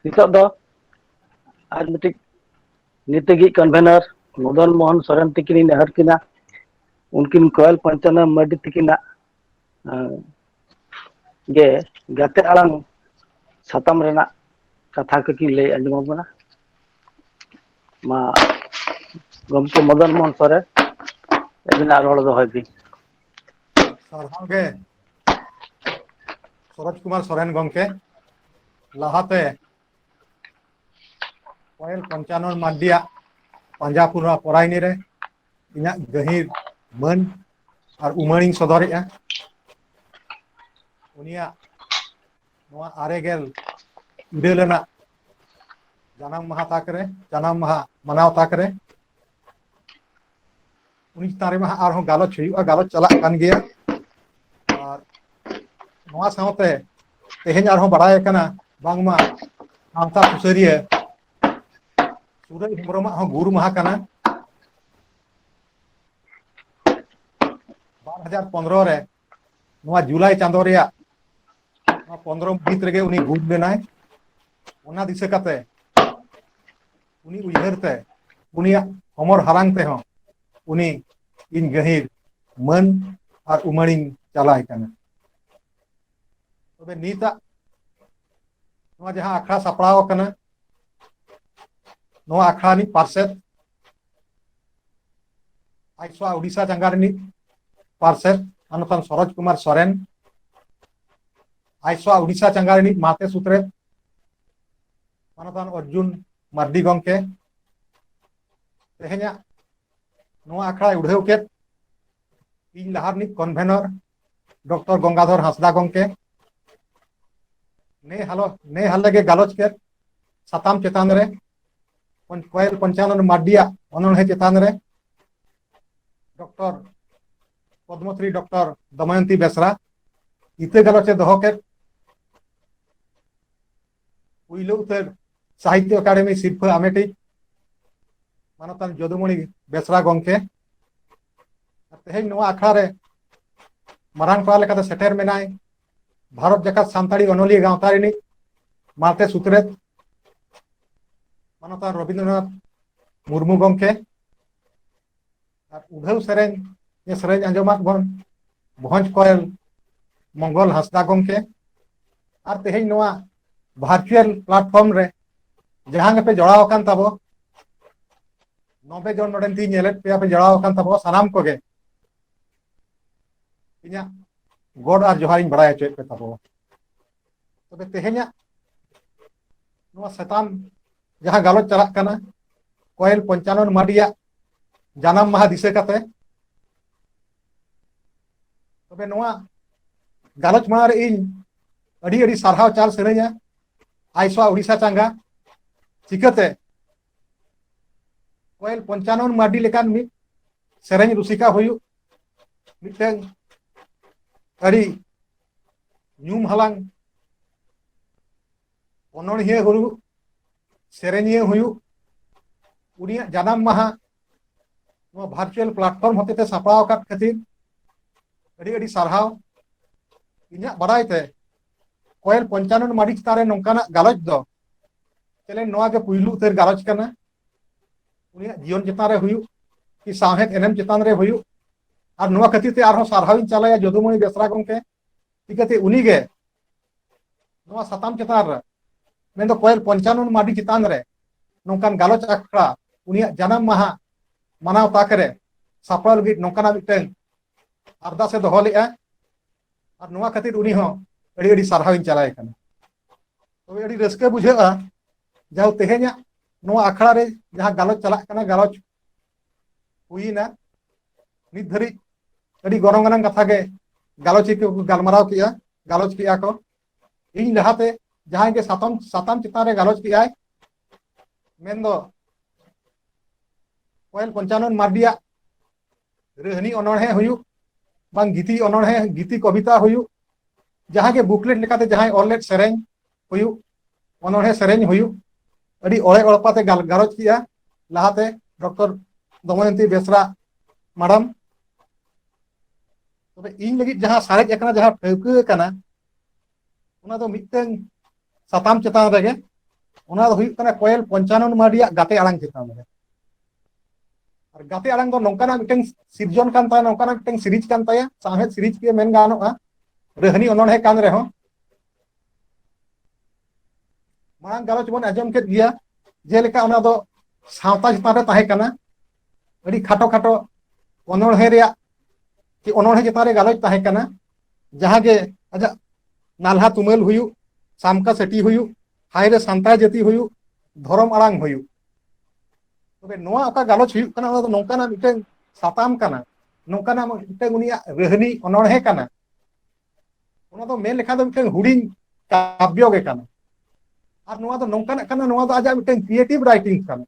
ᱱᱤᱛᱚᱜ ᱫᱚ ᱟᱨ ᱢᱤᱫᱴᱤᱡ ᱱᱤᱛᱜᱤᱡ ᱠᱚᱱᱵᱷᱮᱱᱟᱨ ᱢᱚᱫᱚᱱ ᱢᱳᱦᱚᱱ ᱥᱚᱨᱮᱱ ᱛᱤᱠᱤᱱᱤᱧ ᱱᱮᱦᱚᱨ ᱠᱤᱱᱟ ᱩᱱᱠᱤᱱ ᱠᱚᱭᱮᱞ ᱯᱚᱧᱪᱟᱱᱚᱱ ᱢᱟᱨᱰᱤ ᱛᱤᱠᱤᱱᱟᱜ ᱜᱮ ᱜᱟᱛᱮ ᱟᱲᱟᱝ ᱥᱟᱛᱟᱢ ᱨᱮᱱᱟᱜ ᱠᱟᱛᱷᱟ ᱠᱚᱠᱤᱱ ᱞᱟᱹᱭ ᱟᱸᱡᱚᱢ ᱟᱵᱚᱱᱟ ᱢᱟ ᱜᱚᱢᱠᱮ ᱢᱚᱫᱚᱱ ᱢᱳᱦᱚᱱ ᱥᱚᱨᱮᱱ ᱟᱹᱵᱤᱱᱟᱜ ᱨᱚᱲ ᱫᱚᱦᱚᱭ ᱵᱤᱱ ᱥᱟᱨᱦᱟᱣ ᱜᱮ ᱥᱚᱨᱚᱡᱽ ᱠᱩᱢᱟᱨ ᱥᱚᱨᱮᱱ ᱜᱚᱢᱠᱮ ᱞᱟᱦᱟᱛᱮ ᱯᱟᱭᱮᱞ ᱯᱚᱧᱪᱟᱱᱚᱱ ᱢᱟᱨᱰᱤᱭᱟᱜ ᱯᱟᱸᱡᱟᱯᱩᱨᱟ. ᱯᱚᱨᱟᱭᱚᱱᱤ ᱨᱮ ᱤᱧᱟᱹᱜ ᱜᱟᱹᱦᱤᱨ ᱢᱟᱹᱱ ᱟᱨ ᱩᱢᱟᱹᱲᱤᱧ ᱥᱚᱫᱚᱨᱮᱜᱼᱟ ᱩᱱᱤᱭᱟᱜ ᱱᱚᱣᱟ ᱟᱨᱮ ᱜᱮᱞ ᱤᱨᱟᱹᱞ ᱟᱱᱟᱜ ᱡᱟᱱᱟᱢ ᱢᱟᱦᱟ ᱛᱟᱠ ᱨᱮ ᱡᱟᱱᱟᱢ ᱢᱟᱦᱟ ᱢᱟᱱᱟᱣ ᱛᱟᱠ ᱨᱮ ᱩᱱᱤ ᱪᱮᱛᱟᱱ ᱨᱮᱢᱟ ᱦᱟᱸᱜ ᱟᱨᱦᱚᱸ ᱜᱟᱞᱚᱪ ᱦᱩᱭᱩᱜᱼᱟ ᱜᱟᱞᱚᱪ ᱪᱟᱞᱟᱜ ᱠᱟᱱ ᱜᱮᱭᱟ ᱟᱨ ᱱᱚᱣᱟ ᱥᱟᱶᱛᱮ ᱛᱮᱦᱮᱧ ᱟᱨᱦᱚᱸ ᱵᱟᱲᱟᱭ ᱠᱟᱱᱟ ᱵᱟᱝᱢᱟ ᱥᱟᱶᱛᱟ ᱥᱩᱥᱟᱹᱨᱤᱭᱟᱹ ᱥᱩᱨᱟᱹᱭ ᱦᱮᱢᱵᱨᱚᱢᱟᱜ ᱦᱚᱸ ᱜᱩᱨ ᱢᱟᱦᱟ ᱠᱟᱱᱟ ᱵᱟᱨ ᱦᱟᱡᱟᱨ ᱯᱚᱱᱨᱚ ᱨᱮ ᱱᱚᱣᱟ ᱡᱩᱞᱟᱭ ᱪᱟᱸᱫᱳ ᱨᱮᱭᱟᱜ ᱱᱚᱣᱟ ᱯᱚᱱᱨᱚ ᱢᱟᱹᱦᱤᱛ ᱨᱮᱜᱮ ᱩᱱᱤ ᱜᱩᱨ ᱞᱮᱱᱟᱭ ᱚᱱᱟ ᱫᱤᱥᱟᱹ ᱠᱟᱛᱮ ᱩᱱᱤ ᱩᱭᱦᱟᱹᱨ ᱛᱮ ᱩᱱᱤᱭᱟᱜ ᱦᱚᱢᱚᱨ ᱦᱟᱞᱟᱝ ᱛᱮᱦᱚᱸ ᱩᱱᱤ ᱤᱧ ᱜᱟᱹᱦᱤᱨ ᱢᱟᱹᱱ ᱟᱨ ᱩᱢᱟᱹᱲᱤᱧ ᱪᱟᱞᱟᱭ ᱠᱟᱱᱟ ᱛᱚᱵᱮ ᱱᱤᱛᱟᱜ ᱱᱚᱣᱟ ᱡᱟᱦᱟᱸ ᱟᱠᱷᱲᱟ ᱥᱟᱯᱲᱟᱣ ᱟᱠᱟᱱᱟ ᱱᱚᱣᱟ ᱟᱠᱷᱲᱟ ᱨᱤᱱᱤᱡ ᱯᱟᱨᱥᱮᱫ ᱟᱭᱥᱣᱟ ᱩᱰᱤᱥᱟ ᱡᱟᱸᱜᱟ ᱨᱤᱱᱤᱡ ᱯᱟᱨᱥᱮᱫ ᱢᱟᱱᱚᱛᱟᱱ ᱥᱚᱨᱚᱡᱽ ᱠᱩᱢᱟᱨ ᱥᱚᱨᱮᱱ ᱟᱭᱥᱣᱟ ᱩᱰᱤᱥᱟ ᱡᱟᱸᱜᱟ ᱨᱤᱱᱤᱡ ᱢᱟᱛᱮ ᱥᱩᱛᱨᱮᱛ ᱢᱟᱱᱚᱛᱟᱱ ᱚᱨᱡᱩᱱ ᱢᱟᱨᱰᱤ ᱜᱚᱢᱠᱮ ᱛᱮᱦᱮᱧᱟᱜ ᱱᱚᱣᱟ ᱟᱠᱷᱲᱟᱭ ᱩᱰᱷᱟᱹᱣ ᱠᱮᱫ ᱤᱧ ᱞᱟᱦᱟ ᱨᱤᱱᱤᱡ ᱠᱚᱱᱵᱷᱮᱱᱚᱨ ᱰᱚᱠᱴᱚᱨ ᱜᱚᱝᱜᱟᱫᱷᱚᱨ ᱦᱟᱸᱥᱫᱟ ᱜᱚᱢᱠᱮ ᱱᱮ ᱦᱟᱞᱚ ᱱᱮ ᱦᱟᱞᱮ ᱜᱮ ᱜᱟᱞᱚᱪ ᱠᱮᱫ ᱥᱟᱛᱟᱢ ᱪᱮᱛᱟᱱ ᱨᱮ ᱠᱚᱭᱮᱞ ᱯᱚᱧᱪᱟᱱᱚᱱ ᱢᱟᱨᱰᱤᱭᱟᱜ ᱚᱱᱚᱬᱦᱮ ᱪᱮᱛᱟᱱ ᱨᱮ ᱰᱚᱠᱴᱚᱨ ᱯᱚᱫᱽᱢᱚᱥᱨᱤ ᱰᱚᱠᱴᱚᱨ ᱫᱚᱢᱚᱭᱚᱱᱛᱤ ᱵᱮᱥᱨᱟ ᱤᱛᱟᱹ ᱜᱟᱞᱚᱪ ᱮ ᱫᱚᱦᱚ ᱠᱮᱫ ᱯᱩᱭᱞᱩ ᱩᱛᱟᱹᱨ ᱥᱟᱦᱤᱛᱭᱚ ᱟᱠᱟᱰᱮᱢᱤ ᱥᱤᱨᱯᱷᱟᱹ ᱟᱢᱮᱴᱤᱡ ᱢᱟᱱᱚᱛᱟᱱ ᱡᱚᱫᱩᱢᱚᱬᱤ ᱵᱮᱥᱨᱟ ᱜᱚᱢᱠᱮ ᱛᱮᱦᱮᱧ ᱱᱚᱣᱟ ᱟᱠᱷᱲᱟ ᱨᱮ ᱢᱟᱨᱟᱝ ᱯᱟᱲᱟ ᱞᱮᱠᱟᱛᱮ ᱥᱮᱴᱮᱨ ᱢᱮᱱᱟᱭ ᱵᱷᱟᱨᱚᱛ ᱡᱟᱠᱟᱛ ᱥᱟᱱᱛᱟᱲᱤ ᱚᱱᱚᱞᱤᱭᱟᱹ ᱜᱟᱶᱛᱟ ᱨᱤᱱᱤᱡ ᱢᱟᱨᱛᱮ ᱥᱩᱛᱨᱮᱛ ᱢᱟᱱᱚᱛᱟᱱ ᱨᱚᱵᱤᱱᱫᱨᱚᱱᱟᱛᱷ ᱢᱩᱨᱢᱩ ᱜᱚᱢᱠᱮ ᱟᱨ ᱩᱰᱷᱟᱹᱣ ᱥᱮᱨᱮᱧ ᱥᱮᱨᱮᱧ ᱟᱸᱡᱚᱢᱟᱜ ᱵᱚᱱ ᱵᱷᱚᱡᱽ ᱠᱚᱭᱮᱞ ᱢᱚᱝᱜᱚᱞ ᱦᱟᱸᱥᱫᱟ ᱜᱚᱢᱠᱮ ᱟᱨ ᱛᱮᱦᱮᱧ ᱱᱚᱣᱟ ᱵᱷᱟᱨᱪᱩᱭᱮᱞ ᱯᱞᱟᱴᱯᱷᱚᱨᱚᱢ ᱨᱮ ᱡᱟᱦᱟᱸ ᱜᱮᱯᱮ ᱡᱚᱲᱟᱣ ᱟᱠᱟᱱ ᱛᱟᱵᱚ ᱱᱚᱵᱮ ᱡᱚᱱ ᱱᱚᱰᱮᱱ ᱛᱤᱧ ᱧᱮᱞᱮᱫ ᱯᱮᱭᱟ ᱯᱮ ᱡᱚᱲᱟᱣ ᱟᱠᱟᱱ ᱛᱟᱵᱚ ᱥᱟᱱᱟᱢ ᱠᱚᱜᱮ ᱤᱧᱟᱹᱜ ᱜᱚᱰ ᱟᱨ ᱡᱚᱦᱟᱨᱤᱧ ᱵᱟᱲᱟᱭ ᱦᱚᱪᱚᱭᱮᱫ ᱯᱮ ᱛᱟᱵᱚ ᱛᱚᱵᱮ ᱛᱮᱦᱮᱧᱟᱜ ᱱᱚᱣᱟ ᱥᱮᱛᱟᱢ ᱡᱟᱦᱟᱸ ᱜᱟᱞᱚᱪ ᱪᱟᱞᱟᱜ ᱠᱟᱱᱟ ᱠᱚᱭᱮᱞ ᱯᱚᱧᱪᱟᱱᱚᱱ ᱢᱟᱨᱰᱤᱭᱟᱜ ᱡᱟᱱᱟᱢ ᱢᱟᱦᱟ ᱫᱤᱥᱟᱹ ᱠᱟᱛᱮ ᱛᱚᱵᱮ ᱱᱚᱣᱟ ᱜᱟᱞᱚᱪ ᱢᱟᱲᱟᱝ ᱨᱮ ᱤᱧ ᱟᱹᱰᱤ ᱟᱹᱰᱤ ᱥᱟᱨᱦᱟᱣ ᱪᱟᱞ ᱥᱟᱹᱱᱟᱹᱧᱟ ᱟᱭᱥᱟ ᱩᱲᱤᱥᱥᱟ ᱪᱟᱸᱜᱟ ᱪᱤᱠᱟᱹᱛᱮ ᱠᱚᱭᱮᱞ ᱯᱚᱧᱪᱟᱱᱚᱱ ᱢᱟᱨᱰᱤ ᱞᱮᱠᱟᱱ ᱢᱤᱫ ᱥᱮᱨᱮᱧ ᱨᱩᱥᱤᱠᱟ ᱦᱩᱭᱩᱜ ᱢᱤᱫᱴᱟᱝ ᱟᱹᱰᱤ ᱧᱩᱢ ᱦᱟᱞᱟᱝ ᱚᱱᱚᱬᱦᱤᱭᱟᱹ ᱦᱩᱭᱩᱜ ᱥᱮᱨᱮᱧᱤᱭᱟᱹ ᱦᱩᱭᱩᱜ ᱩᱱᱤᱭᱟᱜ ᱡᱟᱱᱟᱢ ᱢᱟᱦᱟ ᱱᱚᱣᱟ ᱵᱷᱟᱨᱪᱩᱭᱟᱞ ᱯᱞᱟᱴᱯᱷᱚᱨᱢ ᱦᱚᱛᱮᱛᱮ ᱥᱟᱯᱲᱟᱣ ᱟᱠᱟᱫ ᱠᱷᱟᱹᱛᱤᱨ ᱟᱹᱰᱤ ᱟᱹᱰᱤ ᱥᱟᱨᱦᱟᱣ ᱤᱧᱟᱹᱜ ᱵᱟᱲᱟᱭ ᱛᱮ ᱠᱚᱭᱮᱞ ᱯᱚᱧᱪᱟᱱᱚᱱ ᱢᱟᱹᱨᱤᱪ ᱪᱮᱛᱟᱱ ᱨᱮ ᱱᱚᱝᱠᱟᱱᱟᱜ ᱜᱟᱞᱚᱪ ᱫᱚ ᱪᱮᱞᱮᱱ ᱱᱚᱣᱟ ᱜᱮ ᱯᱩᱭᱞᱩ ᱩᱛᱟᱹᱨ ᱜᱟᱞᱚᱪ ᱠᱟᱱᱟ ᱩᱱᱤᱭᱟᱜ ᱡᱤᱭᱚᱱ ᱪᱮᱛᱟᱱ ᱨᱮ ᱦᱩᱭᱩᱜ ᱠᱤ ᱥᱟᱶᱦᱮᱫ ᱮᱱᱮᱢ ᱪᱮᱛᱟᱱ ᱨᱮ ᱦᱩᱭᱩᱜ ᱟᱨ ᱱᱚᱣᱟ ᱠᱷᱟᱹᱛᱤᱨ ᱛᱮ ᱟᱨᱦᱚᱸ ᱥᱟᱨᱦᱟᱣ ᱤᱧ ᱪᱟᱞᱟᱭᱟ ᱡᱚᱫᱩᱢᱚᱱᱤ ᱵᱮᱥᱨᱟ ᱜᱚᱢᱠᱮ ᱪᱤᱠᱟᱹᱛᱮ ᱩᱱᱤ ᱜᱮ ᱱᱚᱣᱟ ᱥᱟᱛᱟᱢ ᱪᱮᱛᱟᱱ ᱨᱮ ᱢᱮᱱᱫᱚ ᱠᱚᱭᱮᱞ ᱯᱚᱧᱪᱟᱱᱚᱱ ᱢᱟᱹᱨᱤ ᱪᱮᱛᱟᱱ ᱨᱮ ᱱᱚᱝᱠᱟᱱ ᱜᱟᱞᱚᱪ ᱟᱠᱷᱲᱟ ᱩᱱᱤᱭᱟᱜ ᱡᱟᱱᱟᱢ ᱢᱟᱦᱟ ᱢᱟᱱᱟᱣ ᱛᱟᱠ ᱨᱮ ᱥᱟᱯᱲᱟᱣ ᱞᱟᱹᱜᱤᱫ ᱱᱚᱝᱠᱟᱱᱟᱜ ᱢᱤᱫᱴᱟᱝ ᱟᱨᱫᱟᱥ ᱮ ᱫᱚᱦᱚ ᱞᱮᱫᱼᱟ ᱟᱨ ᱱᱚᱣᱟ ᱠᱷᱟᱹᱛᱤᱨ ᱩᱱᱤ ᱦᱚᱸ ᱟᱹᱰᱤ ᱟᱹᱰᱤ ᱥᱟᱨᱦᱟᱣᱤᱧ ᱪᱟᱞᱟᱭ ᱠᱟᱱᱟ ᱛᱚᱵᱮ ᱟᱹᱰᱤ ᱨᱟᱹᱥᱠᱟᱹ ᱵᱩᱡᱷᱟᱹᱜᱼᱟ ᱡᱟᱦᱟᱸ ᱛᱮᱦᱮᱧᱟᱜ ᱱᱚᱣᱟ ᱟᱠᱷᱲᱟ ᱨᱮ ᱡᱟᱦᱟᱸ ᱜᱟᱞᱚᱪ ᱪᱟᱞᱟᱜ ᱠᱟᱱᱟ ᱜᱟᱞᱚᱪ ᱦᱩᱭᱱᱟ ᱱᱤᱛ ᱫᱷᱟᱹᱨᱤᱡ ᱟᱹᱰᱤ ᱜᱚᱱᱚᱝ ᱟᱱᱟᱝ ᱠᱟᱛᱷᱟ ᱜᱮ ᱜᱟᱞᱚᱪᱤᱭᱟᱹ ᱠᱚ ᱜᱟᱞᱢᱟᱨᱟᱣ ᱠᱮᱜᱼᱟ ᱜᱟᱞᱚᱪ ᱠᱮᱜᱼᱟ ᱠᱚ ᱤᱧ ᱞᱟᱦᱟᱛᱮ ᱡᱟᱦᱟᱸᱭ ᱜᱮ ᱥᱟᱛᱟᱢ ᱥᱟᱛᱟᱢ ᱪᱮᱛᱟᱱ ᱨᱮ ᱜᱟᱞᱚᱪ ᱠᱮᱜᱼᱟᱭ ᱢᱮᱱ ᱫᱚ ᱠᱚᱭᱮᱞ ᱯᱚᱧᱪᱟᱱᱚᱱ ᱢᱟᱨᱰᱤᱭᱟᱜ ᱨᱟᱹᱦᱱᱤ ᱚᱱᱚᱬᱦᱮ ᱦᱩᱭᱩᱜ ᱵᱟᱝ ᱜᱤᱛᱤ ᱚᱱᱚᱬᱦᱮ ᱜᱤᱛᱤ ᱠᱚᱵᱤᱛᱟ ᱦᱩᱭᱩᱜ ᱡᱟᱦᱟᱸ ᱜᱮ ᱵᱩᱠᱞᱮᱴ ᱞᱮᱠᱟᱛᱮ ᱡᱟᱦᱟᱸᱭ ᱚᱞ ᱞᱮᱫ ᱥᱮᱨᱮᱧ ᱦᱩᱭᱩᱜ ᱚᱱᱚᱬᱦᱮ ᱥᱮᱨᱮᱧ ᱦᱩᱭᱩᱜ ᱟᱹᱰᱤ ᱚᱲᱮ ᱚᱲᱯᱟᱛᱮ ᱜᱟᱞᱚᱪ ᱠᱮᱜᱼᱟ ᱞᱟᱦᱟᱛᱮ ᱰᱚᱠᱴᱚᱨ ᱫᱚᱢᱚᱭᱚᱱᱛᱤ ᱵᱮᱥᱨᱟ ᱢᱟᱰᱟᱢ ᱛᱚᱵᱮ ᱤᱧ ᱞᱟᱹᱜᱤᱫ ᱡᱟᱦᱟᱸ ᱥᱟᱨᱮᱡ ᱟᱠᱟᱱᱟ ᱡᱟᱦᱟᱸ ᱴᱷᱟᱹᱣᱠᱟᱹ ᱟᱠᱟᱱᱟ ᱚᱱᱟ ᱫᱚ ᱢᱤᱫᱴᱟᱝ ᱥᱟᱛᱟᱢ ᱪᱮᱛᱟᱱ ᱨᱮᱜᱮ ᱚᱱᱟ ᱫᱚ ᱦᱩᱭᱩᱜ ᱠᱟᱱᱟ ᱠᱚᱭᱮᱞ ᱯᱚᱧᱪᱟᱱᱚᱱ ᱢᱟᱨᱰᱤᱭᱟᱜ ᱜᱟᱛᱮ ᱟᱲᱟᱝ ᱪᱮᱛᱟᱱ ᱨᱮ ᱟᱨ ᱜᱟᱛᱮ ᱟᱲᱟᱝ ᱫᱚ ᱱᱚᱝᱠᱟᱱᱟᱜ ᱢᱤᱫᱴᱟᱝ ᱥᱤᱨᱡᱚᱱ ᱠᱟᱱ ᱛᱟᱭᱟ ᱱᱚᱝᱠᱟᱱᱟᱜ ᱢᱤᱫᱴᱟᱝ ᱥᱤᱨᱤᱡᱽ ᱠᱟᱱ ᱛᱟᱭᱟ ᱥᱟᱶᱦᱮᱫ ᱥᱤᱨᱤᱡᱽ ᱜᱮ ᱢᱮᱱ ᱜᱟᱱᱚᱜᱼᱟ ᱨᱟᱹᱦᱱᱤ ᱚᱱᱚᱬᱦᱮ ᱠᱟᱱ ᱨᱮᱦᱚᱸ ᱢᱟᱲᱟᱝ ᱜᱟᱞᱚᱪ ᱵᱚᱱ ᱟᱸᱡᱚᱢ ᱠᱮᱫ ᱜᱮᱭᱟ ᱡᱮᱞᱮᱠᱟ ᱚᱱᱟ ᱫᱚ ᱥᱟᱶᱛᱟ ᱪᱮᱛᱟᱱ ᱨᱮ ᱛᱟᱦᱮᱸ ᱠᱟᱱᱟ ᱟᱹᱰᱤ ᱠᱷᱟᱴᱚ ᱠᱷᱟᱴᱚ ᱚᱱᱚᱬᱦᱮ ᱨᱮᱭᱟᱜ ᱠᱤ ᱚᱱᱚᱬᱦᱮ ᱪᱮᱛᱟᱱ ᱨᱮ ᱜᱟᱞᱚᱪ ᱛᱟᱦᱮᱸ ᱠᱟᱱᱟ ᱡᱟᱦᱟᱸ ᱜᱮ ᱟᱡᱟᱜ ᱱᱟᱞᱦᱟ ᱛᱩᱢᱟᱹᱞ ᱦᱩᱭᱩᱜ ᱥᱟᱢᱠᱟ ᱥᱟᱹᱴᱤ ᱦᱩᱭᱩᱜ ᱦᱟᱭ ᱨᱮ ᱥᱟᱱᱛᱟᱲ ᱡᱟᱹᱛᱤ ᱦᱩᱭᱩᱜ ᱫᱷᱚᱨᱚᱢ ᱟᱲᱟᱝ ᱦᱩᱭᱩᱜ ᱛᱚᱵᱮ ᱱᱚᱣᱟ ᱚᱠᱟ ᱜᱟᱞᱚᱪ ᱦᱩᱭᱩᱜ ᱠᱟᱱᱟ ᱚᱱᱟ ᱫᱚ ᱱᱚᱝᱠᱟᱱᱟᱜ ᱢᱤᱫᱴᱟᱝ ᱥᱟᱛᱟᱢ ᱠᱟᱱᱟ ᱱᱚᱝᱠᱟᱱᱟᱜ ᱢᱤᱫᱴᱟᱝ ᱩᱱᱤᱭᱟᱜ ᱨᱟᱹᱦᱱᱤ ᱚᱱᱚᱬᱦᱮ ᱠᱟᱱᱟ ᱚᱱᱟ ᱫᱚ ᱢᱮᱱ ᱞᱮᱠᱷᱟᱱ ᱫᱚ ᱢᱤᱫᱴᱟᱝ ᱦᱩᱰᱤᱧ ᱠᱟᱵᱽᱭᱚ ᱜᱮ ᱠᱟᱱᱟ ᱟᱨ ᱱᱚᱣᱟ ᱫᱚ ᱱᱚᱝᱠᱟᱱᱟᱜ ᱠᱟᱱᱟ ᱱᱚᱣᱟ ᱫᱚ ᱟᱡᱟᱜ ᱢᱤᱫᱴᱟᱝ ᱠᱨᱤᱭᱮᱴᱤᱵᱷ ᱨᱟᱭᱴᱤᱝ ᱠᱟᱱᱟ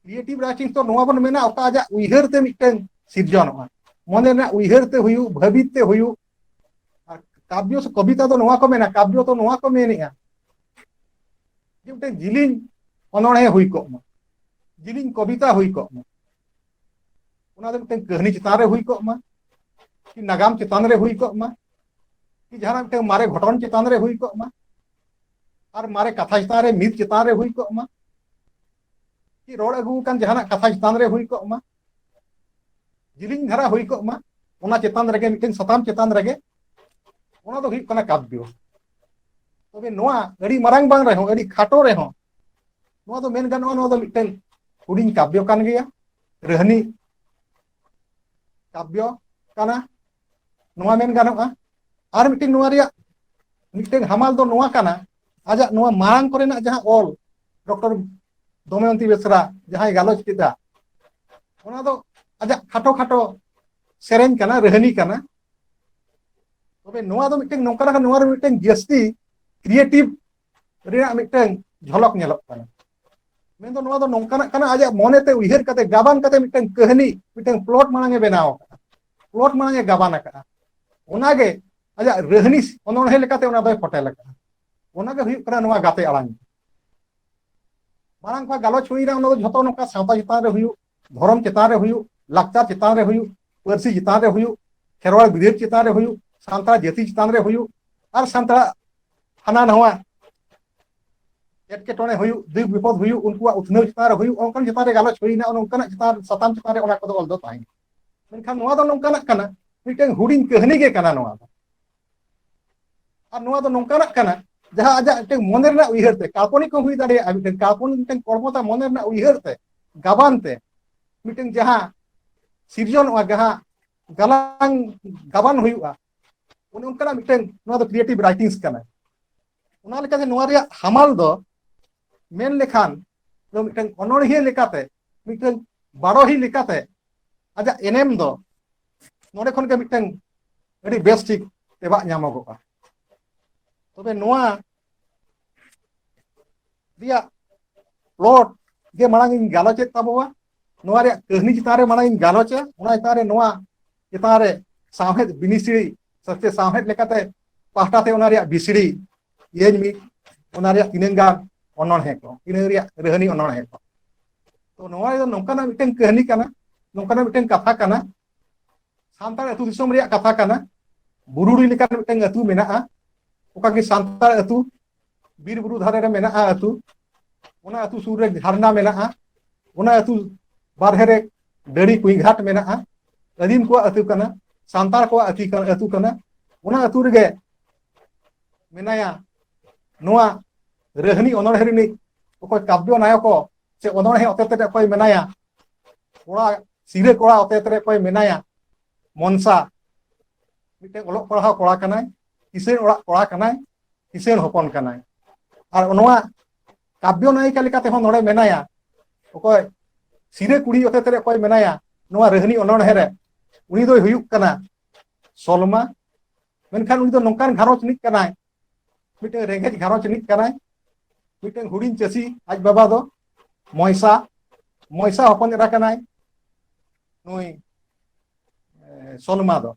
ᱠᱨᱤᱭᱮᱴᱤᱵᱽ ᱨᱟᱭᱴᱤᱝ ᱫᱚ ᱱᱚᱣᱟ ᱵᱚᱱ ᱢᱮᱱᱟ ᱚᱠᱟ ᱟᱡᱟᱜ ᱩᱭᱦᱟᱹᱨ ᱛᱮ ᱢᱤᱫᱴᱟᱝ ᱥᱤᱨᱡᱚᱱᱚᱜᱼᱟ ᱢᱚᱱᱮ ᱨᱮᱱᱟᱜ ᱩᱭᱦᱟᱹᱨ ᱛᱮ ᱦᱩᱭᱩᱜ ᱵᱷᱟᱹᱵᱤᱛ ᱛᱮ ᱦᱩᱭᱩᱜ ᱟᱨ ᱠᱟᱵᱽᱭᱚ ᱥᱮ ᱠᱚᱵᱤᱛᱟ ᱫᱚ ᱱᱚᱣᱟ ᱠᱚ ᱢᱮᱱᱟ ᱠᱟᱵᱽᱭᱚ ᱫᱚ ᱱᱚᱣᱟ ᱠᱚ ᱢᱮᱱᱮᱜᱼᱟ ᱡᱮ ᱢᱤᱫᱴᱟᱝ ᱡᱤᱞᱤᱧ ᱚᱱᱚᱬᱦᱮ ᱦᱩᱭ ᱠᱚᱜ ᱢᱟ ᱡᱤᱞᱤᱧ ᱠᱚᱵᱤᱛᱟ ᱦᱩᱭ ᱠᱚᱜ ᱢᱟ ᱚᱱᱟ ᱫᱚ ᱢᱤᱫᱴᱟᱝ ᱠᱟᱹᱦᱱᱤ ᱪᱮᱛᱟᱱ ᱨᱮ ᱦᱩᱭ ᱠᱚᱜ ᱢᱟ ᱠᱤ ᱱᱟᱜᱟᱢ ᱪᱮᱛᱟᱱ ᱨᱮ ᱦᱩᱭ ᱠᱚᱜ ᱢᱟ ᱠᱤ ᱡᱟᱦᱟᱱᱟᱜ ᱢᱤᱫᱴᱟᱝ ᱢᱟᱨᱮ ᱜᱷᱚᱴᱚᱱ ᱪᱮᱛᱟᱱ ᱨᱮ ᱦᱩᱭ ᱠᱚᱜ ᱢᱟ ᱟᱨ ᱢᱟᱨᱮ ᱠᱟᱛᱷᱟ ᱪᱮᱛᱟᱱ ᱨᱮ ᱢᱤᱫ ᱪᱮᱛᱟᱱ ᱨᱮ ᱦᱩᱭ ᱠᱚᱜ ᱢᱟ ᱠᱤ ᱨᱚᱲ ᱟᱹᱜᱩ ᱟᱠᱟᱱ ᱡᱟᱦᱟᱱᱟᱜ ᱠᱟᱛᱷᱟ ᱪᱮᱛᱟᱱ ᱨᱮ ᱦᱩᱭ ᱠᱚᱜ ᱢᱟ ᱡᱤᱞᱤᱧ ᱫᱷᱟᱨᱟ ᱦᱩᱭ ᱠᱚᱜ ᱢᱟ ᱚᱱᱟ ᱪᱮᱛᱟᱱ ᱨᱮᱜᱮ ᱢᱤᱫᱴᱮᱱ ᱥᱟᱛᱟᱢ ᱪᱮᱛᱟᱱ ᱨᱮᱜᱮ ᱚᱱᱟ ᱫᱚ ᱦᱩᱭᱩᱜ ᱠᱟᱱᱟ ᱠᱟᱵᱽᱭᱚ ᱛᱚᱵᱮ ᱱᱚᱣᱟ ᱟᱹᱰᱤ ᱢᱟᱨᱟᱝ ᱵᱟᱝ ᱨᱮᱦᱚᱸ ᱟᱹᱰᱤ ᱠᱷᱟᱴᱚ ᱨᱮᱦᱚᱸ ᱱᱚᱣᱟ ᱫᱚ ᱢᱮᱱ ᱜᱟᱱᱚᱜᱼᱟ ᱱᱚᱣᱟ ᱫᱚ ᱢᱤᱫᱴᱮᱱ ᱦᱩᱰᱤᱧ ᱠᱟᱵᱽᱭᱚ ᱠᱟᱱ ᱜᱮᱭᱟ ᱨᱟᱹᱦᱱᱤ ᱠᱟᱵᱽᱭᱚ ᱠᱟᱱᱟ ᱱᱚᱣᱟ ᱢᱮᱱ ᱜᱟᱱᱚᱜᱼᱟ ᱟᱨ ᱢᱤᱫᱴᱮᱱ ᱱᱚᱣᱟ ᱨᱮᱭᱟᱜ ᱢᱤᱫᱴᱮᱱ ᱦᱟᱢᱟᱞ ᱫᱚ ᱱᱚᱣᱟ ᱠᱟᱱᱟ ᱟᱡᱟᱜ ᱱᱚᱣᱟ ᱢᱟᱲᱟᱝ ᱠᱚᱨᱮᱱᱟᱜ ᱡᱟᱦᱟᱸ ᱚᱞ ᱰᱚᱠᱴᱚᱨ ᱫᱚᱢᱚᱭᱚᱱᱛᱤ ᱵᱮᱥᱨᱟ ᱡᱟᱦᱟᱸᱭ ᱜᱟᱞᱚᱪ ᱠᱮᱫᱟ ᱚᱱᱟ ᱫᱚ ᱟᱡᱟᱜ ᱠᱷᱟᱴᱚ ᱠᱷᱟᱴᱚ ᱥᱮᱨᱮᱧ ᱠᱟᱱᱟ ᱨᱟᱹᱦᱱᱤ ᱠᱟᱱᱟ ᱛᱚᱵᱮ ᱱᱚᱣᱟ ᱫᱚ ᱢᱤᱫᱴᱮᱱ ᱱᱚᱝᱠᱟ ᱞᱮᱠᱟ ᱱᱚᱣᱟ ᱨᱮ ᱢᱤᱫᱴᱮᱱ ᱡᱟᱹᱥᱛᱤ ᱠᱨᱤᱭᱮᱴᱤᱵᱷ ᱨᱮᱭᱟᱜ ᱢᱤᱫᱴᱮᱱ ᱡᱷᱚᱞᱚᱠ ᱧᱮᱞᱚᱜ ᱠᱟᱱᱟ ᱢᱮᱱᱫᱚ ᱱᱚᱣᱟ ᱫᱚ ᱱᱚᱝᱠᱟᱱᱟᱜ ᱠᱟᱱᱟ ᱟᱡᱟᱜ ᱢᱚᱱᱮᱛᱮ ᱩᱭᱦᱟᱹᱨ ᱠᱟᱛᱮ ᱜᱟᱵᱟᱱ ᱠᱟᱛᱮ ᱢᱤᱫᱴᱟᱝ ᱠᱟᱹᱦᱱᱤ ᱢᱤᱫᱴᱟᱝ ᱯᱞᱚᱴ ᱢᱟᱲᱟᱝ ᱮ ᱵᱮᱱᱟᱣ ᱟᱠᱟᱫᱟ ᱯᱞᱚᱴ ᱢᱟᱲᱟᱝ ᱮ ᱜᱟᱵᱟᱱ ᱟᱠᱟᱫᱼᱟ ᱚᱱᱟᱜᱮ ᱟᱡᱟᱜ ᱨᱟᱹᱦᱱᱤ ᱚᱱᱚᱬᱦᱮᱸ ᱞᱮᱠᱟᱛᱮ ᱚᱱᱟ ᱫᱚᱭ ᱯᱷᱚᱴᱮᱞ ᱟᱠᱟᱫᱼᱟ ᱚᱱᱟᱜᱮ ᱦᱩᱭᱩᱜ ᱠᱟᱱᱟ ᱱᱚᱣᱟ ᱜᱟᱛᱮ ᱟᱲᱟᱝ ᱢᱟᱲᱟᱝ ᱠᱷᱚᱱ ᱜᱟᱞᱚᱪ ᱦᱩᱭᱱᱟ ᱚᱱᱟ ᱫᱚ ᱡᱷᱚᱛᱚ ᱱᱚᱝᱠᱟ ᱥᱟᱶᱛᱟ ᱪᱮᱛᱟᱱ ᱨᱮ ᱦᱩᱭᱩᱜ ᱫᱷᱚᱨᱚᱢ ᱪᱮᱛᱟᱱ ᱨᱮ ᱦᱩᱭᱩᱜ ᱞᱟᱠᱪᱟᱨ ᱪᱮᱛᱟᱱ ᱨᱮ ᱦᱩᱭᱩᱜ ᱯᱟᱹᱨᱥᱤ ᱪᱮᱛᱟᱱ ᱨᱮ ᱦᱩᱭᱩᱜ ᱠᱷᱮᱨᱣᱟᱲ ᱵᱤᱨᱟᱹᱫ ᱪᱮᱛᱟᱱ ᱨᱮ ᱦᱩᱭᱩᱜ ᱥᱟᱱᱛᱟᱲ ᱡᱟᱹᱛᱤ ᱪᱮᱛᱟᱱ ᱨᱮ ᱦᱩᱭᱩᱜ ᱟᱨ ᱥᱟᱱᱛᱟᱲ ᱦᱟᱱᱟ ᱱᱟᱣᱟ ᱮᱴᱠᱮᱴᱚᱬᱮ ᱦᱩᱭᱩᱜ ᱫᱩᱠ ᱵᱤᱯᱚᱫ ᱦᱩᱭᱩᱜ ᱩᱱᱠᱩᱣᱟᱜ ᱩᱛᱱᱟᱹᱣ ᱪᱮᱛᱟᱱ ᱨᱮ ᱦᱩᱭᱩᱜ ᱚᱱᱠᱟᱱ ᱪᱮᱛᱟᱱ ᱨᱮ ᱜᱟᱞᱚᱪ ᱦᱩᱭᱱᱟ ᱚᱱᱠᱟᱱᱟᱜ ᱪᱮᱛᱟᱱ ᱥᱟᱛᱟᱢ ᱪᱮᱛᱟᱱ ᱨᱮ ᱚᱱᱟ ᱠᱚᱫᱚ ᱚᱞ ᱫᱚ ᱛᱟᱦᱮᱸ ᱢᱮᱱᱠᱷᱟᱱ ᱱᱚᱣᱟ ᱫᱚ ᱱᱚᱝᱠᱟᱱᱟᱜ ᱠᱟᱱᱟ ᱢᱤᱫᱴᱟᱝ ᱦᱩᱰᱤᱧ ᱠᱟᱹᱦᱱᱤ ᱜᱮ ᱠᱟᱱᱟ ᱱᱚᱣᱟ ᱫᱚ ᱟᱨ ᱱᱚᱣᱟ ᱫᱚ ᱱᱚᱝᱠᱟᱱᱟᱜ ᱠᱟᱱᱟ ᱡᱟᱦᱟᱸ ᱟᱡᱟᱜ ᱢᱤᱫᱴᱟᱝ ᱢᱚᱱᱮ ᱨᱮᱱᱟᱜ ᱩᱭᱦᱟᱹᱨ ᱛᱮ ᱠᱟᱯᱚᱱᱤ ᱠᱚ ᱦᱩᱭ ᱫᱟᱲᱮᱭᱟᱜᱼᱟ ᱢᱤᱫᱴᱟᱝ ᱠᱟᱯᱚᱱᱤ ᱢᱤᱫᱴᱟᱝ ᱠᱚᱨᱢᱚᱛᱟ ᱢᱚᱱᱮ ᱨᱮᱱᱟᱜ ᱩᱭᱦᱟᱹᱨ ᱛᱮ ᱜᱟᱵᱟᱱ ᱛᱮ ᱢᱤᱫᱴᱟᱝ ᱡᱟᱦᱟᱸ ᱥᱤᱨᱡᱚᱱᱚᱜᱼᱟ ᱡᱟᱦᱟᱸ ᱜᱟᱞᱟᱝ ᱜᱟᱵᱟᱱ ᱦᱩᱭᱩᱜᱼᱟ ᱚᱱᱮ ᱚᱱᱠᱟᱱᱟᱜ ᱢᱤᱫᱴᱟᱝ ᱱᱚᱣᱟ ᱫᱚ ᱠᱨᱤᱭᱮᱴᱤᱵᱷ ᱨᱟᱭᱴᱤᱝᱥ ᱠᱟᱱᱟ ᱚᱱᱟ ᱞᱮᱠᱟᱛᱮ ᱱᱚᱣᱟ ᱨᱮᱭᱟᱜ ᱦᱟᱢᱟᱞ ᱫᱚ ᱢᱮᱱ ᱞᱮᱠᱷᱟᱱ ᱫᱚ ᱢᱤᱫᱴᱟᱝ ᱚᱱᱚᱬᱦᱤᱭᱟᱹ ᱞᱮᱠᱟᱛᱮ ᱢᱤᱫᱴᱟᱝ ᱵᱟᱨᱚᱦᱤ ᱞᱮᱠᱟᱛᱮ ᱟᱡᱟᱜ ᱮᱱᱮᱢ ᱫᱚ ᱱᱚᱰᱮ ᱠᱷᱚᱱ ᱜᱮ ᱢᱤᱫᱴᱟᱝ ᱟᱹᱰᱤ ᱵᱮᱥ ᱴᱷᱤᱠ ᱛᱮᱵᱟᱜ ᱧᱟᱢᱚᱜᱚᱜᱼᱟ ᱛᱚᱵᱮ ᱱᱚᱣᱟ ᱨᱮᱭᱟᱜ ᱯᱞᱚᱴ ᱜᱮ ᱢᱟᱲᱟᱝ ᱤᱧ ᱜᱟᱞᱚᱪᱮᱫ ᱛᱟᱵᱚᱣᱟ ᱱᱚᱣᱟ ᱨᱮᱭᱟᱜ ᱠᱟᱹᱦᱱᱤ ᱪᱮᱛᱟᱱ ᱨᱮ ᱢᱟᱲᱟᱝ ᱤᱧ ᱜᱟᱞᱚᱪᱟ ᱚᱱᱟ ᱪᱮᱛᱟᱱ ᱨᱮ ᱱᱚᱣᱟ ᱪᱮᱛᱟᱱ ᱨᱮ ᱥᱟᱶᱦᱮᱫ ᱵᱤᱱᱤᱥᱲᱤ ᱥᱮ ᱥᱟᱶᱦᱮᱫ ᱞᱮᱠᱟᱛᱮ ᱯᱟᱦᱴᱟ ᱛᱮ ᱚᱱᱟ ᱨᱮᱭᱟᱜ ᱵᱤᱥᱲᱤ ᱤᱭᱟᱹᱧ ᱢᱤᱫ ᱚᱱᱟ ᱨᱮᱭᱟᱜ ᱛᱤᱱᱟᱹᱝ ᱜᱟᱱ ᱚᱱᱚᱬᱦᱮᱸ ᱠᱚ ᱤᱱᱟᱹ ᱨᱮᱭᱟᱜ ᱨᱟᱹᱦᱱᱤ ᱚᱱᱚᱬᱦᱮᱸ ᱠᱚ ᱛᱚ ᱱᱚᱣᱟ ᱫᱚ ᱱᱚᱝᱠᱟᱱᱟᱜ ᱢᱤᱫᱴᱮᱱ ᱠᱟᱹᱦᱱᱤ ᱠᱟᱱᱟ ᱱᱚᱝᱠᱟᱱᱟᱜ ᱢᱤᱫᱴᱮᱱ ᱠᱟᱛᱷᱟ ᱠᱟᱱᱟ ᱥᱟᱱᱛᱟᱲ ᱟᱹᱛᱩ ᱫᱤᱥᱚᱢ ᱨᱮᱭᱟᱜ ᱠᱟᱛᱷᱟ ᱠᱟᱱᱟ ᱵᱩᱨᱩᱰᱤ ᱞᱮᱠᱟᱱ ᱢᱤᱫᱴᱮᱱ ᱟᱹᱛᱩ ᱢᱮᱱᱟᱜᱼᱟ ᱚᱠᱟ ᱜᱮ ᱥᱟᱱᱛᱟᱲ ᱟᱹᱛᱩ ᱵᱤᱨ ᱵᱩᱨᱩ ᱫᱷᱟᱨᱮ ᱨᱮ ᱢᱮᱱᱟᱜᱼᱟ ᱟᱹᱛᱩ ᱚᱱᱟ ᱟᱹᱛᱩ ᱥᱩᱨ ᱨᱮ ᱡᱷᱟᱨᱱᱟ ᱢᱮᱱᱟᱜᱼᱟ ᱚᱱᱟ ᱟᱹᱛᱩ ᱵᱟᱨᱦᱮ ᱨᱮ ᱰᱟᱹᱲᱤ ᱠᱩᱧ ᱜᱷᱟᱴ ᱢᱮᱱᱟᱜᱼᱟ ᱟᱹᱫᱤᱢ ᱠᱚᱣᱟᱜ ᱟᱹᱛᱩ ᱠᱟᱱᱟ ᱥᱟᱱᱛᱟᱲ ᱠᱚᱣᱟᱜ ᱟᱹᱛᱩ ᱠᱟᱱᱟ ᱚᱱᱟ ᱟᱹᱛᱩ ᱨᱮᱜᱮ ᱢᱮᱱᱟᱭᱟ ᱱᱚᱣᱟ ᱨᱟᱹᱦᱱᱤ ᱚᱱᱚᱬᱦᱮ ᱨᱤᱱᱤᱡ ᱚᱠᱚᱭ ᱠᱟᱵᱽᱭᱚ ᱱᱟᱭᱚᱠᱚ ᱥᱮ ᱚᱱᱚᱬᱦᱮ ᱚᱛᱮᱛ ᱨᱮ ᱚᱠᱚᱭ ᱢᱮᱱᱟᱭᱟ ᱠᱚᱲᱟ ᱥᱤᱨᱟᱹ ᱠᱚᱲᱟ ᱚᱛᱮᱛ ᱨᱮ ᱚᱠᱚᱭ ᱢᱮᱱᱟᱭᱟ ᱢᱚᱱᱥᱟ ᱢᱤᱫᱴᱮᱱ ᱚᱞᱚᱜ ᱯᱟᱲᱦᱟᱣ ᱠᱚᱲᱟ ᱠᱟᱱᱟᱭ ᱠᱤᱥᱟᱹᱬ ᱚᱲᱟᱜ ᱠᱚᱲᱟ ᱠᱟᱱᱟᱭ ᱠᱤᱥᱟᱹᱬ ᱦᱚᱯᱚᱱ ᱠᱟᱱᱟᱭ ᱟᱨ ᱱᱚᱣᱟ ᱠᱟᱵᱽᱭᱚ ᱱᱟᱭᱤᱠᱟ ᱞᱮᱠᱟᱛᱮ ᱦᱚᱸ ᱱᱚᱰᱮ ᱢᱮᱱᱟᱭᱟ ᱚᱠᱚᱭ ᱥᱤᱨᱟᱹ ᱠᱩᱲᱤ ᱚᱛᱮᱛ ᱨᱮ ᱚᱠᱚᱭ ᱢᱮᱱᱟᱭᱟ ᱱᱚᱣᱟ ᱨᱟᱹᱦᱱᱤ ᱚᱱᱚᱬᱦᱮ ᱨᱮ ᱩᱱᱤ ᱫᱚᱭ ᱦᱩᱭᱩᱜ ᱠᱟᱱᱟ ᱥᱚᱞᱢᱟ ᱢᱮᱱᱠᱷᱟᱱ ᱩᱱᱤ ᱫᱚ ᱱᱚᱝᱠᱟᱱ ᱜᱷᱟᱨᱚᱸᱡᱽ ᱨᱤᱱᱤᱡ ᱠᱟᱱᱟᱭ ᱢᱤᱫᱴᱟᱝ ᱨᱮᱸᱜᱮᱡ ᱜᱷᱟᱨᱚᱸᱡᱽ ᱨᱤᱱᱤᱡ ᱠᱟᱱᱟᱭ ᱢᱤᱫᱴᱟᱝ ᱦᱩᱰᱤᱧ ᱪᱟᱹᱥᱤ ᱟᱡ ᱵᱟᱵᱟ ᱫᱚ ᱢᱚᱭᱥᱟ ᱢᱚᱭᱥᱟ ᱦᱚᱯᱚᱱ ᱮᱨᱟ ᱠᱟᱱᱟᱭ ᱱᱩᱭ ᱥᱚᱞᱢᱟ ᱫᱚ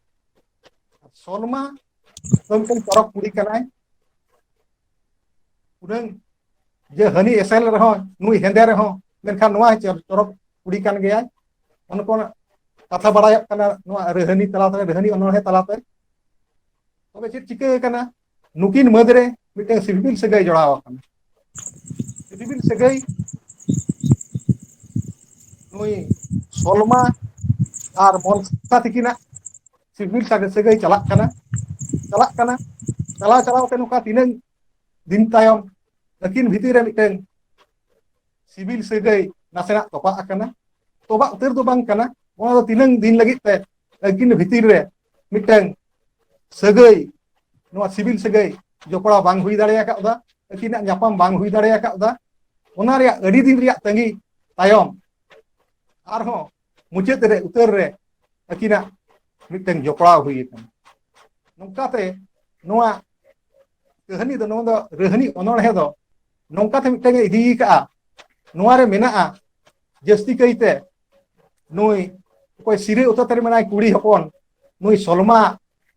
ᱥᱚᱞᱢᱟ ᱫᱚ ᱢᱤᱫᱴᱟᱝ ᱯᱚᱨᱚᱵᱽ ᱠᱩᱲᱤ ᱠᱟᱱᱟᱭ ᱩᱱᱟᱹᱝ ᱡᱮ ᱦᱟᱹᱱᱤ ᱮᱥᱮᱞ ᱨᱮᱦᱚᱸ ᱱᱩᱭ ᱦᱮᱸᱫᱮ ᱨᱮᱦᱚᱸ ᱢᱮᱱᱠᱷᱟᱱ ᱱᱚᱣᱟ ᱪᱚᱨᱚᱠ ᱠᱩᱲᱤ ᱠᱟᱱ ᱜᱮᱭᱟᱭ ᱚᱱᱮ ᱠᱚ ᱠᱟᱛᱷᱟ ᱵᱟᱲᱟᱭᱚᱜ ᱠᱟᱱᱟ ᱱᱚᱣᱟ ᱨᱟᱹᱦᱱᱤ ᱛᱟᱞᱟᱛᱮ ᱨᱟᱹᱦᱱᱤ ᱚᱱᱚᱬᱦᱮᱸ ᱛᱟᱞᱟᱛᱮ ᱛᱚᱵᱮ ᱪᱮᱫ ᱪᱤᱠᱟᱹ ᱟᱠᱟᱱᱟ ᱱᱩᱠᱤᱱ ᱢᱟᱹᱫᱽ ᱨᱮ ᱢᱤᱫᱴᱟᱝ ᱥᱤᱵᱤᱞ ᱥᱟᱹᱜᱟᱹᱭ ᱡᱚᱲᱟᱣ ᱟᱠᱟᱱᱟ ᱥᱤᱯᱤᱵᱤᱞ ᱥᱟᱹᱜᱟᱹᱭ ᱱᱩᱭ ᱥᱚᱞᱢᱟ ᱟᱨ ᱢᱚᱱᱥᱟ ᱛᱤᱠᱤᱱᱟᱜ ᱥᱤᱵᱤᱞ ᱥᱟᱜᱮ ᱥᱟᱹᱜᱟᱹᱭ ᱪᱟᱞᱟᱜ ᱠᱟᱱᱟ ᱪᱟᱞᱟᱜ ᱠᱟᱱᱟ ᱪᱟᱞᱟᱣ ᱪᱟᱞᱟᱣ ᱛᱮ ᱱᱚᱝᱠᱟ ᱛᱤᱱᱟᱹᱝ ᱫᱤᱱ ᱛᱟᱭᱚᱢ ᱟᱹᱠᱤᱱ ᱵᱷᱤᱛᱤᱨ ᱨᱮ ᱢᱤᱫᱴᱮᱱ ᱥᱤᱵᱤᱞ ᱥᱟᱹᱜᱟᱹᱭ ᱱᱟᱥᱮᱱᱟᱜ ᱛᱚᱯᱟᱜ ᱟᱠᱟᱱᱟ ᱛᱚᱵᱟᱜ ᱩᱛᱟᱹᱨ ᱫᱚ ᱵᱟᱝ ᱠᱟᱱᱟ ᱚᱱᱟ ᱫᱚ ᱛᱤᱱᱟᱹᱝ ᱫᱤᱱ ᱞᱟᱹᱜᱤᱫ ᱛᱮ ᱟᱹᱠᱤᱱ ᱵᱷᱤᱛᱤᱨ ᱨᱮ ᱢᱤᱫᱴᱟᱝ ᱥᱟᱹᱜᱟᱹᱭ ᱱᱚᱣᱟ ᱥᱤᱵᱤᱞ ᱥᱟᱹᱜᱟᱹᱭ ᱡᱚᱯᱲᱟᱣ ᱵᱟᱝ ᱦᱩᱭ ᱫᱟᱲᱮ ᱟᱠᱟᱫᱟ ᱟᱹᱠᱤᱱᱟᱜ ᱧᱟᱯᱟᱢ ᱵᱟᱝ ᱦᱩᱭ ᱫᱟᱲᱮ ᱟᱠᱟᱫᱟ ᱚᱱᱟ ᱨᱮᱭᱟᱜ ᱟᱹᱰᱤ ᱫᱤᱱ ᱨᱮᱭᱟᱜ ᱛᱟᱺᱜᱤ ᱛᱟᱭᱚᱢ ᱟᱨᱦᱚᱸ ᱢᱩᱪᱟᱹᱫ ᱨᱮ ᱩᱛᱟᱹᱨ ᱨᱮ ᱟᱹᱠᱤᱱᱟᱜ ᱢᱤᱫᱴᱟᱝ ᱡᱚᱯᱲᱟᱣ ᱦᱩᱭ ᱟᱠᱟᱱᱟ ᱱᱚᱝᱠᱟᱛᱮ ᱱᱚᱣᱟ ᱠᱟᱹᱦᱱᱤ ᱫᱚ ᱱᱚᱣᱟ ᱫᱚ ᱨᱟᱹᱦᱱᱤ ᱚᱱᱚᱬᱦᱮ ᱫᱚ ᱱᱚᱝᱠᱟᱛᱮ ᱢᱤᱫᱴᱟᱝ ᱮ ᱤᱫᱤ ᱠᱟᱜᱼᱟ ᱱᱚᱣᱟ ᱨᱮ ᱢᱮᱱᱟᱜᱼᱟ ᱡᱟᱹᱥᱛᱤ ᱠᱟᱭᱛᱮ ᱱᱩᱭ ᱚᱠᱚᱭ ᱥᱤᱨᱟᱹ ᱚᱛᱟᱛ ᱨᱮ ᱢᱮᱱᱟᱭ ᱠᱩᱲᱤ ᱦᱚᱯᱚᱱ ᱱᱩᱭ ᱥᱚᱞᱢᱟ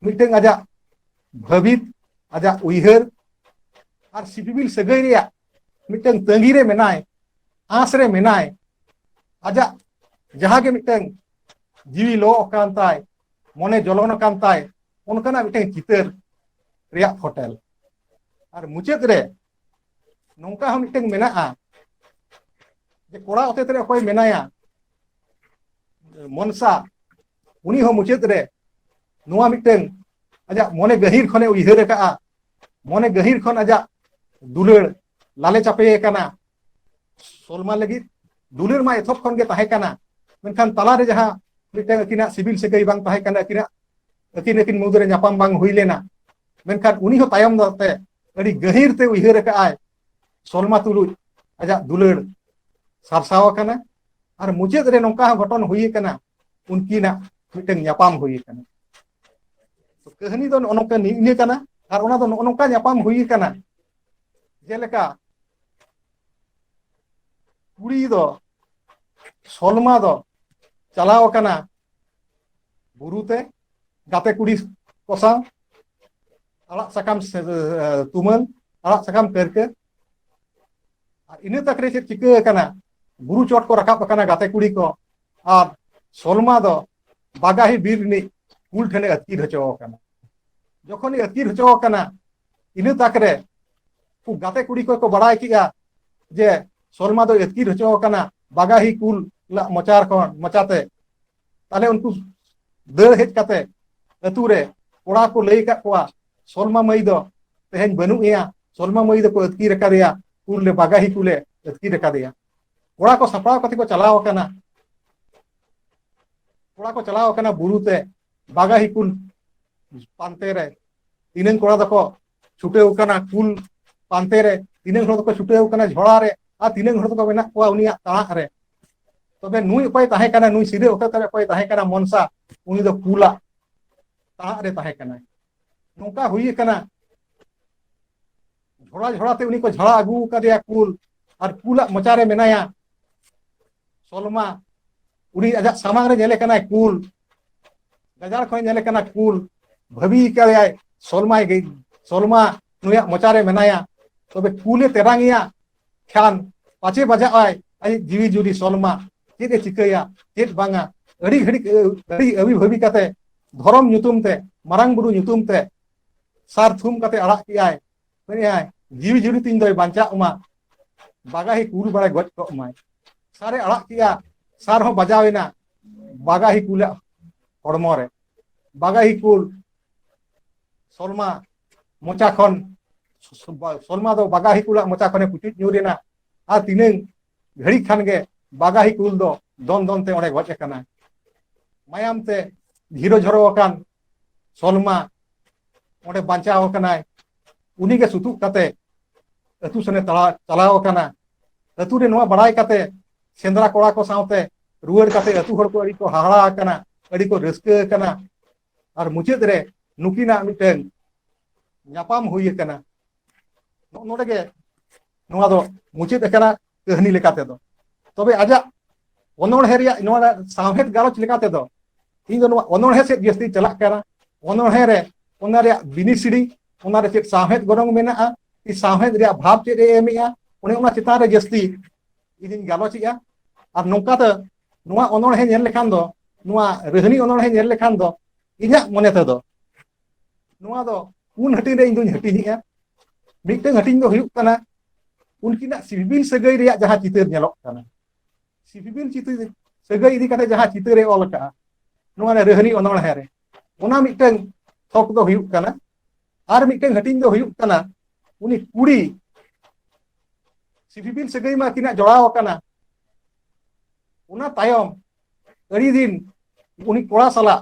ᱢᱤᱫᱴᱟᱝ ᱟᱡᱟᱜ ᱵᱷᱟᱹᱵᱤᱛ ᱟᱡᱟᱜ ᱩᱭᱦᱟᱹᱨ ᱟᱨ ᱥᱤᱯᱤᱵᱤᱞ ᱥᱟᱹᱜᱟᱹᱭ ᱨᱮᱭᱟᱜ ᱢᱤᱫᱴᱟᱝ ᱛᱟᱺᱜᱤ ᱨᱮ ᱢᱮᱱᱟᱭ ᱟᱸᱥ ᱨᱮ ᱢᱮᱱᱟᱭ ᱟᱡᱟᱜ ᱡᱟᱦᱟᱸ ᱜᱮ ᱢᱤᱫᱴᱟᱝ ᱡᱤᱣᱤ ᱞᱚ ᱟᱠᱟᱱ ᱛᱟᱭ ᱢᱚᱱᱮ ᱡᱚᱞᱚᱱ ᱟᱠᱟᱱ ᱛᱟᱭ ᱚᱱᱠᱟᱱᱟᱜ ᱢᱤᱫᱴᱟᱝ ᱪᱤᱛᱟᱹᱨ ᱨᱮᱭᱟᱜ ᱯᱷᱚᱴᱮᱞ ᱟᱨ ᱢᱩᱪᱟᱹᱫ ᱨᱮ ᱱᱚᱝᱠᱟ ᱦᱚᱸ ᱢᱤᱫᱴᱮᱱ ᱢᱮᱱᱟᱜᱼᱟ ᱡᱮ ᱠᱚᱲᱟ ᱚᱛᱮᱛ ᱨᱮ ᱚᱠᱚᱭ ᱢᱮᱱᱟᱭᱟ ᱢᱚᱱᱥᱟ ᱩᱱᱤ ᱦᱚᱸ ᱢᱩᱪᱟᱹᱫ ᱨᱮ ᱱᱚᱣᱟ ᱢᱤᱫᱴᱮᱱ ᱟᱡᱟᱜ ᱢᱚᱱᱮ ᱜᱟᱹᱦᱤᱨ ᱠᱷᱚᱱᱮ ᱩᱭᱦᱟᱹᱨ ᱟᱠᱟᱫᱼᱟ ᱢᱚᱱᱮ ᱜᱟᱹᱦᱤᱨ ᱠᱷᱚᱱ ᱟᱡᱟᱜ ᱫᱩᱞᱟᱹᱲ ᱞᱟᱞᱮ ᱪᱟᱯᱮ ᱟᱠᱟᱱᱟ ᱥᱚᱞᱢᱟ ᱞᱟᱹᱜᱤᱫ ᱫᱩᱞᱟᱹᱲ ᱢᱟ ᱮᱛᱚᱦᱚᱵ ᱠᱷᱚᱱ ᱜᱮ ᱛᱟᱦᱮᱸ ᱠᱟᱱᱟ ᱢᱮᱱᱠᱷᱟᱱ ᱛᱟᱞᱟᱨᱮ ᱡᱟᱦᱟᱸ ᱢᱤᱫᱴᱮᱱ ᱟᱹᱠᱤᱱᱟᱜ ᱥᱤᱵᱤᱞ ᱥᱟᱹᱜᱟᱹᱭ ᱵᱟᱝ ᱛᱟᱦᱮᱸ ᱠᱟᱱᱟ ᱟᱹᱠᱤᱱᱟᱜ ᱟᱹᱠᱤᱱ ᱟᱹᱠᱤᱱ ᱢᱩᱫᱽᱨᱮ ᱧᱟᱯᱟᱢ ᱵᱟᱝ ᱦᱩᱭ ᱞᱮᱱᱟ ᱢᱮᱱᱠᱷᱟᱱ ᱩᱱᱤ ᱦᱚᱸ ᱛᱟᱭᱚᱢ ᱫᱟᱨᱟᱢ ᱛᱮ ᱟᱹᱰᱤ ᱜᱟᱹᱦᱤᱨ ᱛᱮ ᱩᱭᱦᱟᱹᱨ ᱟᱠᱟᱫ ᱟᱭ ᱥᱚᱞᱢᱟ ᱛᱩᱞᱩᱡ ᱟᱡᱟᱜ ᱫᱩᱞᱟᱹᱲ ᱥᱟᱨᱥᱟᱣ ᱟᱠᱟᱱᱟ ᱟᱨ ᱢᱩᱪᱟᱹᱫ ᱨᱮ ᱱᱚᱝᱠᱟ ᱦᱚᱸ ᱜᱷᱚᱴᱚᱱ ᱦᱩᱭ ᱟᱠᱟᱱᱟ ᱩᱱᱠᱤᱱᱟᱜ ᱢᱤᱫᱴᱟᱝ ᱧᱟᱯᱟᱢ ᱦᱩᱭ ᱟᱠᱟᱱᱟ ᱠᱟᱹᱦᱱᱤ ᱫᱚ ᱱᱚᱜᱼᱚ ᱱᱚᱝᱠᱟ ᱱᱤᱭᱟᱹ ᱠᱟᱱᱟ ᱟᱨ ᱚᱱᱟ ᱫᱚ ᱱᱚᱜᱼᱚ ᱱᱚᱝᱠᱟ ᱧᱟᱯᱟᱢ ᱦᱩᱭ ᱟᱠᱟᱱᱟ ᱡᱮᱞᱮᱠᱟ ᱠᱩᱲᱤ ᱫᱚ ᱥᱚᱞᱢᱟ ᱫᱚ ᱪᱟᱞᱟᱣ ᱟᱠᱟᱱᱟ ᱵᱩᱨᱩ ᱛᱮ ᱜᱟᱛᱮ ᱠᱩᱲᱤ ᱠᱚ ᱥᱟᱶ ᱟᱲᱟᱜ ᱥᱟᱠᱟᱢ ᱛᱩᱢᱟᱹᱞ ᱟᱲᱟᱜ ᱥᱟᱠᱟᱢ ᱯᱟᱹᱨᱠᱟᱹ ᱟᱨ ᱤᱱᱟᱹ ᱛᱟᱠ ᱨᱮ ᱪᱮᱫ ᱪᱤᱠᱟᱹ ᱟᱠᱟᱱᱟ ᱵᱩᱨᱩ ᱪᱚᱴ ᱠᱚ ᱨᱟᱠᱟᱵ ᱟᱠᱟᱱᱟ ᱜᱟᱛᱮ ᱠᱩᱲᱤ ᱠᱚ ᱟᱨ ᱥᱚᱞᱢᱟ ᱫᱚ ᱵᱟᱜᱟᱦᱤ ᱵᱤᱨ ᱨᱤᱱᱤᱡ ᱠᱩᱞ ᱴᱷᱮᱱᱮ ᱟᱹᱛᱠᱤᱨ ᱦᱚᱪᱚ ᱟᱠᱟᱱᱟ ᱡᱚᱠᱷᱚᱱ ᱟᱹᱛᱠᱤᱨ ᱦᱚᱪᱚ ᱟᱠᱟᱱᱟ ᱤᱱᱟᱹ ᱛᱟᱠ ᱨᱮ ᱩᱱᱠᱩ ᱜᱟᱛᱮ ᱠᱩᱲᱤ ᱠᱚ ᱵᱟᱲᱟᱭ ᱠᱮᱜᱼᱟ ᱡᱮ ᱥᱚᱞᱢᱟ ᱫᱚ ᱟᱹᱛᱠᱤᱨ ᱦᱚᱪᱚ ᱟᱠᱟᱱᱟ ᱵᱟᱜᱟᱦᱤ ᱠᱩᱞ ᱢᱚᱪᱟ ᱠᱷᱚᱱ ᱢᱚᱪᱟᱛᱮ ᱛᱟᱦᱞᱮ ᱩᱱᱠᱩ ᱫᱟᱹᱲ ᱦᱮᱡ ᱠᱟᱛᱮ ᱟᱹᱛᱩ ᱨᱮ ᱠᱚᱲᱟ ᱠᱚ ᱞᱟᱹᱭ ᱟᱠᱟᱫ ᱠᱚᱣᱟ ᱥᱚᱞᱢᱟ ᱢᱟᱹᱭ ᱫᱚ ᱛᱮᱦᱮᱧ ᱵᱟᱹᱱᱩᱜ ᱮᱭᱟ ᱥᱚᱞᱢᱟ ᱢᱟᱹᱭ ᱫᱚᱠᱚ ᱟᱹᱛᱠᱤᱨ ᱟᱠᱟᱫᱮᱭᱟ ᱠᱩᱨᱞᱮ ᱵᱟᱜᱟᱦᱤ ᱠᱩᱞᱮ ᱟᱹᱛᱠᱤᱨ ᱟᱠᱟᱫᱮᱭᱟ ᱠᱚᱲᱟ ᱠᱚ ᱥᱟᱯᱲᱟᱣ ᱠᱟᱛᱮ ᱠᱚ ᱪᱟᱞᱟᱣ ᱟᱠᱟᱱᱟ ᱠᱚᱲᱟ ᱠᱚ ᱪᱟᱞᱟᱣ ᱟᱠᱟᱱᱟ ᱵᱩᱨᱩ ᱛᱮ ᱵᱟᱜᱟᱦᱤ ᱠᱩᱞ ᱯᱟᱱᱛᱮ ᱨᱮ ᱛᱤᱱᱟᱹᱝ ᱠᱚᱲᱟ ᱫᱚᱠᱚ ᱪᱷᱩᱴᱟᱹᱣ ᱠᱟᱱᱟ ᱠᱩᱞ ᱯᱟᱱᱛᱮ ᱨᱮ ᱛᱤᱱᱟᱹᱜ ᱦᱚᱲ ᱫᱚᱠᱚ ᱪᱷᱩᱴᱟᱹᱣ ᱠᱟᱱᱟ ᱡᱷᱚᱲᱟ ᱨᱮ ᱟᱨ ᱛᱤᱱᱟᱹᱜ ᱦᱚᱲ ᱫᱚᱠᱚ ᱢᱮᱱᱟᱜ ᱠᱚᱣᱟ ᱩᱱᱤᱭᱟᱜ ᱛᱟᱲᱟᱜ ᱨᱮ ᱛᱚᱵᱮ ᱱᱩᱭ ᱚᱠᱚᱭ ᱛᱟᱦᱮᱸ ᱠᱟᱱᱟ ᱱᱩᱭ ᱥᱤᱫᱟᱹ ᱚᱠᱚᱭ ᱛᱚᱵᱮ ᱚᱠᱚᱭ ᱛᱟᱦᱮᱸ ᱠᱟᱱᱟ ᱢᱚᱱᱥᱟ ᱩᱱᱤ ᱫᱚ ᱠᱩᱞᱟ ᱛᱟᱲᱟᱜ ᱨᱮ ᱛᱟᱦᱮᱸ ᱠᱟᱱᱟ ᱱᱚᱝᱠᱟ ᱦᱩᱭ ᱠᱟᱱᱟ ᱡᱷᱚᱲᱟ ᱡᱷᱚᱲᱟ ᱛᱮ ᱩᱱᱤ ᱠᱚ ᱡᱷᱟᱲᱟ ᱟᱹᱜᱩ ᱠᱟᱫᱮᱭᱟ ᱠᱩᱞ ᱟᱨ ᱠᱩᱞᱟᱜ ᱢᱚᱪᱟ ᱨᱮ ᱢᱮᱱᱟᱭᱟ ᱥᱚᱞᱢᱟ ᱩᱱᱤ ᱟᱡᱟᱜ ᱥᱟᱢᱟᱝ ᱨᱮ ᱧᱮᱞᱮ ᱠᱟᱱᱟᱭ ᱠᱩᱞ ᱜᱟᱡᱟᱲ ᱠᱷᱚᱱ ᱧᱮᱞᱮ ᱠᱟᱱᱟ ᱠᱩᱞ ᱵᱷᱟᱹᱵᱤ ᱠᱟᱫᱮᱭᱟᱭ ᱥᱚᱞᱢᱟᱭ ᱜᱮ ᱥᱚᱞᱢᱟ ᱱᱩᱭᱟᱜ ᱢᱚᱪᱟᱨᱮ ᱢᱮᱱᱟᱭᱟ ᱛᱚᱵᱮ ᱠᱩᱞᱮ ᱛᱮᱨᱟᱝᱮᱭᱟ ᱠᱷᱟᱱ ᱯᱟᱪᱮ ᱵᱟᱡᱟᱜᱼᱟᱭ ᱟᱡ ᱡᱤᱣᱤ ᱡᱩᱨᱤ ᱥᱚᱞᱢᱟ ᱪᱮᱫ ᱮ ᱪᱤᱠᱟᱹᱭᱟ ᱪᱮᱫ ᱵᱟᱝᱟ ᱟᱹᱰᱤ ᱜᱷᱟᱹᱲᱤᱡ ᱟᱹᱰᱤ ᱟᱹᱵᱤ ᱵᱷᱟᱹᱵᱤ ᱠᱟᱛᱮ ᱫᱷᱚᱨᱚᱢ ᱧᱩᱛᱩᱢ ᱛᱮ ᱢᱟᱨᱟᱝ ᱵᱩᱨᱩ ᱧᱩᱛᱩᱢ ᱛᱮ ᱥᱟᱨ ᱛᱷᱩᱢ ᱠᱟᱛᱮ ᱟᱲᱟᱜ ᱠᱮᱜᱼᱟᱭ ᱞᱟᱹᱭᱟᱭ ᱡᱤᱣᱤ ᱡᱩᱨᱤ ᱛᱤᱧ ᱫᱚᱭ ᱵᱟᱧᱪᱟᱜ ᱢᱟ ᱵᱟᱜᱟᱦᱤ ᱠᱩᱞ ᱵᱟᱲᱟᱭ ᱜᱚᱡ ᱠᱚᱜ ᱢᱟᱭ ᱥᱟᱨᱮ ᱟᱲᱟᱜ ᱠᱮᱫᱼᱟ ᱥᱟᱨ ᱦᱚᱸ ᱵᱟᱡᱟᱣ ᱮᱱᱟ ᱵᱟᱜᱟᱦᱤ ᱠᱩᱞᱟᱜ ᱦᱚᱲᱢᱚ ᱨᱮ ᱵᱟᱜᱟᱦᱤ ᱠᱩᱞ ᱥᱚᱞᱢᱟ ᱢᱚᱪᱟ ᱠᱷᱚᱱ ᱥᱚᱞᱢᱟ ᱫᱚ ᱵᱟᱜᱟᱦᱤ ᱠᱩᱞᱟᱜ ᱢᱚᱪᱟ ᱠᱷᱚᱱᱮ ᱯᱩᱪᱩᱡ ᱧᱩᱨ ᱮᱱᱟ ᱟᱨ ᱛᱤᱱᱟᱹᱝ ᱜᱷᱟᱹᱲᱤᱡ ᱠᱷᱟᱱ ᱜᱮ ᱵᱟᱜᱟᱦᱤ ᱠᱩᱞ ᱫᱚ ᱫᱚᱱ ᱫᱚᱱ ᱛᱮ ᱚᱸᱰᱮ ᱜᱚᱡ ᱟᱠᱟᱱᱟ ᱢᱟᱭᱟᱢ ᱛᱮ ᱡᱷᱤᱨᱚ ᱡᱷᱚᱨᱚ ᱟᱠᱟᱱ ᱥᱚᱞᱢᱟ ᱚᱸᱰᱮ ᱵᱟᱧᱪᱟᱣ ᱟᱠᱟᱱᱟᱭ ᱩᱱᱤᱜᱮ ᱥᱩᱛᱩᱜ ᱠᱟᱛᱮ ᱟᱹᱛᱩ ᱥᱮᱱᱮ ᱪᱟᱞᱟᱣ ᱟᱠᱟᱱᱟ ᱟᱹᱛᱩ ᱨᱮ ᱱᱚᱣᱟ ᱵᱟᱲᱟᱭ ᱠᱟᱛᱮ ᱥᱮᱸᱫᱽᱨᱟ ᱠᱚᱲᱟ ᱠᱚ ᱥᱟᱶᱛᱮ ᱨᱩᱣᱟᱹᱲ ᱠᱟᱛᱮ ᱟᱹᱛᱩ ᱦᱚᱲ ᱠᱚ ᱟᱹᱰᱤ ᱠᱚ ᱦᱟᱦᱟᱲᱟ ᱟᱠᱟᱱᱟ ᱟᱹᱰᱤ ᱠᱚ ᱨᱟᱹᱥᱠᱟᱹ ᱟᱠᱟᱱᱟ ᱟᱨ ᱢᱩᱪᱟᱹᱫ ᱨᱮ ᱱᱩᱠᱤᱱᱟᱜ ᱢᱤᱫᱴᱟᱝ ᱧᱟᱯᱟᱢ ᱦᱩᱭ ᱟᱠᱟᱱᱟ ᱱᱚᱜᱼᱚ ᱱᱚᱰᱮ ᱜᱮ ᱱᱚᱣᱟ ᱫᱚ ᱢᱩᱪᱟᱹᱫ ᱟᱠᱟᱱᱟ ᱠᱟᱹᱦᱱᱤ ᱞᱮᱠᱟ ᱛᱮᱫᱚ ᱛᱚᱵᱮ ᱟᱡᱟᱜ ᱚᱱᱚᱬᱦᱮ ᱨᱮᱭᱟᱜ ᱱᱚᱣᱟ ᱥᱟᱶᱦᱮᱫ ᱜᱟᱞᱚᱪ ᱞᱮᱠᱟ ᱛᱮᱫᱚ ᱤᱧ ᱫᱚ ᱱᱚᱣᱟ ᱚᱱᱚᱬᱦᱮ ᱥᱮᱫ ᱡᱟᱹᱥᱛᱤ ᱪᱟᱞᱟᱜ ᱠᱟᱱᱟ ᱚᱱᱚᱬᱦᱮ ᱨᱮ ᱚᱱᱟ ᱨᱮᱭᱟᱜ ᱵᱤᱱᱤᱥᱤᱲᱤ ᱚᱱᱟ ᱨᱮ ᱪᱮᱫ ᱥᱟᱶᱦᱮᱫ ᱜᱚᱱᱚᱝ ᱢᱮᱱᱟᱜᱼᱟ ᱤᱧ ᱥᱟᱶᱦᱮᱫ ᱨᱮᱭᱟᱜ ᱵᱷᱟᱵᱽ ᱪᱮᱫ ᱮ ᱮᱢᱮᱜᱼᱟ ᱚᱱᱮ ᱚᱱᱟ ᱪᱮᱛᱟᱱ ᱨᱮ ᱡᱟᱹᱥᱛᱤ ᱤᱧᱤᱧ ᱜᱟᱞᱚᱪᱮᱜᱼᱟ ᱟᱨ ᱱᱚᱝᱠᱟ ᱛᱮ ᱱᱚᱣᱟ ᱚᱱᱚᱬᱦᱮ ᱧᱮᱞ ᱞᱮᱠᱷᱟᱱ ᱫᱚ ᱱᱚᱣᱟ ᱨᱟᱹᱦᱱᱤ ᱚᱱᱚᱬᱦᱮ ᱧᱮᱞ ᱞᱮᱠᱷᱟᱱ ᱫᱚ ᱤᱧᱟᱹᱜ ᱢᱚᱱᱮ ᱛᱮᱫᱚ ᱱᱚᱣᱟ ᱫᱚ ᱯᱩᱱ ᱦᱟᱹᱴᱤᱧ ᱨᱮ ᱤᱧ ᱫᱩᱧ ᱦᱟᱹᱴᱤᱧᱮᱜᱼᱟ ᱢᱤᱫᱴᱟᱝ ᱦᱟᱹᱴᱤᱧ ᱫᱚ ᱦᱩᱭᱩᱜ ᱠᱟᱱᱟ ᱩᱱᱠᱤᱱᱟᱜ ᱥᱤᱵᱤᱞ ᱥᱟᱹᱜᱟᱹᱭ ᱨᱮᱭᱟᱜ ᱡᱟᱦᱟᱸ ᱪᱤᱛᱟᱹᱨ ᱧᱮᱞᱚᱜ ᱠᱟᱱᱟ ᱥᱤᱵᱤᱞ ᱪᱤᱛᱟᱹᱨ ᱥᱟᱹᱜᱟᱹᱭ ᱤᱫᱤ ᱠᱟᱛᱮ ᱡᱟᱦᱟᱸ ᱪᱤᱛᱟᱹᱨᱮ ᱚᱞ ᱟᱠᱟᱜᱼᱟ ᱱᱚᱣᱟ ᱨᱟᱹᱦᱨᱤ ᱚᱱᱚᱬᱦᱮ ᱨᱮ ᱚᱱᱟ ᱢᱤᱫᱴᱟᱝ ᱛᱷᱚᱠ ᱫᱚ ᱦᱩᱭᱩᱜ ᱠᱟᱱᱟ ᱟᱨ ᱢᱤᱫᱴᱟᱝ ᱦᱟᱹᱴᱤᱧ ᱫᱚ ᱦᱩᱭᱩᱜ ᱠᱟᱱᱟ ᱩᱱᱤ ᱠᱩᱲᱤ ᱥᱤᱵᱤᱞ ᱥᱟᱹᱜᱟᱹᱭ ᱢᱟ ᱟᱹᱠᱤᱱᱟᱜ ᱡᱚᱲᱟᱣ ᱟᱠᱟᱱᱟ ᱚᱱᱟ ᱛᱟᱭᱚᱢ ᱟᱹᱰᱤ ᱫᱤᱱ ᱩᱱᱤ ᱠᱚᱲᱟ ᱥᱟᱞᱟᱜ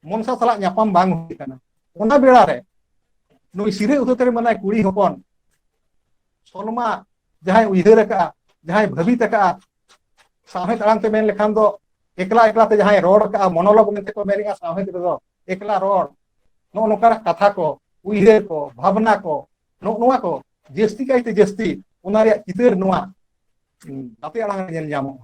ᱢᱚᱱᱥᱟ ᱥᱟᱞᱟᱜ ᱧᱟᱯᱟᱢ ᱵᱟᱝ ᱦᱩᱭ ᱟᱠᱟᱱᱟ ᱚᱱᱟ ᱵᱮᱲᱟ ᱨᱮ ᱱᱩᱭ ᱥᱤᱨᱟᱹ ᱩᱛᱟᱹᱨ ᱨᱮ ᱢᱮᱱᱟᱭ ᱠᱩᱲᱤ ᱦᱚᱯᱚᱱ ᱥᱚᱞᱢᱟ ᱡᱟᱦᱟᱸᱭ ᱩᱭᱦᱟᱹᱨ ᱟᱠᱟᱫᱼᱟ ᱡᱟᱦᱟᱸᱭ ᱵᱷᱟᱹᱵᱤᱛ ᱟᱠᱟᱫᱼᱟ ᱥᱟᱶᱦᱮᱫ ᱟᱲᱟᱝ ᱛᱮ ᱢᱮᱱ ᱞᱮᱠᱷᱟᱱ ᱫᱚ ᱮᱠᱞᱟ ᱮᱠᱞᱟ ᱛᱮ ᱡᱟᱦᱟᱸᱭ ᱨᱚᱲ ᱟᱠᱟᱫᱼᱟ ᱢᱚᱱᱚᱞᱚᱜᱽ ᱢᱮᱱᱛᱮ ᱠᱚ ᱢᱮᱱᱮᱫᱼᱟ ᱥᱟᱶᱦᱮᱫ ᱨᱮᱫᱚ ᱮᱠᱞᱟ ᱨᱚᱲ ᱱᱚᱜᱼᱚ ᱱᱚᱝᱠᱟᱱᱟᱜ ᱠᱟᱛᱷᱟ ᱠᱚ ᱩᱭᱦᱟᱹᱨ ᱠᱚ ᱵᱷᱟᱵᱽᱱᱟ ᱠᱚ ᱱᱚᱜᱼᱚ ᱱᱚᱣᱟ ᱠᱚ ᱡᱟᱹᱥᱛᱤ ᱠᱟᱭᱛᱮ ᱡᱟᱹᱥᱛᱤ ᱚᱱᱟ ᱨᱮᱭᱟᱜ ᱪᱤᱛᱟᱹᱨ ᱱᱚᱣᱟ ᱜᱟᱛᱮ ᱟᱲᱟᱝ ᱨᱮ ᱧᱮᱞ ᱧᱟᱢᱚᱜᱼᱟ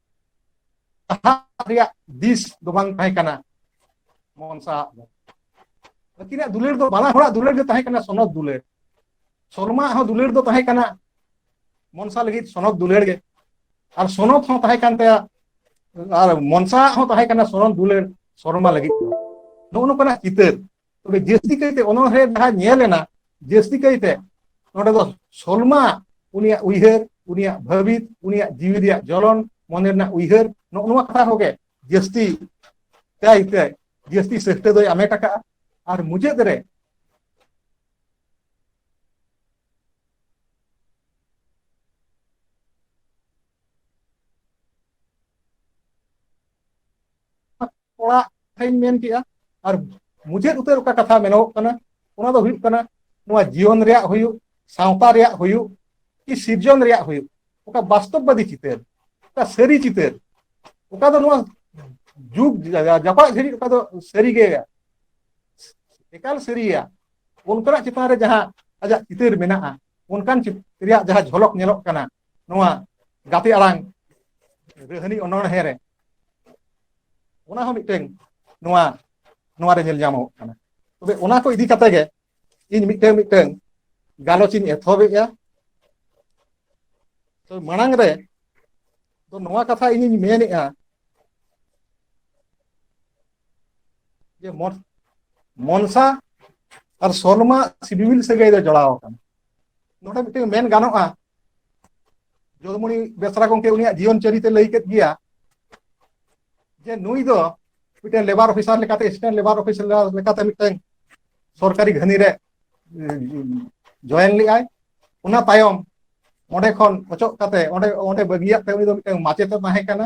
ᱥᱟᱦᱟᱜ ᱨᱮᱭᱟᱜ ᱫᱤᱥ ᱫᱚ ᱵᱟᱝ ᱛᱟᱦᱮᱸ ᱠᱟᱱᱟ ᱢᱚᱱ ᱥᱟᱦᱟᱜ ᱫᱚ ᱟᱹᱠᱤᱱᱟᱜ ᱫᱩᱞᱟᱹᱲ ᱫᱚ ᱵᱟᱱᱟ ᱦᱚᱲᱟᱜ ᱫᱩᱞᱟᱹᱲ ᱜᱮ ᱛᱟᱦᱮᱸ ᱠᱟᱱᱟ ᱥᱚᱱᱚᱛ ᱫᱩᱞᱟᱹᱲ ᱥᱚᱞᱢᱟ ᱦᱚᱸ ᱫᱩᱞᱟᱹᱲ ᱫᱚ ᱛᱟᱦᱮᱸ ᱠᱟᱱᱟ ᱢᱚᱱᱥᱟ ᱞᱟᱹᱜᱤᱫ ᱥᱚᱱᱚᱛ ᱫᱩᱞᱟᱹᱲ ᱜᱮ ᱟᱨ ᱥᱚᱱᱚᱛ ᱦᱚᱸ ᱛᱟᱦᱮᱸ ᱠᱟᱱ ᱛᱟᱭᱟ ᱟᱨ ᱢᱚᱱᱥᱟ ᱦᱚᱸ ᱛᱟᱦᱮᱸ ᱠᱟᱱᱟ ᱥᱚᱱᱚᱛ ᱫᱩᱞᱟᱹᱲ ᱥᱚᱨᱢᱟ ᱞᱟᱹᱜᱤᱫ ᱫᱚ ᱱᱚᱜᱼᱚ ᱱᱚᱝᱠᱟᱱᱟᱜ ᱪᱤᱛᱟᱹᱨ ᱛᱚᱵᱮ ᱡᱟᱹᱥᱛᱤ ᱠᱟᱭᱛᱮ ᱚᱱᱚᱬᱦᱮ ᱡᱟᱦᱟᱸ ᱧᱮᱞ ᱮᱱᱟ ᱡᱟᱹᱥᱛᱤ ᱠᱟᱭᱛᱮ ᱱᱚᱰᱮ ᱫᱚ ᱥᱚᱞᱢᱟ ᱩᱱᱤᱭᱟᱜ ᱩᱭᱦᱟᱹᱨ ᱩᱱᱤᱭᱟᱜ ᱵᱷᱟᱹᱵᱤᱛ ᱩᱱᱤᱭᱟᱜ ᱡᱤᱣᱤ ᱨᱮᱭᱟᱜ ᱡᱚᱞᱚᱱ ᱢᱚᱱᱮ ᱨᱮᱱᱟᱜ ᱩᱭᱦᱟᱹᱨ ᱱᱚᱜᱼᱚ ᱱᱚᱣᱟ ᱠᱟᱛᱷᱟ ᱠᱚᱜᱮ ᱡᱟᱹᱥᱛᱤ ᱠᱟᱭᱛᱮ ᱡᱟᱹᱥᱛᱤ ᱥᱟᱹᱦᱛᱟᱹ ᱫᱚᱭ ᱟᱢᱮᱴ ᱟᱠᱟᱫᱼᱟ ᱟᱨ ᱢᱩᱪᱟᱹᱫ ᱨᱮ ᱚᱲᱟᱜ ᱠᱟᱛᱷᱟᱧ ᱢᱮᱱ ᱠᱮᱜᱼᱟ ᱟᱨ ᱢᱩᱪᱟᱹᱫ ᱩᱛᱟᱹᱨ ᱚᱠᱟ ᱠᱟᱛᱷᱟ ᱢᱮᱱᱚᱜᱚᱜ ᱠᱟᱱᱟ ᱚᱱᱟ ᱫᱚ ᱦᱩᱭᱩᱜ ᱠᱟᱱᱟ ᱱᱚᱣᱟ ᱡᱤᱭᱚᱱ ᱨᱮᱭᱟᱜ ᱦᱩᱭᱩᱜ ᱥᱟᱶᱛᱟ ᱨᱮᱭᱟᱜ ᱦᱩᱭᱩᱜ ᱠᱤ ᱥᱤᱨᱡᱚᱱ ᱨᱮᱭᱟᱜ ᱦᱩᱭᱩᱜ ᱚᱠᱟ ᱵᱟᱥᱛᱚᱵ ᱵᱟᱫᱤ ᱪᱤᱛᱟᱹᱨ ᱚᱠᱟ ᱥᱟᱹᱨᱤ ᱪᱤᱛᱟᱹᱨ ᱚᱠᱟ ᱫᱚ ᱱᱚᱣᱟ ᱡᱩᱜᱽ ᱡᱟᱯᱟᱜ ᱡᱷᱟᱹᱨᱤᱡ ᱚᱠᱟ ᱫᱚ ᱥᱟᱹᱨᱤ ᱜᱮ ᱮᱠᱟᱞ ᱥᱟᱹᱨᱤᱭᱟ ᱚᱱᱠᱟᱱᱟᱜ ᱪᱮᱛᱟᱱ ᱨᱮ ᱡᱟᱦᱟᱸ ᱟᱡᱟᱜ ᱪᱤᱛᱟᱹᱨ ᱢᱮᱱᱟᱜᱼᱟ ᱚᱱᱠᱟᱱ ᱪᱤᱛᱟᱹᱨ ᱨᱮᱭᱟᱜ ᱡᱟᱦᱟᱸ ᱡᱷᱚᱞᱚᱠ ᱧᱮᱞᱚᱜ ᱠᱟᱱᱟ ᱱᱚᱣᱟ ᱜᱟᱛᱮ ᱟᱲᱟᱝ ᱨᱟᱹᱦᱱᱤ ᱚᱱᱚᱬᱦᱮᱸ ᱨᱮ ᱚᱱᱟ ᱦᱚᱸ ᱢᱤᱫᱴᱮᱱ ᱱᱚᱣᱟ ᱱᱚᱣᱟ ᱨᱮ ᱧᱮᱞ ᱧᱟᱢᱚᱜ ᱠᱟᱱᱟ ᱛᱚᱵᱮ ᱚᱱᱟ ᱠᱚ ᱤᱫᱤ ᱠᱟᱛᱮ ᱜᱮ ᱤᱧ ᱢᱤᱫᱴᱮᱱ ᱢᱤᱫᱴᱮᱱ ᱜᱟᱞᱚᱪ ᱤᱧ ᱮᱛᱚᱦᱚᱵᱮᱜᱼᱟ ᱛᱚ ᱢᱟᱲᱟᱝ ᱨᱮ ᱛᱚ ᱱᱚᱣᱟ ᱠᱟᱛᱷᱟ ᱤᱧᱤᱧ ᱢᱮᱱᱮᱜᱼᱟ ᱡᱮ ᱢᱚᱱ ᱢᱚᱱᱥᱟ ᱟᱨ ᱥᱚᱞᱢᱟ ᱥᱤᱵᱤᱞ ᱥᱟᱹᱜᱟᱹᱭ ᱫᱚ ᱡᱚᱲᱟᱣ ᱟᱠᱟᱱᱟ ᱱᱚᱰᱮ ᱢᱤᱫᱴᱮᱱ ᱢᱮᱱ ᱜᱟᱱᱚᱜᱼᱟ ᱡᱚᱫᱩᱢᱚᱱᱤ ᱵᱮᱥᱨᱟ ᱜᱚᱢᱠᱮ ᱩᱱᱤᱭᱟᱜ ᱡᱤᱭᱚᱱ ᱪᱟᱹᱨᱤᱛᱮ ᱞᱟᱹᱭ ᱠᱮᱫ ᱜᱮᱭᱟ ᱡᱮ ᱱᱩᱭ ᱫᱚ ᱢᱤᱫᱴᱮᱱ ᱞᱮᱵᱟᱨ ᱚᱯᱷᱤᱥᱟᱨ ᱞᱮᱠᱟᱛᱮ ᱮᱥᱤᱥᱴᱮᱱᱴ ᱞᱮᱵᱟᱨ ᱚᱯᱷᱤᱥᱟᱨ ᱞᱮᱠᱟᱛᱮ ᱢᱤᱫᱴᱮᱱ ᱥᱚᱨᱠᱟᱨᱤ ᱜᱷᱟᱹᱱᱤ ᱨᱮ ᱡᱚᱭᱮᱱ ᱞᱮᱫᱟᱭ ᱚᱱᱟ ᱛᱟᱭᱚᱢ ᱚᱸᱰᱮ ᱠᱷᱚᱱ ᱚᱪᱚᱜ ᱠᱟᱛᱮ ᱚᱸᱰᱮ ᱚᱸᱰᱮ ᱵᱟᱹᱜᱤᱭᱟᱜ ᱛᱮ ᱩᱱᱤ ᱫᱚ ᱢᱤᱫᱴᱮᱱ ᱢᱟᱪᱮᱛᱮ ᱛᱟᱦᱮᱸ ᱠᱟᱱᱟ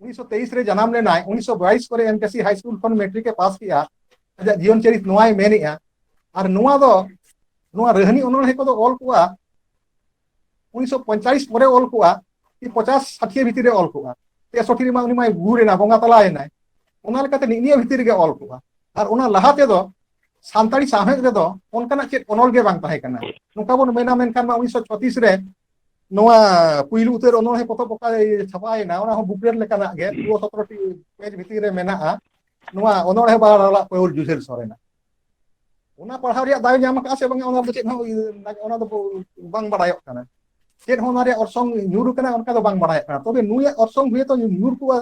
ᱩᱱᱤᱥᱥᱚ ᱛᱮᱭᱤᱥ ᱨᱮ ᱡᱟᱱᱟᱢ ᱞᱮᱱᱟᱭ ᱩᱱᱤᱥᱥᱚ ᱵᱟᱭᱤᱥ ᱠᱚᱨᱮ ᱮᱢᱠᱮᱥᱤ ᱦᱟᱭ ᱥᱠᱩᱞ ᱠᱷᱚᱱ ᱢᱮᱴᱨᱤᱠ ᱮ ᱯᱟᱥ ᱠᱮᱜᱼᱟ ᱟᱡᱟᱜ ᱡᱤᱭᱚᱱ ᱪᱟᱹᱨᱤᱛ ᱱᱚᱣᱟᱭ ᱢᱮᱱᱮᱜᱼᱟ ᱟᱨ ᱱᱚᱣᱟ ᱫᱚ ᱱᱚᱣᱟ ᱨᱟᱹᱦᱱᱤ ᱚᱱᱚᱬᱦᱮ ᱠᱚᱫᱚ ᱚᱞ ᱠᱚᱜᱼᱟ ᱩᱱᱤᱥᱥᱚ ᱯᱚᱧᱪᱟᱞᱤᱥ ᱯᱚᱨᱮ ᱚᱞ ᱠᱚᱜᱼᱟ ᱠᱤ ᱯᱚᱪᱟᱥ ᱥᱟᱴᱷᱤᱭᱟᱹ ᱵᱷᱤᱛᱤᱨ ᱨᱮ ᱚᱞ ᱠᱚᱜᱼᱟ ᱛᱮᱥᱚᱴᱷᱤ ᱨᱮᱢᱟ ᱩᱱᱤ ᱢᱟᱭ ᱜᱩᱨ ᱮᱱᱟ ᱵᱚᱸᱜᱟ ᱛᱟᱞᱟᱭᱮᱱᱟᱭ ᱚᱱᱟ ᱞᱮᱠᱟᱛᱮ ᱱᱤᱭᱟᱹ ᱵᱷᱤᱛᱤᱨ ᱨᱮᱜᱮ ᱚᱞ ᱠᱚᱜᱼᱟ ᱟᱨ ᱚᱱᱟ ᱞᱟᱦᱟ ᱛᱮᱫᱚ ᱥᱟᱱᱛᱟᱲᱤ ᱥᱟᱶᱦᱮᱫ ᱨᱮᱫᱚ ᱚᱱᱠᱟᱱᱟᱜ ᱪᱮᱫ ᱚᱱᱚᱞ ᱜᱮ ᱵᱟᱝ ᱛᱟᱦᱮᱸ ᱠᱟᱱᱟ ᱱᱚᱝᱠᱟ ᱵᱚᱱ ᱢᱮᱱᱟ ᱢᱮᱱᱠᱷᱟᱱ ᱢᱟ ᱩᱱᱤᱥᱥᱚ ᱪᱷᱚᱛᱤᱥ ᱨᱮ ᱱᱚᱣᱟ ᱯᱩᱭᱞᱩ ᱩᱛᱟᱹᱨ ᱚᱱᱚᱬᱦᱮ ᱯᱚᱛᱚᱵ ᱚᱠᱟ ᱨᱮ ᱪᱷᱟᱯᱟᱭᱮᱱᱟ ᱚᱱᱟ ᱦᱚᱸ ᱵᱩᱠᱞᱮᱴ ᱞᱮᱠᱟᱱᱟᱜ ᱜᱮ ᱫᱩᱭᱚ ᱥᱚᱛᱨᱚ ᱴᱤ ᱯᱮᱡᱽ ᱵᱷᱤᱛᱤᱨ ᱨᱮ ᱢᱮᱱᱟᱜᱼᱟ ᱱᱚᱣᱟ ᱚᱱᱚᱬᱦᱮ ᱵᱟᱦᱟᱞᱟᱞᱟᱜ ᱯᱟᱹᱣᱲᱤ ᱡᱩᱡᱷᱟᱹᱨ ᱥᱚᱨᱮᱱᱟᱜ ᱚᱱᱟ ᱯᱟᱲᱦᱟᱣ ᱨᱮᱭᱟᱜ ᱫᱟᱣᱮ ᱧᱟᱢ ᱟᱠᱟᱫᱼᱟ ᱥᱮ ᱵᱟᱝ ᱚᱱᱟ ᱫᱚ ᱪᱮᱫ ᱦᱚᱸ ᱚᱱᱟ ᱫᱚ ᱵᱟᱝ ᱵᱟᱲᱟᱭᱚᱜ ᱠᱟᱱᱟ ᱪᱮᱫ ᱦᱚᱸ ᱚᱱᱟ ᱨᱮᱭᱟᱜ ᱚᱨᱥᱚᱝ ᱧᱩᱨ ᱟᱠᱟᱱᱟ ᱚᱱᱠᱟ ᱫᱚ ᱵᱟᱝ ᱵᱟᱲᱟᱭᱚᱜ ᱠᱟᱱᱟ ᱛᱚᱵᱮ ᱱᱩᱭᱟᱜ ᱚᱨᱥᱚᱝ ᱦᱚᱭᱛᱳ ᱧᱩᱨ ᱠᱚᱜᱼᱟ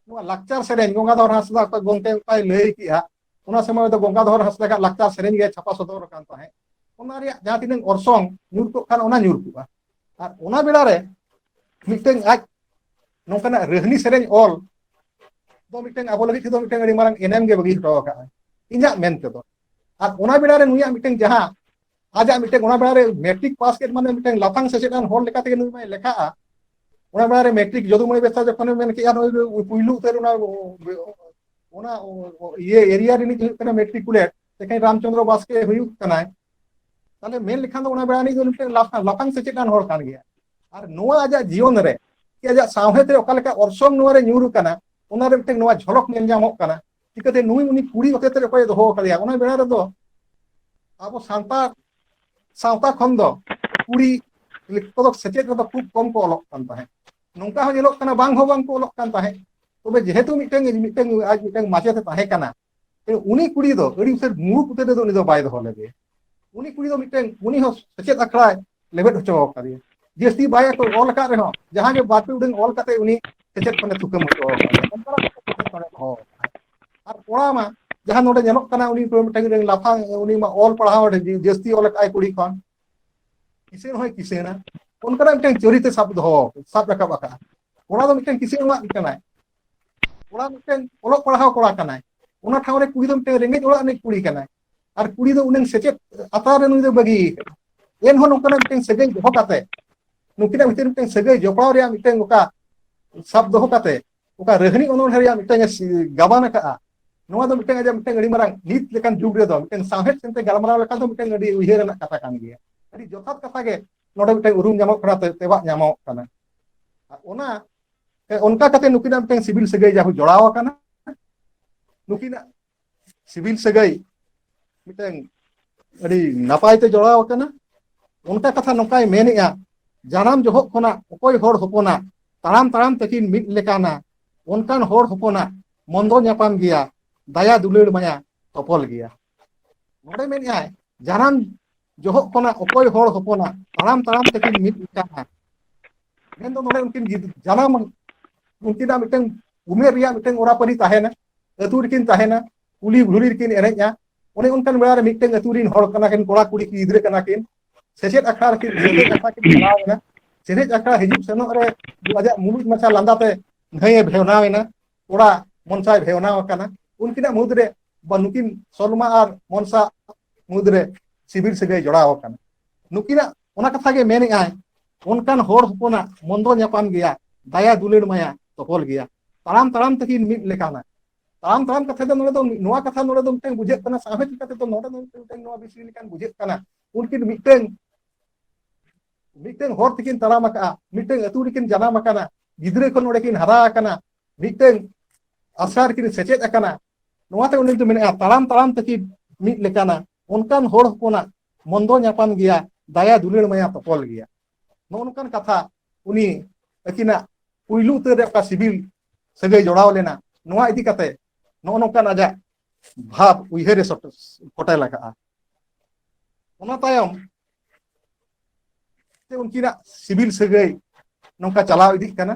ᱱᱚᱣᱟ ᱞᱟᱠᱪᱟᱨ ᱥᱮᱨᱮᱧ ᱜᱚᱝᱜᱟᱫᱷᱚᱨ ᱦᱟᱸᱥᱫᱟ ᱚᱠᱚᱭ ᱜᱚᱝᱠᱮ ᱚᱱᱠᱟᱭ ᱞᱟᱹᱭ ᱠᱮᱜᱼᱟ ᱚᱱᱟ ᱥᱚᱢᱚᱭ ᱫᱚ ᱜᱚᱝᱜᱟᱫᱷᱚᱨ ᱦᱟᱸᱥᱫᱟᱜ ᱞᱟᱠᱪᱟᱨ ᱥᱮᱨᱮᱧ ᱜᱮ ᱪᱷᱟᱯᱟ ᱥᱚᱫᱚᱨ ᱟᱠᱟᱱ ᱛᱟᱦᱮᱸᱫ ᱚᱱᱟ ᱨᱮᱭᱟᱜ ᱡᱟᱦᱟᱸ ᱛᱤᱱᱟᱹᱜ ᱚᱨᱥᱚᱝ ᱧᱩᱨ ᱠᱚᱜ ᱠᱟᱱ ᱚᱱᱟ ᱧᱩᱨ ᱠᱚᱜᱼᱟ ᱟᱨ ᱚᱱᱟ ᱵᱮᱲᱟ ᱨᱮ ᱢᱤᱫᱴᱟᱝ ᱟᱡ ᱱᱚᱝᱠᱟᱱᱟᱜ ᱨᱟᱹᱦᱱᱤ ᱥᱮᱨᱮᱧ ᱚᱞ ᱫᱚ ᱢᱤᱫᱴᱟᱝ ᱟᱵᱚ ᱞᱟᱹᱜᱤᱫ ᱛᱮᱫᱚ ᱢᱤᱫᱴᱟᱝ ᱟᱹᱰᱤ ᱢᱟᱨᱟᱝ ᱮᱱᱮᱢ ᱜᱮ ᱵᱟᱹᱜᱤ ᱦᱚᱴᱚ ᱟᱠᱟᱫᱼᱟ ᱤᱧᱟᱹᱜ ᱢᱮᱱ ᱛᱮᱫᱚ ᱟᱨ ᱚᱱᱟ ᱵᱮᱲᱟ ᱨᱮ ᱱᱩᱭᱟᱜ ᱢᱤᱫᱴᱟᱝ ᱡᱟᱦᱟᱸ ᱟᱡᱟᱜ ᱢᱤᱫᱴᱟᱝ ᱚᱱᱟ ᱵᱮᱲᱟ ᱨᱮ ᱢᱮᱴᱨᱤᱠ ᱯᱟᱥ ᱠᱮᱫ ᱢᱟᱱᱮ ᱢᱤᱫᱴᱟᱝ ᱞᱟᱯᱷᱟᱝ ᱥᱮᱪᱮᱫ ᱟᱱ ᱦᱚᱲ ᱞᱮᱠᱟ ᱛᱮᱜᱮ ᱱᱩᱭ ᱢᱟᱭ ᱞᱮᱠᱷᱟᱜᱼᱟ ᱚᱱᱟ ᱵᱮᱲᱟ ᱨᱮ ᱢᱮᱴᱨᱤᱠ ᱡᱚᱫᱩᱢᱚᱭ ᱵᱮᱥᱟ ᱡᱚᱠᱷᱚᱱᱮ ᱢᱮᱱ ᱠᱮᱜᱼᱟ ᱱᱩᱭ ᱯᱩᱭᱞᱩ ᱩᱛᱟᱹᱨ ᱚᱱᱟ ᱚᱱᱟ ᱤᱭᱟᱹ ᱮᱨᱤᱭᱟ ᱨᱤᱱᱤᱡ ᱦᱩᱭᱩᱜ ᱠᱟᱱᱟ ᱢᱮᱴᱨᱤᱠᱩᱞᱮᱴ ᱛᱮᱠᱷᱟᱱ ᱨᱟᱢᱪᱚᱱᱫᱨᱚ ᱵᱟᱥᱠᱮ ᱦᱩᱭᱩᱜ ᱠᱟᱱᱟᱭ ᱛᱟᱦᱞᱮ ᱢᱮᱱ ᱞᱮᱠᱷᱟᱱ ᱫᱚ ᱚᱱᱟ ᱵᱮᱲᱟ ᱱᱤᱡ ᱫᱚ ᱢᱤᱫᱴᱮᱱ ᱞᱟᱯᱷᱟᱝ ᱥᱮᱪᱮᱫᱟᱱ ᱦᱚᱲ ᱠᱟᱱ ᱜᱮᱭᱟ ᱟᱨ ᱱᱚᱣᱟ ᱟᱡᱟᱜ ᱡᱤᱭᱚᱱ ᱨᱮ ᱥᱮ ᱟᱡᱟᱜ ᱥᱟᱶᱦᱮᱫ ᱨᱮ ᱚᱠᱟ ᱞᱮᱠᱟ ᱚᱨᱥᱚᱝ ᱱᱚᱣᱟ ᱨᱮ ᱧᱩᱨ ᱟᱠᱟᱱᱟ ᱚᱱᱟ ᱨᱮ ᱢᱤᱫᱴᱮᱱ ᱱᱚᱣᱟ ᱡᱷᱚᱞᱚᱠ ᱧᱮᱞ ᱧᱟᱢᱚᱜ ᱠᱟᱱᱟ ᱪᱤᱠᱟᱹᱛᱮ ᱱᱩᱭ ᱩᱱᱤ ᱠᱩᱲᱤ ᱦᱚᱛᱮᱛ ᱨᱮ ᱚᱠᱚᱭ ᱫᱚᱦᱚ ᱟᱠᱟᱫᱮᱭᱟ ᱚᱱᱟ ᱵᱮᱲᱟ ᱨᱮᱫᱚ ᱟᱵᱚ ᱥᱟᱱᱛᱟᱲ ᱥᱟᱶᱛᱟ ᱠᱷᱚᱱ ᱫᱚ ᱠᱩᱲᱤ ᱠᱚᱫᱚ ᱥᱮᱪᱮᱫ ᱨᱮᱫᱚ ᱠᱷᱩᱵ ᱠᱚᱢ ᱠᱚ ᱚᱞᱚᱜ ᱠᱟᱱ ᱛᱟᱦᱮᱸᱫ ᱱᱚᱝᱠᱟ ᱦᱚᱸ ᱧᱮᱞᱚᱜ ᱠᱟᱱᱟ ᱵᱟᱝ ᱦᱚᱸ ᱵᱟᱝ ᱠᱚ ᱚᱞᱚᱜ ᱠᱟᱱ ᱛᱟᱦᱮᱸᱫ ᱛᱚᱵᱮ ᱡᱮᱦᱮᱛᱩ ᱢᱤᱫᱴᱟᱝ ᱢᱤᱫᱴᱟᱝ ᱟᱡ ᱢᱤᱫᱴᱟᱝ ᱢᱟᱪᱮᱛ ᱛᱟᱦᱮᱸ ᱠᱟᱱᱟ ᱩᱱᱤ ᱠᱩᱲᱤ ᱫᱚ ᱟᱹᱰᱤ ᱩᱛᱟᱹᱨ ᱢᱩᱨᱩᱠ ᱩᱛᱟᱹᱨ ᱫᱚ ᱩᱱᱤ ᱫᱚ ᱵᱟᱭ ᱫᱚᱦᱚ ᱞᱮᱫᱮᱭᱟ ᱩᱱᱤ ᱠᱩᱲᱤ ᱫᱚ ᱢᱤᱫᱴᱮᱱ ᱩᱱᱤ ᱦᱚᱸ ᱥᱮᱪᱮᱫ ᱟᱠᱷᱲᱟᱭ ᱞᱮᱵᱮᱫ ᱦᱚᱪᱚ ᱟᱠᱟᱫᱮᱭᱟ ᱡᱟᱹᱥᱛᱤ ᱵᱟᱭ ᱠᱚ ᱚᱞ ᱟᱠᱟᱫ ᱨᱮᱦᱚᱸ ᱡᱟᱦᱟᱸ ᱜᱮ ᱵᱟᱨᱯᱮ ᱩᱰᱟᱹᱝ ᱚᱞ ᱠᱟᱛᱮ ᱩᱱᱤ ᱥᱮᱪᱮᱫ ᱠᱷᱚᱱᱮ ᱛᱷᱩᱠᱟᱹᱢ ᱦᱚᱪᱚ ᱟᱠᱟᱫᱮᱭᱟ ᱚᱱᱠᱟᱱᱟᱜ ᱮᱴᱠᱮᱴᱚᱬᱮ ᱫᱚᱦᱚ ᱟᱠᱟᱫᱟᱭ ᱟᱨ ᱠᱚᱲᱟ ᱢᱟ ᱡᱟᱦᱟᱸ ᱱᱚᱰᱮ ᱧᱮᱞᱚᱜ ᱠᱟᱱᱟ ᱩᱱᱤ ᱢᱤᱫᱴᱟᱝ ᱞᱟᱯᱷᱟᱝ ᱩᱱᱤ ᱢᱟ ᱚᱞ ᱯᱟᱲᱦᱟᱣ ᱡᱟᱹᱥᱛᱤ ᱚᱞ ᱟᱠᱟᱫ ᱟᱭ ᱠᱩᱲᱤ ᱠᱷᱚᱱ ᱠᱤᱥᱟᱹᱬ ᱦᱚᱸᱭ ᱠᱤᱥᱟᱹᱬᱟ ᱚᱱᱠᱟᱱᱟᱜ ᱢᱤᱫᱴᱟᱝ ᱪᱚᱨᱤᱛᱮ ᱥᱟᱵ ᱫᱚᱦᱚ ᱥᱟᱵ ᱨᱟᱠᱟᱵ ᱟᱠᱟᱫᱼᱟ ᱠᱚᱲᱟ ᱫᱚ ᱢᱤᱫᱴᱟᱝ ᱠᱤᱥᱟᱹᱬᱟᱱ ᱠᱟᱱᱟᱭ ᱠᱚᱲᱟ ᱢᱤᱫᱴᱮᱱ ᱚᱞᱚᱜ ᱯᱟᱲᱦᱟᱣ ᱠᱚᱲᱟ ᱠᱟᱱᱟᱭ ᱚᱱᱟ ᱴᱷᱟᱶ ᱨᱮ ᱠᱩᱲᱤ ᱫᱚ ᱢᱤᱫᱴᱮᱱ ᱨᱮᱸᱜᱮᱡ ᱚᱲᱟᱜ ᱨᱤᱱᱤᱡ ᱠᱩᱲᱤ ᱠᱟᱱᱟᱭ ᱟᱨ ᱠᱩᱲᱤ ᱫᱚ ᱩᱱᱟᱹᱝ ᱥᱮᱪᱮᱫ ᱟᱛᱨᱟᱨ ᱨᱮ ᱱᱩᱭ ᱫᱚ ᱵᱟᱹᱜᱤ ᱟᱠᱟᱫᱟ ᱮᱱᱦᱚᱸ ᱱᱚᱝᱠᱟᱱᱟᱜ ᱢᱤᱫᱴᱮᱱ ᱥᱟᱹᱜᱟᱹᱭ ᱫᱚᱦᱚ ᱠᱟᱛᱮ ᱱᱩᱠᱤᱱᱟᱜ ᱵᱷᱤᱛᱤᱨ ᱢᱤᱫᱴᱮᱱ ᱥᱟᱹᱜᱟᱹᱭ ᱡᱚᱯᱲᱟᱣ ᱨᱮᱭᱟᱜ ᱢᱤᱫᱴᱮᱱ ᱚᱠᱟ ᱥᱟᱵ ᱫᱚᱦᱚ ᱠᱟᱛᱮ ᱚᱠᱟ ᱨᱟᱹᱦᱱᱤ ᱚᱱᱚᱬᱦᱮᱸ ᱨᱮᱭᱟᱜ ᱢᱤᱫᱴᱟᱝ ᱮ ᱜᱟᱵᱟᱱ ᱟᱠᱟᱫᱼᱟ ᱱᱚᱣᱟ ᱫᱚ ᱢᱤᱫᱴᱟᱝ ᱟᱡᱟᱜ ᱢᱤᱫᱴᱟᱝ ᱟᱹᱰᱤ ᱢᱟᱨᱟᱝ ᱱᱤᱛ ᱞᱮᱠᱟᱱ ᱡᱩᱜᱽ ᱨᱮᱫᱚ ᱢᱤᱫᱴᱟᱝ ᱥᱟᱶᱦᱮᱫ ᱥᱮᱱᱛᱮ ᱜᱟᱞᱢᱟᱨᱟᱣ ᱞᱮᱠᱷᱟᱱ ᱫᱚ ᱢᱤᱫᱴᱟᱝ ᱟᱹᱰᱤ ᱩᱭᱦᱟᱹᱨ ᱨᱮᱱᱟᱜ ᱠᱟᱛᱷᱟ ᱠᱟᱱ ᱜᱮᱭᱟ ᱟᱹᱰᱤ ᱡᱚᱛᱷᱟᱛ ᱠᱟᱛᱷᱟ ᱜᱮ ᱱᱚᱰᱮ ᱢᱤᱫᱴᱟᱝ ᱩᱨᱩᱢ ᱧᱟᱢᱚᱜ ᱠᱟᱱᱟ ᱛᱮᱵᱟᱜ ᱧᱟᱢᱚᱜ ᱠᱟᱱᱟ ᱚᱱᱟ ᱚᱱᱠᱟ ᱠᱟᱛᱮ ᱱᱩᱠᱤᱱᱟᱜ ᱢᱤᱫᱴᱟᱝ ᱥᱤᱵᱤᱞ ᱥᱟᱹᱜᱟᱹᱭ ᱡᱟᱦᱟᱸ ᱡᱚᱲᱟᱣ ᱟᱠᱟᱱᱟ ᱱᱩᱠᱤᱱᱟᱜ ᱥᱤᱵᱤᱞ ᱥᱟᱹᱜᱟᱹᱭ ᱢᱤᱫᱴᱟᱝ ᱟᱹᱰᱤ ᱱᱟᱯᱟᱭ ᱛᱮ ᱡᱚᱲᱟᱣ ᱟᱠᱟᱱᱟ ᱚᱱᱠᱟ ᱠᱟᱛᱷᱟ ᱱᱚᱝᱠᱟᱭ ᱢᱮᱱᱮᱜᱼᱟ ᱡᱟᱱᱟᱢ ᱡᱚᱦᱚᱜ ᱠᱷᱚᱱᱟᱜ ᱚᱠᱚᱭ ᱦᱚᱲ ᱦᱚᱯᱚᱱᱟᱜ ᱛᱟᱲᱟᱢ ᱛᱟᱲᱟᱢ ᱛᱟᱹᱠᱤᱱ ᱢᱤᱫ ᱞᱮᱠᱟᱱᱟ ᱚᱱᱠᱟᱱ ᱦᱚᱲ ᱦᱚᱯᱚᱱᱟᱜ ᱢᱚᱱᱫᱚ ᱧᱟᱯᱟᱢ ᱜᱮᱭᱟ ᱫᱟᱭᱟ ᱫᱩᱞᱟᱹᱲ ᱢᱟᱭᱟ ᱛᱚᱯᱚᱞ ᱜᱮᱭᱟ ᱱᱚᱰᱮ ᱢᱮᱱᱮᱜᱼᱟᱭ ᱡᱟᱱᱟᱢ ᱡᱚᱦᱚᱜ ᱠᱷᱚᱱᱟᱜ ᱚᱠᱚᱭ ᱦᱚᱲ ᱦᱚᱯᱚᱱᱟᱜ ᱛᱟᱲᱟᱢ ᱛᱟᱲᱟᱢ ᱛᱮᱠᱤᱱ ᱢᱤᱫ ᱠᱟᱱᱟ ᱢᱮᱱᱫᱚ ᱱᱚᱰᱮ ᱩᱱᱠᱤᱱ ᱡᱟᱱᱟᱢ ᱩᱱᱠᱤᱱᱟᱜ ᱢᱤᱫᱴᱟᱝ ᱩᱢᱮᱨ ᱨᱮᱭᱟᱜ ᱢᱤᱫᱴᱟᱝ ᱚᱨᱟ ᱯᱟᱹᱨᱤ ᱛᱟᱦᱮᱱᱟ ᱟᱹᱛᱩ ᱨᱮᱠᱤᱱ ᱛᱟᱦᱮᱱᱟ ᱠᱩᱞᱦᱤ ᱜᱷᱩᱲᱤ ᱨᱮᱠᱤᱱ ᱮᱱᱮᱡᱼᱟ ᱚᱱᱮ ᱚᱱᱠᱟᱱ ᱵᱮᱲᱟ ᱨᱮ ᱢᱤᱫᱴᱟᱝ ᱟᱹᱛᱩ ᱨᱤᱱ ᱦᱚᱲ ᱠᱟᱱᱟ ᱠᱤᱱ ᱠᱚᱲᱟ ᱠᱩᱲᱤ ᱜᱤᱫᱽᱨᱟᱹ ᱠᱟᱱᱟ ᱠᱤᱱ ᱥᱮᱪᱮᱫ ᱟᱠᱷᱲᱟ ᱨᱮᱠᱤᱱ ᱥᱮᱪᱮᱫ ᱟᱠᱷᱲᱟ ᱠᱤᱱ ᱪᱟᱞᱟᱣ ᱮᱱᱟ ᱥᱮᱪᱮᱫ ᱟᱠᱷᱲᱟ ᱦᱤᱡᱩᱜ ᱥᱮᱱᱚᱜ ᱨᱮ ᱟᱡᱟᱜ ᱢᱩᱞᱩᱡ ᱢᱟᱪᱷᱟ ᱞᱟᱸᱫᱟᱛᱮ ᱱᱟᱹᱭᱮ ᱵᱷᱮᱣᱱᱟᱣ ᱮᱱᱟ ᱠᱚᱲᱟ ᱢᱚᱱᱥᱟᱭ ᱵᱷᱮᱣᱱᱟᱣ ᱟᱠᱟᱱᱟ ᱩᱱᱠᱤᱱᱟᱜ ᱢᱩᱫᱽ ᱨᱮ ᱵᱟ ᱱᱩᱠᱤᱱ ᱥᱚᱞᱢᱟ ᱟᱨ ᱢᱚᱱᱥᱟ ᱢᱩᱫᱽ ᱨᱮ ᱥᱤᱵᱤᱞ ᱥᱟᱹᱜᱟᱹᱭ ᱡᱚᱲᱟᱣ ᱟᱠᱟᱱᱟ ᱱᱩᱠᱤᱱᱟᱜ ᱚᱱᱟ ᱠᱟᱛᱷᱟ ᱜᱮ ᱢᱮᱱᱮᱫ ᱟᱭ ᱚᱱᱠᱟᱱ ᱦᱚᱲ ᱦᱚᱯᱚᱱᱟᱜ ᱢᱚᱱᱫᱚ ᱧᱟᱯᱟᱢ ᱜᱮᱭᱟ ᱫᱟᱭᱟ ᱫᱩᱞᱟᱹᱲ ᱢᱟᱭᱟ ᱛᱚᱯᱚᱞ ᱜᱮᱭᱟ ᱛᱟᱲᱟᱢ ᱛᱟᱲᱟᱢ ᱛᱟᱹᱠᱤᱱ ᱢᱤᱫ ᱞᱮᱠᱟᱱᱟ ᱛᱟᱲᱟᱢ ᱛᱟᱲᱟᱢ ᱠᱟᱛᱷᱟ ᱫᱚ ᱱᱚᱰᱮ ᱫᱚ ᱱᱚᱣᱟ ᱠᱟᱛᱷᱟ ᱱᱚᱰᱮ ᱫᱚ ᱢᱤᱫᱴᱟᱝ ᱵᱩᱡᱷᱟᱹᱜ ᱠᱟᱱᱟ ᱥᱟᱶᱦᱮᱫ ᱞᱮᱠᱟᱛᱮ ᱫᱚ ᱱᱚᱰᱮ ᱫᱚ ᱢᱤᱫᱴᱟᱝ ᱱᱚᱣᱟ ᱵᱤᱥᱲᱤ ᱞᱮᱠᱟᱱ ᱵᱩᱡᱷᱟᱹᱜ ᱠᱟᱱᱟ ᱩᱱᱠᱤᱱ ᱢᱤᱫᱴᱟᱝ ᱢᱤᱫᱴᱟᱝ ᱦᱚᱨ ᱛᱮᱠᱤᱱ ᱛᱟᱲᱟᱢ ᱟᱠᱟᱜᱼᱟ ᱢᱤᱫᱴᱟᱝ ᱟᱹᱛᱩ ᱨᱮᱠᱤᱱ ᱡᱟᱱᱟᱢ ᱟᱠᱟᱱᱟ ᱜᱤᱫᱽᱨᱟᱹ ᱠᱷᱚᱱ ᱱᱚᱰᱮ ᱠᱤᱱ ᱦᱟᱨᱟ ᱟᱠᱟᱱᱟ ᱢᱤᱫᱴᱟᱝ ᱟᱥᱲᱟ ᱨᱮᱠᱤᱱ ᱥᱮᱪᱮᱫ ᱟᱠᱟᱱᱟ ᱱᱚᱣᱟᱛᱮ ᱩᱱᱤ ᱫᱚ ᱢᱮᱱᱮᱜᱼᱟ ᱛᱟᱲᱟᱢ ᱛᱟᱲᱟᱢ ᱛᱮᱠᱤᱱ ᱢᱤᱫ ᱞᱮᱠᱟᱱᱟ ᱚᱱᱠᱟᱱ ᱦᱚᱲ ᱦᱚᱯᱚᱱᱟᱜ ᱢᱚᱱᱫᱚ ᱧᱟᱯᱟᱢ ᱜᱮᱭᱟ ᱫᱟᱭᱟ ᱫᱩᱞᱟᱹᱲ ᱢᱟᱭᱟ ᱛᱚᱯᱚᱞ ᱜᱮᱭᱟ ᱱᱚᱜᱼᱚ ᱱᱚᱝᱠᱟᱱ ᱠᱟᱛᱷᱟ ᱩᱱᱤ ᱟᱹᱠᱤᱱᱟᱜ ᱯᱩᱭᱞᱩ ᱩᱛᱟᱹᱨ ᱨᱮ ᱚᱠᱟ ᱥᱤᱵᱤᱞ ᱥᱟᱹᱜᱟᱹᱭ ᱡᱚᱲᱟᱣ ᱞᱮᱱᱟ ᱱᱚᱣᱟ ᱤᱫᱤ ᱠᱟᱛᱮ ᱱᱚᱜᱼᱚ ᱱᱚᱝᱠᱟᱱ ᱟᱡᱟᱜ ᱵᱷᱟᱵᱽ ᱩᱭᱦᱟᱹᱨᱮ ᱯᱷᱚᱴᱮᱞ ᱟᱠᱟᱜᱼᱟ ᱚᱱᱟ ᱛᱟᱭᱚᱢ ᱩᱱᱠᱤᱱᱟᱜ ᱥᱤᱵᱤᱞ ᱥᱟᱹᱜᱟᱹᱭ ᱱᱚᱝᱠᱟ ᱪᱟᱞᱟᱣ ᱤᱫᱤᱜ ᱠᱟᱱᱟ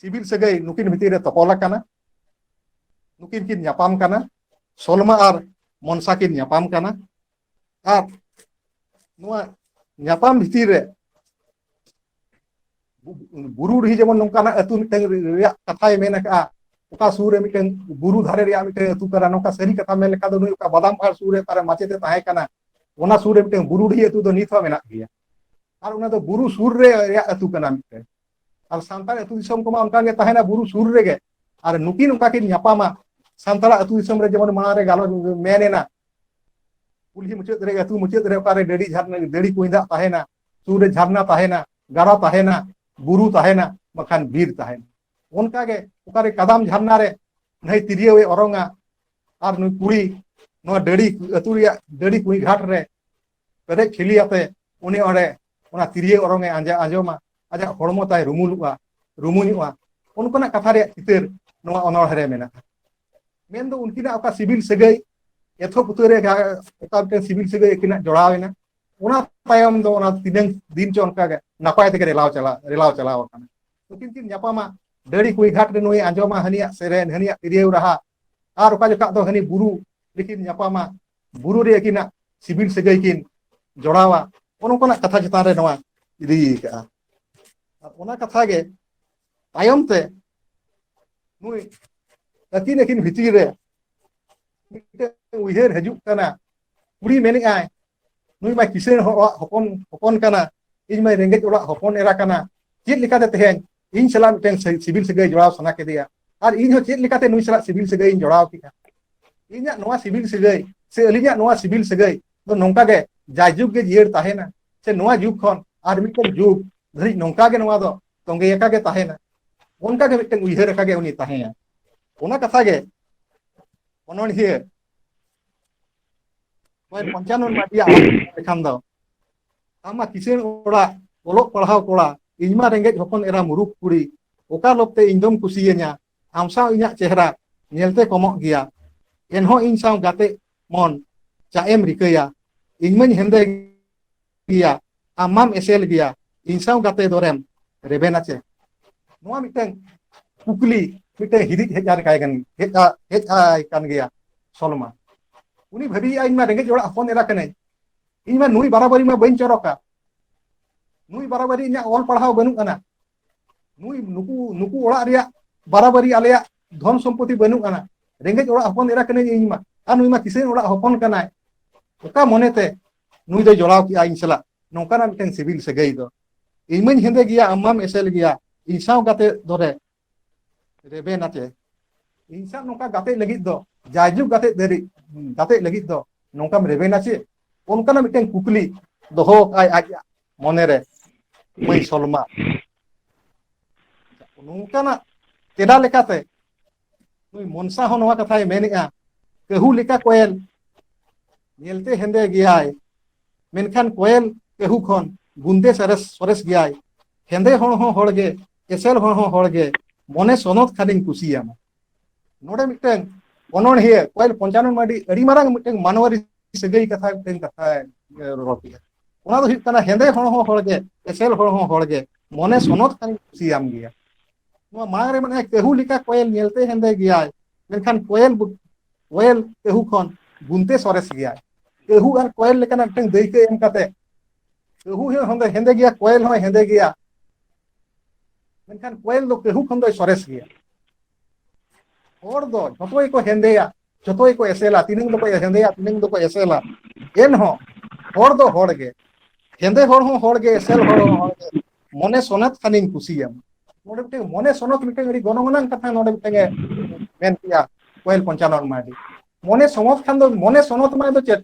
ᱥᱤᱵᱤᱞ ᱥᱟᱹᱜᱟᱹᱭ ᱱᱩᱠᱤᱱ ᱵᱷᱤᱛᱤᱨ ᱨᱮ ᱛᱚᱯᱚᱞ ᱟᱠᱟᱱᱟ ᱱᱩᱠᱤᱱ ᱠᱤᱱ ᱧᱟᱯᱟᱢ ᱠᱟᱱᱟ ᱥᱚᱞᱢᱟ ᱟᱨ ᱢᱚᱱᱥᱟ ᱠᱤᱱ ᱧᱟᱯᱟᱢ ᱠᱟᱱᱟ ᱟᱨ ᱱᱚᱣᱟ ᱧᱟᱯᱟᱢ ᱵᱷᱤᱛᱤᱨ ᱨᱮ ᱵᱩᱨᱩ ᱰᱤᱦᱤ ᱡᱮᱢᱚᱱ ᱱᱚᱝᱠᱟᱱᱟᱜ ᱟᱹᱛᱩ ᱢᱤᱫᱴᱟᱝ ᱨᱮᱭᱟᱜ ᱠᱟᱛᱷᱟᱭ ᱢᱮᱱ ᱟᱠᱟᱜᱼᱟ ᱚᱠᱟ ᱥᱩᱨ ᱨᱮ ᱢᱤᱫᱴᱟᱝ ᱵᱩᱨᱩ ᱫᱷᱟᱨᱮ ᱨᱮᱭᱟᱜ ᱢᱤᱫᱴᱟᱝ ᱟᱹᱛᱩ ᱠᱟᱱᱟ ᱱᱚᱝᱠᱟ ᱥᱟᱹᱨᱤ ᱠᱟᱛᱷᱟ ᱢᱮᱱ ᱞᱮᱠᱷᱟᱱ ᱫᱚ ᱱᱩᱭ ᱚᱠᱟ ᱵᱟᱫᱟᱢ ᱯᱟᱦᱟᱲ ᱥᱩᱨ ᱨᱮ ᱚᱠᱟᱨᱮ ᱢᱟᱪᱮᱛᱮ ᱛᱟᱦᱮᱸ ᱠᱟᱱᱟ ᱚᱱᱟ ᱥᱩᱨ ᱨᱮ ᱢᱤᱫᱴᱟᱝ ᱵᱩᱨᱩ ᱰᱤᱦᱤ ᱟᱹᱛᱩ ᱫᱚ ᱱᱤᱛ ᱦᱚᱸ ᱢᱮᱱᱟᱜ ᱜᱮᱭᱟ ᱟᱨ ᱚᱱᱟ ᱫᱚ ᱵᱩᱨᱩ ᱥᱩᱨ ᱨᱮ ᱨᱮᱭᱟᱜ ᱟᱹᱛᱩ ᱠᱟᱱᱟ ᱢᱤᱫᱴᱟᱝ ᱟᱨ ᱥᱟᱱᱛᱟᱲ ᱟᱹᱛᱩ ᱫᱤᱥᱚᱢ ᱠᱚᱢᱟ ᱚᱱᱠᱟ ᱜᱮ ᱛᱟᱦᱮᱱᱟ ᱵᱩᱨᱩ ᱥᱩᱨ ᱨᱮᱜᱮ ᱟᱨ ᱱᱩᱠᱤᱱ ᱚᱱᱠᱟ ᱠᱤᱱ ᱧᱟᱯᱟᱢᱟ ᱥᱟᱱᱛᱟᱲ ᱟᱹᱛᱩ ᱫᱤᱥᱚᱢ ᱨᱮ ᱡᱮᱢᱚᱱ ᱢᱟᱲᱟᱝ ᱨᱮ ᱜᱟᱞᱚᱪ ᱢᱮᱱ ᱮᱱᱟ ᱠᱩᱞᱦᱤ ᱢᱩᱪᱟᱹᱫ ᱨᱮ ᱟᱹᱛᱩ ᱢᱩᱪᱟᱹᱫ ᱨᱮ ᱚᱠᱟᱨᱮ ᱰᱟᱹᱰᱤ ᱡᱷᱟᱨᱱᱟ ᱰᱟᱹᱰᱤ ᱠᱩᱧ ᱫᱟᱜ ᱛᱟᱦᱮᱱᱟ ᱥᱩᱨ ᱨᱮ ᱡᱷᱟᱨᱱᱟ ᱛᱟᱦᱮᱱᱟ ᱜᱟᱰᱟ ᱛᱟᱦᱮᱱᱟ ᱵᱩᱨᱩ ᱛᱟᱦᱮᱱᱟ ᱵᱟᱠᱷᱟᱱ ᱵᱤᱨ ᱛᱟᱦᱮᱱᱟ ᱚᱱᱠᱟ ᱜᱮ ᱚᱠᱟᱨᱮ ᱠᱟᱫᱟᱢ ᱡᱷᱟᱨᱱᱟ ᱨᱮ ᱱᱟᱹᱭ ᱛᱤᱨᱭᱟᱹᱣ ᱮ ᱚᱨᱚᱝᱟ ᱟᱨ ᱱᱩᱭ ᱠᱩᱲᱤ ᱱᱚᱣᱟ ᱰᱟᱹᱲᱤ ᱟᱹᱛᱩ ᱨᱮᱭᱟᱜ ᱰᱟᱹᱲᱤ ᱠᱩᱸᱭ ᱜᱷᱟᱴ ᱨᱮ ᱯᱮᱨᱮᱡ ᱠᱷᱤᱞᱤ ᱟᱛᱮ ᱩᱱᱤ ᱚᱸᱰᱮ ᱚᱱᱟ ᱛᱤᱨᱭᱟᱹ ᱚᱨᱚᱝ ᱮ ᱟᱸᱡᱟ ᱟᱸᱡᱚᱢᱟ ᱟᱡᱟᱜ ᱦᱚᱲᱢᱚ ᱛᱟᱭ ᱨᱩᱢᱩᱞᱚᱜᱼᱟ ᱨᱩᱢᱩᱧᱚᱜᱼᱟ ᱚᱱᱠᱟᱱᱟᱜ ᱠᱟᱛᱷᱟ ᱨᱮᱭᱟᱜ ᱪᱤᱛᱟᱹᱨ ᱱᱚᱣᱟ ᱚᱱᱚᱬᱦᱮ ᱨᱮ ᱢᱮᱱᱟᱜᱼᱟ ᱢᱮᱱ ᱫᱚ ᱩᱱᱠᱤᱱᱟᱜ ᱚᱠᱟ ᱥᱤᱵᱤᱞ ᱥᱟᱹᱜᱟᱹᱭ ᱮᱛᱚᱦᱚᱵ ᱩᱛᱟᱹᱨ ᱨᱮ ᱚᱠᱟ ᱢᱤᱫᱴᱮᱱ ᱥᱤᱵᱤᱞ ᱥᱟᱹᱜᱟᱹᱭ ᱟᱹᱠᱤᱱᱟᱜ ᱡᱚᱲᱟᱣ ᱮᱱᱟ ᱚᱱᱟ ᱛᱟᱭᱚᱢ ᱫᱚ ᱚᱱᱟ ᱛᱤᱱᱟᱹᱝ ᱫᱤᱱ ᱪᱚ ᱚᱱᱠᱟ ᱜᱮ ᱱᱟᱯᱟᱭ ᱛᱮᱜᱮ ᱨᱮᱞᱟᱣ ᱪᱟᱞᱟᱣ ᱨᱮᱞᱟᱣ ᱪᱟᱞᱟᱣ ᱟᱠᱟᱱᱟ ᱱᱩᱠᱤᱱ ᱠᱤᱱ ᱧᱟᱯᱟᱢᱟ ᱰᱟᱹᱲᱤ ᱠᱩᱲᱤ ᱜᱷᱟᱴ ᱨᱮ ᱱᱩᱭ ᱟᱸᱡᱚᱢᱟ ᱦᱟᱹᱱᱤᱭᱟᱜ ᱥᱮᱨᱮᱧ ᱦᱟᱹᱱᱤᱭᱟᱜ ᱛᱤᱨᱭᱟᱹᱣ ᱨᱟᱦᱟ ᱟᱨ ᱚᱠᱟ ᱡᱚᱠᱷᱟᱜ ᱫᱚ ᱦᱟᱹᱱᱤ ᱵᱩᱨᱩ ᱨᱮᱠᱤᱱ ᱧᱟᱯᱟᱢᱟ ᱵᱩᱨᱩ ᱨᱮ ᱟᱹᱠᱤᱱᱟᱜ ᱥᱤᱵᱤᱞ ᱥᱟᱹᱜᱟᱹᱭ ᱠᱤᱱ ᱡᱚᱲᱟᱣᱟ ᱚᱱᱠᱟᱱᱟᱜ ᱠᱟᱛᱷᱟ ᱪᱮᱛᱟᱱ ᱨᱮ ᱱᱚᱣᱟ ᱤᱫᱤ ᱟᱠᱟᱜᱼᱟ ᱟᱨ ᱚᱱᱟ ᱠᱟᱛᱷᱟ ᱜᱮ ᱛᱟᱭᱚᱢ ᱛᱮ ᱱᱩᱭ ᱟᱹᱠᱤᱱ ᱟᱹᱠᱤᱱ ᱵᱷᱤᱛᱤᱨ ᱨᱮ ᱢᱤᱫᱴᱮᱱ ᱩᱭᱦᱟᱹᱨ ᱦᱤᱡᱩᱜ ᱠᱟᱱᱟ ᱠᱩᱲᱤ ᱢᱮᱱᱮᱫᱼᱟᱭ ᱱᱩᱭ ᱢᱟ ᱠᱤᱥᱟᱹᱬ ᱚᱲᱟᱜ ᱦᱚᱯᱚᱱ ᱦᱚᱯᱚᱱ ᱠᱟᱱᱟ ᱤᱧ ᱢᱟ ᱨᱮᱸᱜᱮᱡ ᱚᱲᱟᱜ ᱦᱚᱯᱚᱱ ᱮᱨᱟ ᱠᱟᱱᱟ ᱪᱮᱫ ᱞᱮᱠᱟᱛᱮ ᱛᱮᱦᱮᱧ ᱤᱧ ᱥᱟᱞᱟᱜ ᱢᱤᱫᱴᱮᱱ ᱥᱤᱵᱤᱞ ᱥᱟᱹᱜᱟᱹᱭ ᱡᱚᱲᱟᱣ ᱥᱟᱱᱟ ᱠᱮᱫᱮᱭᱟ ᱟᱨ ᱤᱧ ᱦᱚᱸ ᱪᱮᱫ ᱞᱮᱠᱟᱛᱮ ᱱᱩᱭ ᱥᱟᱞᱟᱜ ᱥᱤᱵᱤᱞ ᱥᱟᱹᱜᱟᱹᱭ ᱤᱧ ᱡᱚᱲᱟᱣ ᱠᱮᱫᱼᱟ ᱤᱧᱟᱹᱜ ᱱᱚᱣᱟ ᱥᱤᱵᱤᱞ ᱥᱟᱹᱜᱟᱹᱭ ᱥᱮ ᱟᱹᱞᱤᱧᱟᱜ ᱱᱚᱣᱟ ᱥᱤᱵᱤᱞ ᱥᱟᱹᱜᱟᱹᱭ ᱫᱚ ᱱᱚᱝᱠᱟ ᱜᱮ ᱡᱟᱭᱡᱩᱜᱽ ᱜᱮ ᱡᱤᱭᱟᱹᱲ ᱛᱟᱦᱮᱱᱟ ᱥᱮ ᱱᱚᱣᱟ ᱡᱩᱜᱽ ᱠᱷᱚᱱ ᱟᱨ ᱢᱤᱫᱴᱮᱱ ᱡᱩᱜᱽ ᱫᱷᱟᱹᱨᱤᱡ ᱱᱚᱝᱠᱟ ᱜᱮ ᱱᱚᱣᱟ ᱫᱚ ᱛᱚᱸᱜᱮ ᱟᱠᱟ ᱜᱮ ᱛᱟᱦᱮᱱᱟ ᱚᱱᱠᱟ ᱜᱮ ᱢᱤᱫᱴᱟᱝ ᱩᱭᱦᱟᱹᱨ ᱟᱠᱟ ᱜᱮ ᱩᱱᱤ ᱛᱟᱦᱮᱸᱭᱟ ᱚᱱᱟ ᱠᱟᱛᱷᱟ ᱜᱮ ᱚᱱᱚᱬᱦᱤᱭᱟᱹ ᱱᱚᱜᱼᱚᱭ ᱯᱚᱧᱪᱟᱱᱚᱱ ᱢᱟᱹᱡᱷᱤᱭᱟᱜ ᱞᱮᱠᱷᱟᱱ ᱫᱚ ᱟᱢ ᱢᱟ ᱠᱤᱥᱟᱹᱬ ᱚᱲᱟᱜ ᱚᱞᱚᱜ ᱯᱟᱲᱦᱟᱣ ᱠᱚᱲᱟ ᱤᱧ ᱢᱟ ᱨᱮᱸᱜᱮᱡ ᱦᱚᱯᱚᱱ ᱮᱨᱟ ᱢᱩᱨᱩᱠ ᱠᱩᱲᱤ ᱚᱠᱟ ᱞᱚᱵᱽᱛᱮ ᱤᱧ ᱫᱚᱢ ᱠᱩᱥᱤᱭᱟᱹᱧᱟ ᱟᱢ ᱥᱟᱶ ᱤᱧᱟᱹᱜ ᱪᱮᱦᱨᱟ ᱧᱮᱞᱛᱮ ᱠᱚᱢᱚᱜ ᱜᱮᱭᱟ ᱮᱱᱦᱚᱸ ᱤᱧ ᱥᱟᱶ ᱜᱟᱛᱮ ᱢᱚᱱ ᱪᱟᱜ ᱮᱢ ᱨᱤᱠᱟᱹᱭᱟ ᱤᱧ ᱢᱟᱹᱧ ᱦᱮᱸᱫᱮ ᱜᱮᱭᱟ ᱟᱢ ᱢᱟᱢ ᱮᱥᱮᱞ ᱜᱮᱭᱟ ᱤᱧ ᱥᱟᱶ ᱜᱟᱛᱮ ᱫᱚᱨᱮᱢ ᱨᱮᱵᱮᱱᱟ ᱪᱮ ᱱᱚᱣᱟ ᱢᱤᱫᱴᱟᱝ ᱠᱩᱠᱞᱤ ᱢᱤᱫᱴᱟᱝ ᱦᱤᱫᱤᱡ ᱦᱮᱡ ᱟᱨ ᱠᱟᱭ ᱠᱟᱱ ᱦᱮᱡ ᱦᱮᱡ ᱟᱭ ᱠᱟᱱ ᱜᱮᱭᱟ ᱥᱚᱞᱢᱟ ᱩᱱᱤ ᱵᱷᱟᱹᱵᱤᱭᱮᱜᱼᱟ ᱤᱧ ᱢᱟ ᱨᱮᱸᱜᱮᱡ ᱚᱲᱟᱜ ᱦᱚᱯᱚᱱ ᱮᱨᱟ ᱠᱟᱹᱱᱟᱹᱧ ᱤᱧ ᱢᱟ ᱱᱩᱭ ᱵᱟᱨᱟᱵᱟᱹᱨᱤ ᱢᱟ ᱵᱟᱹᱧ ᱪᱚᱨᱚᱠᱟ ᱱᱩᱭ ᱵᱟᱨᱟᱵᱟᱹᱨᱤ ᱤᱧᱟᱹᱜ ᱚᱞ ᱯᱟᱲᱦᱟᱣ ᱵᱟᱹᱱᱩᱜ ᱟᱱᱟ ᱱᱩᱭ ᱱᱩᱠᱩ ᱱᱩᱠᱩ ᱚᱲᱟᱜ ᱨᱮᱭᱟᱜ ᱵᱟᱨᱟᱵᱟᱨᱤ ᱟᱞᱮᱭᱟᱜ ᱫᱷᱚᱱ ᱥᱚᱢᱯᱚᱛᱤ ᱵᱟᱹᱱᱩᱜ ᱟᱱᱟ ᱨᱮᱸᱜᱮᱡ ᱚᱲᱟᱜ ᱦᱚᱯᱚᱱ ᱮᱨᱟ ᱠᱟᱹᱱᱟᱹᱧ ᱤᱧ ᱢᱟ ᱟᱨ ᱱᱩᱭ ᱢᱟ ᱠᱤᱥᱟᱹᱬ ᱚᱲᱟᱜ ᱦᱚᱯᱚᱱ ᱠᱟᱱᱟᱭ ᱚᱠᱟ ᱢᱚᱱᱮᱛᱮ ᱱᱩᱭ ᱫᱚᱭ ᱡᱚᱲᱟᱣ ᱠᱮᱜᱼᱟ ᱤᱧ ᱥᱟᱞᱟᱜ ᱱᱚᱝᱠᱟᱱᱟᱜ ᱢᱤᱫᱴᱟᱝ ᱥᱤᱵᱤᱞ ᱥᱟᱹᱜᱟᱹᱭ ᱫᱚ ᱤᱧ ᱢᱟᱹᱧ ᱦᱮᱸᱫᱮ ᱜᱮᱭᱟ ᱟᱢ ᱢᱟᱢ ᱮᱥᱮᱞ ᱜᱮᱭᱟ ᱤᱧ ᱥᱟᱶ ᱜᱟᱛᱮ ᱫᱚᱨᱮ ᱨᱮᱵᱮᱱ ᱟᱛᱮ ᱤᱧ ᱥᱟᱶ ᱱᱚᱝᱠᱟ ᱜᱟᱛᱮ ᱞᱟᱹᱜᱤᱫ ᱫᱚ ᱡᱟᱭᱡᱩᱜᱽ ᱜᱟᱛᱮ ᱫᱟᱹᱨᱤ ᱜᱟᱛᱮ ᱞᱟᱹᱜᱤᱫ ᱫᱚ ᱱᱚᱝᱠᱟᱢ ᱨᱮᱵᱮᱱᱟ ᱪᱮ ᱚᱱᱠᱟᱱᱟᱜ ᱢᱤᱫᱴᱟᱝ ᱠᱩᱠᱞᱤ ᱫᱚᱦᱚ ᱟᱭ ᱟᱡ ᱢᱚᱱᱮ ᱨᱮ ᱢᱟᱹᱭ ᱥᱚᱞᱢᱟ ᱱᱚᱝᱠᱟᱱᱟᱜ ᱛᱮᱞᱟ ᱞᱮᱠᱟᱛᱮ ᱱᱩᱭ ᱢᱚᱱᱥᱟ ᱦᱚᱸ ᱱᱚᱣᱟ ᱠᱟᱛᱷᱟᱭ ᱢᱮᱱᱮᱜᱼᱟ ᱠᱟᱹᱦᱩ ᱞᱮᱠᱟ ᱠᱚᱭᱮᱞ ᱧᱮᱞᱛᱮ ᱦᱮᱸᱫᱮ ᱜᱮᱭᱟᱭ ᱢᱮᱱᱠᱷᱟᱱ ᱠᱚᱭᱮᱞ ᱠᱟᱹᱦᱩ ᱠᱷᱚᱱ ᱵᱩᱱᱫᱮ ᱥᱚᱨᱮᱥ ᱥᱚᱨᱮᱥ ᱜᱮᱭᱟᱭ ᱦᱮᱸᱫᱮ ᱦᱚᱲ ᱦᱚᱸ ᱦᱚᱲᱜᱮ ᱮᱥᱮᱞ ᱦᱚᱲ ᱦᱚᱸ ᱦᱚᱲᱜᱮ ᱢᱚᱱᱮ ᱥᱚᱱᱚᱛ ᱠᱷᱟᱱᱤᱧ ᱠᱩᱥᱤᱭᱟᱢᱟ ᱱᱚᱰᱮ ᱢᱤᱫᱴᱮᱱ ᱚᱱᱚᱬᱦᱤᱭᱟᱹ ᱠᱚᱭᱮᱞ ᱯᱚᱧᱪᱟᱱᱚᱱ ᱢᱟᱹᱰᱤ ᱟᱹᱰᱤ ᱢᱟᱨᱟᱝ ᱢᱤᱫᱴᱮᱱ ᱢᱟᱱᱣᱟᱨᱤ ᱥᱟᱹᱜᱟᱹᱭ ᱠᱟᱛᱷᱟ ᱢᱤᱫᱴᱮᱱ ᱠᱟᱛᱷᱟᱭ ᱨᱚᱲ ᱠᱮᱫᱟ ᱚᱱᱟ ᱫᱚ ᱦᱩᱭᱩᱜ ᱠᱟᱱᱟ ᱦᱮᱸᱫᱮ ᱦᱚᱲ ᱦᱚᱸ ᱦᱚᱲ ᱜᱮ ᱮᱥᱮᱞ ᱦᱚᱲ ᱦᱚᱸ ᱦᱚᱲ ᱜᱮ ᱢᱚᱱᱮ ᱥᱚᱱᱚᱛ ᱠᱷᱟᱱ ᱠᱩᱥᱤᱭᱟᱢ ᱜᱮᱭᱟ ᱱᱚᱣᱟ ᱢᱟᱲᱟᱝ ᱨᱮ ᱢᱟᱱᱮ ᱠᱟᱹᱦᱩ ᱞᱮᱠᱟ ᱠᱚᱭᱮᱞ ᱧᱮᱞᱛᱮ ᱦᱮᱸᱫᱮ ᱜᱮᱭᱟᱭ ᱢᱮᱱᱠᱷᱟᱱ ᱠᱚᱭᱮᱞ ᱠᱚᱭᱮᱞ ᱠᱟᱹᱦᱩ ᱠᱷᱚᱱ ᱵᱩᱱᱛᱮ ᱥᱚᱨᱮᱥ ᱜᱮᱭᱟᱭ ᱠᱟᱹᱦᱩ ᱟᱨ ᱠᱚᱭᱮᱞ ᱞᱮᱠᱟᱱᱟᱜ ᱢᱤᱫᱴᱟᱝ ᱫᱟᱹᱭᱠᱟᱹ ᱮᱢ ᱠᱟᱛᱮ ᱠᱟᱹᱦᱩ ᱦᱚᱸ ᱦᱮᱸᱫᱮ ᱜᱮᱭᱟ ᱠᱚᱭᱮᱞ ᱦᱚᱸᱭ ᱦᱮᱸᱫᱮ ᱜᱮᱭᱟ ᱢᱮᱱᱠᱷᱟᱱ ᱠᱚᱭᱮᱞ ᱫᱚ ᱠᱟᱹᱦᱩ ᱠᱷᱚᱱ ᱫᱚᱭ ᱥᱚᱨᱮᱥ ᱜᱮᱭᱟ ᱦᱚᱲ ᱫᱚ ᱡᱷᱚᱛᱚ ᱜᱮᱠᱚ ᱦᱮᱸᱫᱮᱭᱟ ᱡᱷᱚᱛᱚ ᱜᱮᱠᱚ ᱮᱥᱮᱞᱟ ᱛᱤᱱᱟᱹᱝ ᱫᱚᱠᱚ ᱦᱮᱸᱫᱮᱭᱟ ᱛᱤᱱᱟᱹᱝ ᱫᱚᱠᱚ ᱮᱥᱮᱞᱟ ᱮᱱᱦᱚᱸ ᱦᱚᱲ ᱫᱚ ᱦᱚᱲ ᱜᱮ ᱦᱮᱸᱫᱮ ᱦᱚᱲ ᱦᱚᱸ ᱦᱚᱲ ᱜᱮ ᱮᱥᱮᱞ ᱦᱚᱲ ᱦᱚᱸ ᱦᱚᱲ ᱜᱮ ᱢᱚᱱᱮ ᱥᱚᱱᱟᱛ ᱠᱷᱟᱱᱤᱧ ᱠᱩᱥᱤᱭᱟᱢ ᱱᱚᱰᱮ ᱢᱤᱫᱴᱟᱝ ᱢᱚᱱᱮ ᱥᱚᱱᱚᱛ ᱢᱤᱫᱴᱟᱝ ᱟᱹᱰᱤ ᱜᱚᱱᱚᱝ ᱟᱱᱟᱝ ᱠᱟᱛᱷᱟ ᱱᱚᱰᱮ ᱢᱤᱫᱴᱟᱝ ᱮ ᱢᱮᱱ ᱠᱮᱜᱼᱟ ᱠᱚᱭᱮᱞ ᱯᱚᱧᱪᱟᱱᱚᱱ ᱢᱟᱨᱰᱤ ᱢᱚᱱᱮ ᱥᱚᱱᱚᱛ ᱠᱷᱟᱱ ᱫᱚ ᱢᱚᱱᱮ ᱥᱚᱱᱚᱛ ᱢᱟᱱᱮ ᱫᱚ ᱪᱮᱫ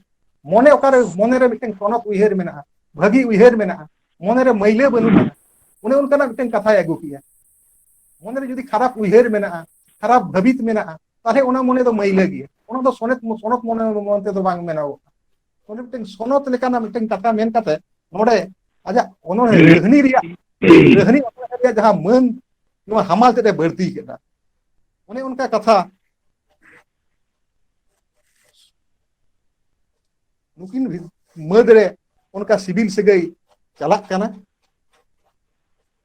ᱢᱚᱱᱮ ᱚᱠᱟᱨᱮ ᱢᱚᱱᱮᱨᱮ ᱢᱤᱫᱴᱟᱝ ᱥᱚᱱᱚᱛ ᱩᱭᱦᱟᱹᱨ ᱢᱮᱱᱟᱜᱼᱟ ᱵᱷᱟᱹᱜᱤ ᱩᱭᱦᱟᱹᱨ ᱢᱮᱱᱟᱜᱼᱟ ᱢᱚᱱᱮᱨᱮ ᱢᱟᱹᱭᱞᱟᱹ ᱵᱟᱹᱱᱩᱜ ᱟᱱᱟ ᱚᱱᱮ ᱚᱱᱠᱟᱱᱟᱜ ᱢᱤᱫᱴᱟᱝ ᱠᱟᱛᱷᱟᱭ ᱟᱹᱜᱩ ᱠᱮᱜᱼᱟ ᱢᱚᱱᱮᱨᱮ ᱡᱩᱫᱤ ᱠᱷᱟᱨᱟᱯ ᱩᱭᱦᱟᱹᱨ ᱢᱮᱱᱟᱜᱼᱟ ᱠᱷᱟᱨᱟᱯ ᱵᱷᱟᱹᱵᱤᱛ ᱢᱮᱱᱟᱜᱼᱟ ᱛᱟᱦᱚᱞᱮ ᱚᱱᱟ ᱢᱚᱱᱮ ᱫᱚ ᱢᱟᱹᱭᱞᱟᱹ ᱜᱮᱭᱟ ᱚᱱᱟ ᱫᱚ ᱥᱚᱱᱚᱛ ᱥᱚᱱᱚᱛ ᱢᱚᱱᱮ ᱢᱚᱱ ᱛᱮᱫᱚ ᱵᱟᱝ ᱢᱮᱱᱚᱜᱚᱜᱼᱟ ᱚᱸᱰᱮ ᱢᱤᱫᱴᱮᱱ ᱥᱚᱱᱚᱛ ᱞᱮᱠᱟᱱᱟᱜ ᱢᱤᱫᱴᱮᱱ ᱠᱟᱛᱷᱟ ᱢᱮᱱ ᱠᱟᱛᱮ ᱱᱚᱰᱮ ᱟᱡᱟᱜ ᱚᱱᱚᱬᱦᱮ ᱠᱟᱹᱦᱱᱤ ᱨᱮᱭᱟᱜ ᱠᱟᱹᱦᱱᱤ ᱚᱱᱚᱬᱦᱮ ᱨᱮᱭᱟᱜ ᱡᱟᱦᱟᱸ ᱢᱟᱹᱱ ᱱᱚᱣᱟ ᱦᱟᱢᱟᱞ ᱛᱮᱫ ᱮ ᱵᱟᱹᱲᱛᱤ ᱠᱮᱫᱟ ᱚᱱᱮ ᱚᱱᱠᱟ ᱠᱟᱛᱷᱟ ᱱᱩᱠᱤᱱ ᱢᱟᱹᱫᱽ ᱨᱮ ᱚᱱᱠᱟ ᱥᱤᱵᱤᱞ ᱥᱟᱹᱜᱟᱹᱭ ᱪᱟᱞᱟᱜ ᱠᱟᱱᱟ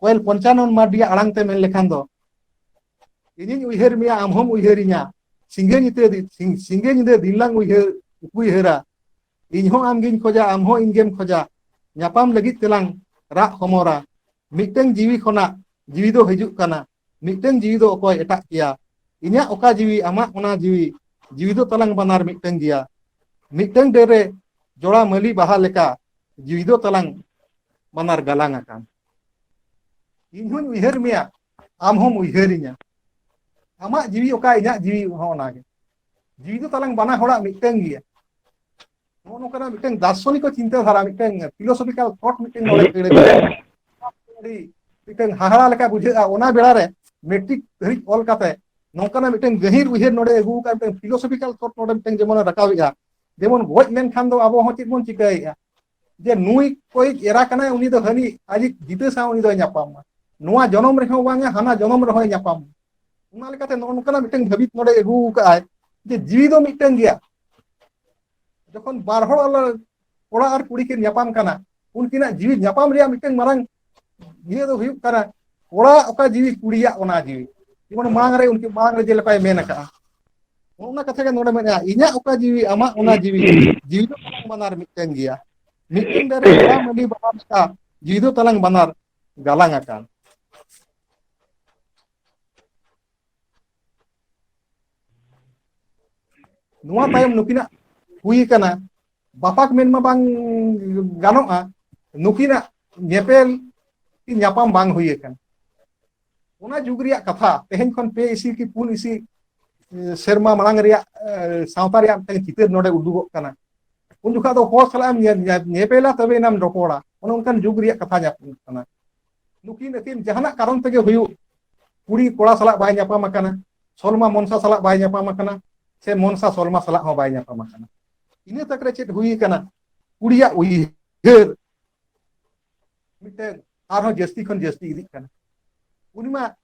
ᱠᱚᱭᱮᱞ ᱯᱚᱧᱪᱟᱱᱚᱱ ᱢᱟᱨᱰᱤ ᱟᱲᱟᱝ ᱛᱮ ᱢᱮᱱ ᱞᱮᱠᱷᱟᱱ ᱫᱚ ᱤᱧᱤᱧ ᱩᱭᱦᱟᱹᱨ ᱢᱮᱭᱟ ᱟᱢ ᱦᱚᱢ ᱩᱭᱦᱟᱹᱨᱤᱧᱟ ᱥᱤᱸᱜᱮ ᱧᱤᱫᱟᱹ ᱥᱤᱸᱜᱮ ᱧᱤᱫᱟᱹ ᱫᱤᱱᱞᱟᱝ ᱩᱭᱦᱟᱹᱨ ᱩᱭᱦᱟᱹᱨᱟ ᱤᱧ ᱦᱚᱸ ᱟᱢᱜᱤᱧ ᱠᱷᱚᱡᱟ ᱟᱢ ᱦᱚᱸ ᱤᱧᱜᱮᱢ ᱠᱷᱚᱡᱟ ᱧᱟᱯᱟᱢ ᱞᱟᱹᱜᱤᱫ ᱛᱮᱞᱟᱝ ᱨᱟᱜ ᱦᱚᱢᱚᱨᱟ ᱢᱤᱫᱴᱟᱝ ᱡᱤᱣᱤ ᱠᱷᱚᱱᱟᱜ ᱡᱤᱣᱤ ᱫᱚ ᱦᱤᱡᱩᱜ ᱠᱟᱱᱟ ᱢᱤᱫᱴᱟᱹᱝ ᱡᱤᱣᱤ ᱫᱚ ᱚᱠᱚᱭ ᱮᱴᱟᱜ ᱠᱮᱭᱟ ᱤᱧᱟᱹᱜ ᱚᱠᱟ ᱡᱤᱣᱤ ᱟᱢᱟᱜ ᱚᱱᱟ ᱡᱤᱣᱤ ᱡᱤᱣᱤ ᱫᱚ ᱛᱟᱞᱟᱝ ᱵᱟᱱᱟᱨ ᱢᱤᱫᱴᱟᱹᱝ ᱜᱮᱭᱟ ᱢᱤᱫᱴᱟᱹᱝ ᱰᱟᱹᱨ ᱨᱮ ᱡᱚᱲᱟ ᱢᱟᱹᱞᱤ ᱵᱟᱦᱟ ᱞᱮᱠᱟ ᱡᱤᱣᱤ ᱫᱚ ᱛᱟᱞᱟᱝ ᱵᱟᱱᱟᱨ ᱜᱟᱞᱟᱝ ᱟᱠᱟᱱ ᱤᱧ ᱦᱚᱸᱧ ᱩᱭᱦᱟᱹᱨ ᱢᱮᱭᱟ ᱟᱢ ᱦᱚᱸᱢ ᱩᱭᱦᱟᱹᱨᱤᱧᱟ ᱟᱢᱟᱜ ᱡᱤᱣᱤ ᱚᱠᱟ ᱤᱧᱟᱹᱜ ᱡᱤᱣᱤ ᱦᱚᱸ ᱚᱱᱟᱜᱮ ᱡᱤᱣᱤ ᱫᱚ ᱛᱟᱞᱟᱝ ᱵᱟᱱᱟ ᱦᱚᱲᱟᱜ ᱢᱤᱫᱴᱟᱹᱝ ᱜᱮᱭᱟ ᱱᱚᱜᱼᱚ ᱱᱚᱝᱠᱟᱱᱟᱜ ᱢᱤᱫᱴᱮᱱ ᱫᱟᱨᱥᱚᱱᱤᱠ ᱪᱤᱱᱛᱟᱹ ᱫᱷᱟᱨᱟ ᱢᱤᱫᱴᱮᱱ ᱯᱷᱤᱞᱳᱥᱚᱯᱷᱤᱠᱟᱞ ᱛᱷᱚᱴ ᱢᱤᱫᱴᱮᱱ ᱱᱚᱰᱮ ᱟᱹᱲᱟᱹ ᱟᱹᱰᱤ ᱢᱤᱫᱴᱮᱱ ᱦᱟᱦᱟᱲᱟ ᱞᱮᱠᱟ ᱵᱩᱡᱷᱟᱹᱜᱼᱟ ᱚᱱᱟ ᱵᱮᱲᱟ ᱨᱮ ᱢᱮᱴᱨᱤᱠ ᱫᱷᱟᱹᱨᱤᱡ ᱚᱞ ᱠᱟᱛᱮ ᱱᱚᱝᱠᱟᱱᱟᱜ ᱢᱤᱫᱴᱮᱱ ᱜᱟᱹᱦᱤᱨ ᱩᱭᱦᱟᱹᱨ ᱱᱚᱰᱮ ᱟᱹᱜᱩ ᱟᱠᱟᱫ ᱢᱤᱫᱴᱮᱱ ᱯᱷᱤᱞᱳᱥᱚᱯᱷᱤᱠᱟᱞ ᱛᱷᱚᱴ ᱱᱚᱰᱮ ᱢᱤᱫᱴᱮᱱ ᱡᱮᱢᱚᱱ ᱨᱟᱠᱟᱵᱮᱜᱼᱟ ᱡᱮᱢᱚᱱ ᱜᱚᱡ ᱞᱮᱱᱠᱷᱟᱱ ᱫᱚ ᱟᱵᱚ ᱦᱚᱸ ᱪᱮᱫ ᱵᱚᱱ ᱪᱤᱠᱟᱹᱭᱮᱫᱼᱟ ᱡᱮ ᱱᱩᱭ ᱠᱚᱭᱤᱡ ᱮᱨᱟ ᱠᱟᱱᱟᱭ ᱩᱱᱤ ᱫᱚ ᱦᱟᱹᱱᱤ ᱟᱡᱤᱡ ᱡᱤᱛᱟᱹ ᱥᱟᱶ ᱩᱱᱤ ᱫᱚᱭ ᱧᱟᱯᱟᱢ ᱢᱟ ᱱᱚᱣᱟ ᱡᱚᱱᱚᱢ ᱨᱮᱦᱚᱸ ᱵᱟᱝᱟ ᱦᱟᱱᱟ ᱡᱚᱱᱚᱢ ᱨᱮᱦᱚᱸᱭ ᱧᱟᱯᱟᱢ ᱢᱟ ᱚᱱᱟ ᱞᱮᱠᱟᱛᱮ ᱱᱚᱜᱼᱚ ᱱᱚᱝᱠᱟᱱᱟᱜ ᱢᱤᱫᱴᱮᱱ ᱦᱟᱹᱵᱤᱛ ᱱᱚᱰᱮ ᱟᱹᱜᱩ ᱟᱠᱟᱫ ᱟᱭ ᱡᱮ ᱡᱤᱣᱤ ᱫᱚ ᱢᱤᱫᱴᱮᱱ ᱜᱮᱭᱟ ᱡᱚᱠᱷᱚᱱ ᱵᱟᱨ ᱦᱚᱲ ᱠᱚᱲᱟ ᱟᱨ ᱠᱩᱲᱤ ᱠᱤᱱ ᱧᱟᱯᱟᱢ ᱠᱟᱱᱟ ᱩᱱᱠᱤᱱᱟᱜ ᱡᱤᱣᱤ ᱧᱟᱯᱟᱢ ᱨᱮᱭᱟᱜ ᱢᱤᱫᱴᱮᱱ ᱢᱟᱨᱟᱝ ᱱᱤᱭᱟᱹ ᱫᱚ ᱦᱩᱭᱩᱜ ᱠᱟᱱᱟ ᱠᱚᱲᱟ ᱚᱠᱟ ᱡᱤᱣᱤ ᱠᱩᱲᱤᱭᱟᱜ ᱚᱱᱟ ᱡᱤᱣᱤ ᱡᱮᱢᱚᱱ ᱢᱟᱲᱟᱝ ᱨᱮ ᱩᱱᱠᱤᱱ ᱢᱟᱲᱟᱝ ᱨᱮ ᱡᱮ ᱞᱮᱠᱟᱭ ᱢᱮᱱ ᱟᱠᱟᱜᱼᱟ ᱱᱚᱜᱼᱚ ᱱᱚᱣᱟ ᱠᱟᱛᱷᱟ ᱜᱮ ᱱᱚᱰᱮ ᱢᱮᱱᱮᱜᱼᱟ ᱤᱧᱟᱹᱜ ᱚᱠᱟ ᱡᱤᱣᱤ ᱟᱢᱟᱜ ᱚᱱᱟ ᱡᱤᱣᱤ ᱡᱤᱣᱤ ᱫᱚ ᱛᱟᱞᱟᱝ ᱵᱟᱱᱟᱨ ᱢᱤᱫᱴᱮᱱ ᱜᱮᱭᱟ ᱢᱤᱫᱴᱮᱱ ᱫᱟᱨᱮ ᱜᱚᱲᱟᱢ ᱟᱹᱰᱤ ᱵᱟᱵᱟᱛ ᱟᱜ ᱡᱤᱣᱤ ᱫᱚ ᱛᱟᱞᱟᱝ ᱵᱟᱱᱟᱨ ᱜᱟᱞᱟᱝ ᱟᱠᱟᱱ ᱱᱚᱣᱟ ᱛᱟᱭᱚᱢ ᱱᱩᱠᱤᱱᱟᱜ ᱦᱩᱭ ᱠᱟᱱᱟ ᱵᱟᱯᱟᱠ ᱢᱮᱱ ᱢᱟ ᱵᱟᱝ ᱜᱟᱱᱚᱜᱼᱟ ᱱᱩᱠᱤᱱᱟᱜ ᱧᱮᱯᱮᱞ ᱧᱟᱯᱟᱢ ᱵᱟᱝ ᱦᱩᱭ ᱟᱠᱟᱱᱟ ᱚᱱᱟ ᱡᱩᱜᱽ ᱨᱮᱭᱟᱜ ᱠᱟᱛᱷᱟ ᱛᱮᱦᱮᱧ ᱠᱷᱚᱱ ᱯᱮ ᱤᱥᱤ ᱠᱤ ᱯᱩᱱ ᱤᱥᱤ ᱥᱮᱨᱢᱟ ᱢᱟᱲᱟᱝ ᱨᱮᱭᱟᱜ ᱥᱟᱶᱛᱟ ᱨᱮᱭᱟᱜ ᱢᱤᱫᱴᱟᱝ ᱪᱤᱛᱟᱹᱨ ᱱᱚᱰᱮ ᱩᱫᱩᱜᱚᱜ ᱠᱟᱱᱟ ᱩᱱ ᱡᱚᱠᱷᱟᱜ ᱫᱚ ᱦᱚᱲ ᱥᱟᱞᱟᱜ ᱮᱢ ᱧᱮᱯᱮᱞᱟ ᱛᱚᱵᱮ ᱮᱱᱟᱢ ᱨᱚᱯᱚᱲᱟ ᱚᱱᱮ ᱚᱱᱠᱟᱱ ᱡᱩᱜᱽ ᱨᱮᱭᱟᱜ ᱠᱟᱛᱷᱟ ᱧᱟᱯᱟᱢᱚᱜ ᱠᱟᱱᱟ ᱱᱩᱠᱤᱱ ᱟᱹᱠᱤᱱ ᱡᱟᱦᱟᱱᱟᱜ ᱠᱟᱨᱚᱱ ᱛᱮᱜᱮ ᱦᱩᱭᱩᱜ ᱠᱩᱲᱤ ᱠᱚᱲᱟ ᱥᱟᱞᱟᱜ ᱵᱟᱭ ᱧᱟᱯᱟᱢ ᱟᱠᱟᱱᱟ ᱥᱚᱞᱢᱟ ᱢᱚᱱᱥᱟ ᱥᱟᱞᱟᱜ ᱵᱟᱭ ᱧᱟᱯᱟᱢ ᱟᱠᱟᱱᱟ ᱥᱮ ᱢᱚᱱᱥᱟ ᱥᱚᱞᱢᱟ ᱥᱟᱞᱟᱜ ᱦᱚᱸ ᱵᱟᱭ ᱧᱟᱯᱟᱢ ᱟᱠᱟᱱᱟ ᱤᱱᱟᱹ ᱛᱟᱠ ᱨᱮ ᱪᱮᱫ ᱦᱩᱭ ᱟᱠᱟᱱᱟ ᱠᱩᱲᱤᱭᱟᱜ ᱩᱭᱦᱟᱹᱨ ᱢᱤᱫᱴᱮᱱ ᱟᱨᱦᱚᱸ ᱡᱟᱹᱥᱛᱤ ᱠᱷᱚᱱ ᱡᱟᱹᱥᱛᱤ ᱤᱫᱤᱜ ᱠᱟᱱᱟ ᱩᱱᱤ ᱢᱟ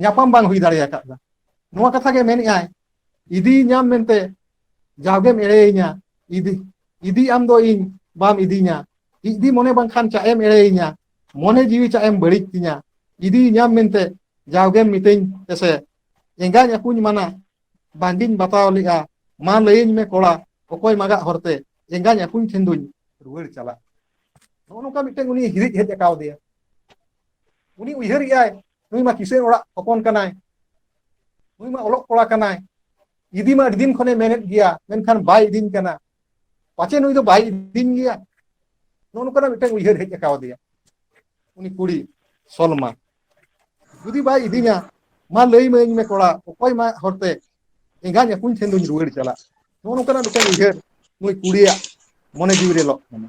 ᱧᱟᱯᱟᱢ ᱵᱟᱝ ᱦᱩᱭ ᱫᱟᱲᱮ ᱟᱠᱟᱫᱟ ᱱᱚᱣᱟ ᱠᱟᱛᱷᱟ ᱜᱮ ᱢᱮᱱᱮᱫ ᱟᱭ ᱤᱫᱤ ᱧᱟᱢ ᱢᱮᱱᱛᱮ ᱡᱟᱣᱜᱮᱢ ᱮᱲᱮᱭᱤᱧᱟ ᱤᱫᱤ ᱤᱫᱤ ᱟᱢ ᱫᱚ ᱤᱧ ᱵᱟᱢ ᱤᱫᱤᱧᱟ ᱤᱫᱤ ᱢᱚᱱᱮ ᱵᱟᱝᱠᱷᱟᱱ ᱪᱟᱜ ᱮᱢ ᱮᱲᱮᱭᱤᱧᱟ ᱢᱚᱱᱮ ᱡᱤᱣᱤ ᱪᱟᱜ ᱮᱢ ᱵᱟᱹᱲᱤᱡ ᱛᱤᱧᱟ ᱤᱫᱤ ᱧᱟᱢ ᱢᱮᱱᱛᱮ ᱡᱟᱣᱜᱮᱢ ᱢᱤᱛᱟᱹᱧ ᱮᱥᱮ ᱮᱸᱜᱟᱧ ᱟᱹᱯᱩᱧ ᱢᱟᱱᱟ ᱵᱟᱝᱜᱤᱧ ᱵᱟᱛᱟᱣ ᱞᱮᱜᱼᱟ ᱢᱟ ᱞᱟᱹᱭᱟᱹᱧ ᱢᱮ ᱠᱚᱲᱟ ᱚᱠᱚᱭ ᱢᱟᱜᱟᱜ ᱦᱚᱨᱛᱮ ᱮᱸᱜᱟᱧ ᱟᱹᱯᱩᱧ ᱴᱷᱮᱱ ᱫᱩᱧ ᱨᱩᱣᱟᱹᱲ ᱪᱟᱞᱟᱜ ᱱᱚᱜᱼᱚ ᱱᱚᱝᱠᱟ ᱢᱤᱫᱴᱮᱱ ᱩᱱᱤ ᱦᱤᱨᱤᱡ ᱦᱮᱡ ᱟᱠᱟᱣᱫᱮᱭᱟ ᱩᱱᱤ ᱩᱭᱦᱟᱹᱨ ᱮᱫ ᱟᱭ ᱱᱩᱭ ᱢᱟ ᱠᱤᱥᱟᱹᱬ ᱚᱲᱟᱜ ᱦᱚᱯᱚᱱ ᱠᱟᱱᱟᱭ ᱱᱩᱭ ᱢᱟ ᱚᱞᱚᱜ ᱠᱚᱲᱟ ᱠᱟᱱᱟᱭ ᱤᱫᱤ ᱢᱟ ᱟᱹᱰᱤ ᱫᱤᱱ ᱠᱷᱚᱱᱮ ᱢᱮᱱᱮᱫ ᱜᱮᱭᱟ ᱢᱮᱱᱠᱷᱟᱱ ᱵᱟᱭ ᱤᱫᱤᱧ ᱠᱟᱱᱟ ᱯᱟᱪᱮ ᱱᱩᱭ ᱫᱚ ᱵᱟᱭ ᱤᱫᱤᱧ ᱜᱮᱭᱟ ᱱᱚᱜᱼᱚ ᱱᱚᱝᱠᱟᱱᱟᱜ ᱢᱤᱫᱴᱟᱝ ᱩᱭᱦᱟᱹᱨ ᱦᱮᱡ ᱟᱠᱟᱣᱫᱮᱭᱟ ᱩᱱᱤ ᱠᱩᱲᱤ ᱥᱚᱞᱢᱟ ᱡᱩᱫᱤ ᱵᱟᱭ ᱤᱫᱤᱧᱟ ᱢᱟ ᱞᱟᱹᱭ ᱢᱟᱹᱧ ᱢᱮ ᱠᱚᱲᱟ ᱚᱠᱚᱭ ᱢᱟ ᱦᱚᱨᱛᱮ ᱮᱸᱜᱟᱧ ᱟᱹᱠᱩᱧ ᱴᱷᱮᱱ ᱫᱚᱧ ᱨᱩᱣᱟᱹᱲ ᱪᱟᱞᱟᱜ ᱱᱚᱜᱼᱚ ᱱᱚᱝᱠᱟᱱᱟᱜ ᱢᱤᱫᱴᱟᱝ ᱩᱭᱦᱟᱹᱨ ᱱᱩᱭ ᱠᱩᱲᱤᱭᱟᱜ ᱢᱚᱱᱮ ᱡᱤᱣᱤ ᱨᱮ ᱞᱚᱜ ᱠᱟᱱᱟ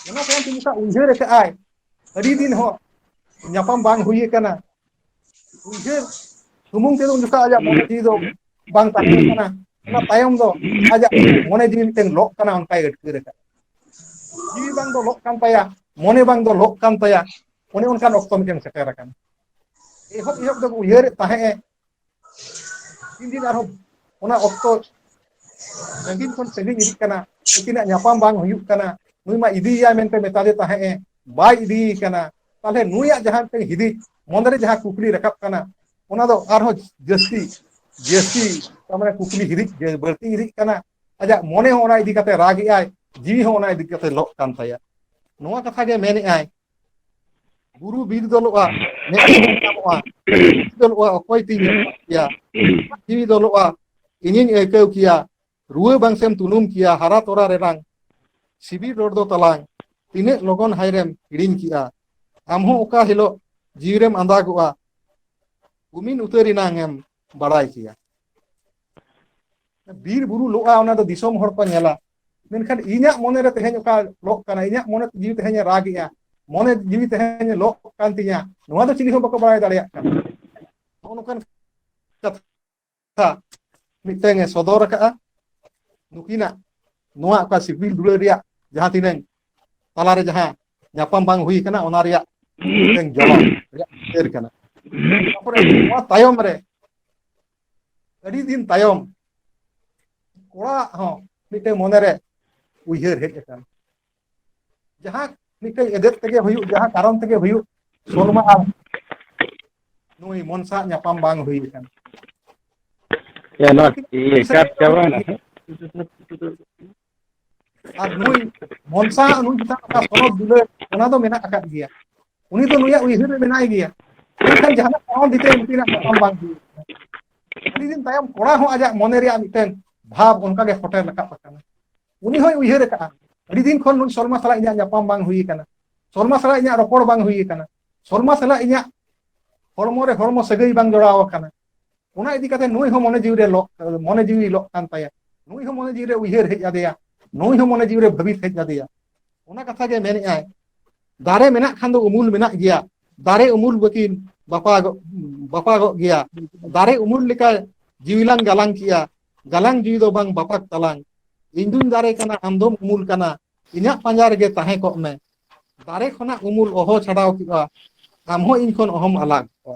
ᱚᱱᱟ ᱛᱟᱭᱚᱢ ᱛᱮ ᱢᱤᱫᱴᱟᱝ ᱩᱭᱦᱟᱹᱨ ᱟᱠᱟᱫᱼᱟᱭ ᱟᱹᱰᱤ ᱫᱤᱱ ᱦᱚᱸ ᱧᱟᱯᱟᱢ ᱵᱟᱝ ᱦᱩᱭ ᱟᱠᱟᱱᱟ ᱩᱭᱦᱟᱹᱨ ᱥᱩᱢᱩᱝ ᱛᱮᱫᱚ ᱩᱱ ᱡᱚᱠᱷᱟᱡ ᱟᱡᱟᱜ ᱢᱚᱱᱮ ᱡᱤᱣᱤ ᱫᱚ ᱵᱟᱝ ᱛᱟᱦᱮᱸ ᱠᱟᱱᱟ ᱚᱱᱟ ᱛᱟᱭᱚᱢ ᱫᱚ ᱟᱡᱟᱜ ᱢᱚᱱᱮ ᱡᱤᱣᱤ ᱢᱤᱫᱴᱮᱱ ᱞᱚᱜ ᱠᱟᱱᱟ ᱚᱱᱠᱟᱭ ᱟᱹᱴᱠᱟᱹᱨ ᱟᱠᱟᱫ ᱡᱤᱣᱤ ᱵᱟᱝ ᱫᱚ ᱞᱚᱜ ᱠᱟᱱ ᱛᱟᱭᱟ ᱢᱚᱱᱮ ᱵᱟᱝ ᱫᱚ ᱞᱚᱜ ᱠᱟᱱ ᱛᱟᱭᱟ ᱚᱱᱮ ᱚᱱᱠᱟᱱ ᱚᱠᱛᱚ ᱢᱤᱫᱴᱮᱱ ᱥᱮᱴᱮᱨ ᱟᱠᱟᱱᱟ ᱮᱦᱚᱵ ᱮᱦᱚᱵ ᱫᱚ ᱩᱭᱦᱟᱹᱨᱮᱫ ᱛᱟᱦᱮᱸᱜ ᱮ ᱛᱤᱱ ᱫᱤᱱ ᱟᱨᱦᱚᱸ ᱚᱱᱟ ᱚᱠᱛᱚ ᱥᱟᱺᱜᱤᱧ ᱠᱷᱚᱱ ᱥᱟᱺᱜᱤᱧ ᱤᱫᱤᱜ ᱠᱟᱱᱟ ᱩᱱᱠᱤᱱᱟᱜ ᱧᱟᱯᱟᱢ ᱵᱟᱝ ᱦᱩᱭᱩᱜ ᱠᱟᱱᱟ ᱱᱩᱭ ᱢᱟ ᱤᱫᱤᱭᱮᱭᱟ ᱢᱮᱱᱛᱮ ᱢᱮᱛᱟᱫᱮ ᱛᱟᱦᱮᱸᱜ ᱮ ᱵᱟᱭ ᱤᱫᱤᱭᱮ ᱠᱟᱱᱟ ᱛᱟᱦᱚᱞᱮ ᱱᱩᱭᱟᱜ ᱡᱟᱦᱟᱸ ᱢᱤᱫᱴᱮᱱ ᱦᱤᱫᱤᱡ ᱢᱚᱱᱮᱨᱮ ᱡᱟᱦᱟᱸ ᱠᱩᱠᱞᱤ ᱨᱟᱠᱟᱵ ᱠᱟᱱᱟ ᱚᱱᱟ ᱫᱚ ᱟᱨᱦᱚᱸ ᱡᱟᱹᱥᱛᱤ ᱡᱟᱹᱥᱛᱤ ᱛᱟᱨᱢᱟᱱᱮ ᱠᱩᱠᱞᱤ ᱦᱤᱨᱤᱡ ᱵᱟᱹᱲᱛᱤ ᱦᱤᱨᱤᱡ ᱠᱟᱱᱟ ᱟᱡᱟᱜ ᱢᱚᱱᱮ ᱦᱚᱸ ᱚᱱᱟ ᱤᱫᱤ ᱠᱟᱛᱮ ᱨᱟᱜᱮᱜᱼᱟᱭ ᱡᱤᱣᱤ ᱦᱚᱸ ᱚᱱᱟ ᱤᱫᱤ ᱠᱟᱛᱮ ᱞᱚᱜ ᱠᱟᱱ ᱛᱟᱭᱟ ᱱᱚᱣᱟ ᱠᱟᱛᱷᱟ ᱜᱮ ᱢᱮᱱᱮᱫ ᱟᱭ ᱵᱩᱨᱩ ᱵᱤᱨ ᱫᱚᱞᱚᱜᱼᱟ ᱢᱮᱫ ᱛᱮ ᱧᱟᱢᱚᱜᱼᱟ ᱫᱚᱞᱚᱜᱼᱟ ᱚᱠᱚᱭ ᱛᱤᱧ ᱧᱟᱢ ᱠᱮᱭᱟ ᱡᱤᱣᱤ ᱫᱚᱞᱚᱜᱼᱟ ᱤᱧᱤᱧ ᱟᱹᱭᱠᱟᱹᱣ ᱠᱮᱭᱟ ᱨᱩᱣᱟᱹ ᱵᱟᱝ ᱥᱮᱢ ᱛᱩᱱᱩᱢ ᱠᱮᱭᱟ ᱦᱟᱨᱟ ᱛᱚᱨᱟ ᱨᱮᱱᱟᱝ ᱥᱤᱵᱤᱞ ᱨᱚᱲ ᱫᱚ ᱛᱟᱞᱟᱝ ᱛᱤᱱᱟᱹᱜ ᱞᱚᱜᱚᱱ ᱦᱟᱭᱨᱮᱢ ᱦᱤᱲᱤᱧ ᱠᱮᱜᱼᱟ ᱟᱢ ᱦᱚᱸ ᱚᱠᱟ ᱦᱤᱞᱳᱜ ᱡᱤᱣᱤ ᱨᱮᱢ ᱟᱸᱫᱟᱜᱚᱜᱼᱟ ᱩᱢᱤᱱ ᱩᱛᱟᱹᱨ ᱮᱱᱟᱝ ᱮᱢ ᱵᱟᱲᱟᱭ ᱠᱮᱭᱟ ᱵᱤᱨ ᱵᱩᱨᱩ ᱞᱚᱜᱼᱟ ᱚᱱᱟ ᱫᱚ ᱫᱤᱥᱚᱢ ᱦᱚᱲ ᱠᱚ ᱧᱮᱞᱟ ᱢᱮᱱᱠᱷᱟᱱ ᱤᱧᱟᱹᱜ ᱢᱚᱱᱮᱨᱮ ᱛᱮᱦᱮᱧ ᱚᱠᱟ ᱞᱚᱜ ᱠᱟᱱᱟ ᱤᱧᱟᱹᱜ ᱢᱚᱱᱮ ᱡᱤᱣᱤ ᱛᱮᱦᱮᱧ ᱮ ᱨᱟᱜ ᱮᱼᱟ ᱢᱚᱱᱮ ᱡᱤᱣᱤ ᱛᱟᱦᱮᱸᱧ ᱞᱚᱜ ᱠᱟᱱ ᱛᱤᱧᱟᱹ ᱱᱚᱣᱟ ᱫᱚ ᱪᱤᱞᱤ ᱦᱚᱸ ᱵᱟᱠᱚ ᱵᱟᱲᱟᱭ ᱫᱟᱲᱮᱭᱟᱜ ᱠᱟᱱᱟ ᱱᱚᱜᱼᱚ ᱱᱚᱝᱠᱟᱱ ᱢᱤᱫᱴᱮᱱ ᱮ ᱥᱚᱫᱚᱨ ᱟᱠᱟᱫᱼᱟ ᱱᱩᱠᱤᱱᱟᱜ ᱱᱚᱣᱟ ᱚᱠᱟ ᱥᱤᱵᱤᱞ ᱫᱩᱞᱟᱹᱲ ᱨᱮᱭᱟᱜ ᱡᱟᱦᱟᱸ ᱛᱤᱱᱟᱹᱝ ᱛᱟᱞᱟᱨᱮ ᱡᱟᱦᱟᱸ ᱧᱟᱯᱟᱢ ᱵᱟᱝ ᱦᱩᱭ ᱠᱟᱱᱟ ᱚᱱᱟ ᱨᱮᱭᱟᱜ ᱢᱤᱫᱴᱮᱱ ᱡᱚᱵᱟᱵ ᱨᱮᱭᱟᱜ ᱪᱤᱛᱟᱹᱨ ᱠᱟᱱᱟ ᱛᱟᱯᱚᱨᱮ ᱱᱚᱣᱟ ᱛᱟᱭᱚᱢ ᱨᱮ ᱟᱹᱰᱤ ᱫᱤᱱ ᱛᱟᱭᱚᱢ ᱠᱚᱲᱟ ᱟᱜ ᱦᱚᱸ ᱢᱤᱫᱴᱮᱱ ᱢᱚᱱᱮᱨᱮ ᱩᱭᱦᱟᱹᱨ ᱦᱮᱡ ᱟᱠᱟᱱ ᱡᱟᱦᱟᱸ ᱢᱤᱫᱴᱮᱱ ᱮᱫᱮᱫ ᱛᱮᱜᱮ ᱦᱩᱭᱩᱜ ᱡᱟᱦᱟᱸ ᱠᱟᱨᱚᱱ ᱛᱮᱜᱮ ᱦᱩᱭᱩᱜ ᱥᱚᱞᱢᱟ ᱟᱨ ᱱᱩᱭ ᱢᱚᱱᱥᱟ ᱟᱜ ᱧᱟᱯᱟᱢ ᱵᱟᱝ ᱦᱩᱭ ᱟᱠᱟᱱ ᱮᱭᱟ ᱱᱚᱣᱟ ᱤᱭᱟᱹ ᱪᱟᱨᱡᱽ ᱪᱟᱵᱟᱭᱮᱱᱟ ᱥᱮ ᱟᱨ ᱱᱩᱭ ᱵᱚᱝᱥᱟ ᱦᱟᱸᱜ ᱱᱩᱭ ᱪᱮᱛᱟᱱ ᱚᱠᱟ ᱥᱚᱱᱚᱛ ᱫᱩᱞᱟᱹᱲ ᱚᱱᱟ ᱫᱚ ᱢᱮᱱᱟᱜ ᱟᱠᱟᱫ ᱜᱮᱭᱟ ᱩᱱᱤ ᱫᱚ ᱱᱩᱭᱟᱜ ᱩᱭᱦᱟᱹᱨ ᱨᱮ ᱢᱮᱱᱟᱭ ᱜᱮᱭᱟ ᱢᱮᱱᱠᱷᱟᱱ ᱡᱟᱦᱟᱱᱟᱜ ᱠᱟᱨᱚᱱ ᱛᱮ ᱩᱱᱠᱤᱱᱟᱜ ᱧᱟᱯᱟᱢ ᱵᱟᱝ ᱦᱩᱭ ᱠᱟᱱᱟ ᱟᱹᱰᱤ ᱫᱤᱱ ᱛᱟᱭᱚᱢ ᱠᱚᱲᱟ ᱦᱚᱸ ᱟᱡᱟᱜ ᱢᱚᱱᱮ ᱨᱮᱭᱟᱜ ᱢᱤᱫᱴᱮᱱ ᱵᱷᱟᱵᱽ ᱚᱱᱠᱟ ᱜᱮ ᱥᱮᱴᱮᱨ ᱨᱟᱠᱟᱵ ᱟᱠᱟᱱᱟ ᱩᱱᱤ ᱦᱚᱸᱭ ᱩᱭᱦᱟᱹᱨ ᱟᱠᱟᱫᱼᱟ ᱟᱹᱰᱤ ᱫᱤᱱ ᱠᱷᱚᱱ ᱱᱩᱭ ᱥᱚᱞᱢᱟ ᱥᱟᱞᱟᱜ ᱤᱧᱟᱹᱜ ᱧᱟᱯᱟᱢ ᱵᱟᱝ ᱦᱩᱭ ᱟᱠᱟᱱᱟ ᱥᱚᱞᱢᱟ ᱥᱟᱞᱟᱜ ᱤᱧᱟᱹᱜ ᱨᱚᱯᱚᱲ ᱵᱟᱝ ᱦᱩᱭ ᱟᱠᱟᱱᱟ ᱥᱚᱞᱢᱟ ᱥᱟᱞᱟᱜ ᱤᱧᱟᱹᱜ ᱦᱚᱲᱢᱚ ᱨᱮ ᱦᱚᱲᱢᱚ ᱥᱟᱹᱜᱟᱹᱭ ᱵᱟᱝ ᱡᱚᱲᱟᱣ ᱟᱠᱟᱱᱟ ᱚᱱᱟ ᱤᱫᱤ ᱠᱟᱛᱮ ᱱᱩᱭ ᱦᱚᱸ ᱢᱚᱱᱮ ᱡᱤᱣᱤ ᱨᱮ ᱞᱚᱜ ᱢᱚᱱᱮ ᱡᱤᱣᱤ ᱞᱚᱜ ᱠᱟᱱ ᱛᱟᱭᱟ ᱱᱩᱭ ᱦᱚᱸ ᱢᱚᱱᱮ ᱡᱤᱣᱤ ᱨᱮ ᱩᱭᱦᱟᱹᱨ ᱦᱮᱡ ᱟᱫᱮᱭᱟ ᱱᱩᱭ ᱦᱚᱸ ᱢᱚᱱᱮ ᱡᱤᱣᱤ ᱨᱮ ᱵᱷᱟᱹᱵᱤᱛ ᱦᱮᱡ ᱟᱫᱮᱭᱟ ᱚᱱᱟ ᱠᱟᱛᱷᱟ ᱜᱮ ᱢᱮᱱᱮᱜᱼᱟᱭ ᱫᱟᱨᱮ ᱢᱮᱱᱟᱜ ᱠᱷᱟᱱ ᱫᱚ ᱩᱢᱩᱞ ᱢᱮᱱᱟᱜ ᱜᱮᱭᱟ ᱫᱟᱨᱮ ᱩᱢᱩᱞ ᱵᱟᱹᱠᱤᱱ ᱵᱟᱯᱟᱜᱚᱜ ᱵᱟᱯᱟᱜᱚᱜ ᱜᱮᱭᱟ ᱫᱟᱨᱮ ᱩᱢᱩᱞ ᱞᱮᱠᱟ ᱡᱤᱣᱤ ᱞᱟᱝ ᱜᱟᱞᱟᱝ ᱠᱮᱭᱟ ᱜᱟᱞᱟᱝ ᱡᱤᱣᱤ ᱫᱚ ᱵᱟᱝ ᱵᱟᱯᱟᱜ ᱛᱟᱞᱟᱝ ᱤᱧ ᱫᱩᱧ ᱫᱟᱨᱮ ᱠᱟᱱᱟ ᱟᱢ ᱫᱚᱢ ᱩᱢᱩᱞ ᱠᱟᱱᱟ ᱤᱧᱟᱹᱜ ᱯᱟᱸᱡᱟ ᱨᱮᱜᱮ ᱛᱟᱦᱮᱸ ᱠᱚᱜ ᱢᱮ ᱫᱟᱨᱮ ᱠᱷᱚᱱᱟᱜ ᱩᱢᱩᱞ ᱚᱦᱚ ᱪᱷᱟᱰᱟᱣ ᱠᱮᱫᱼᱟ ᱟᱢ ᱦᱚᱸ ᱤᱧ ᱠᱷᱚᱱ ᱚᱦᱚᱢ ᱟᱞᱟᱜ ᱠᱚᱜᱼᱟ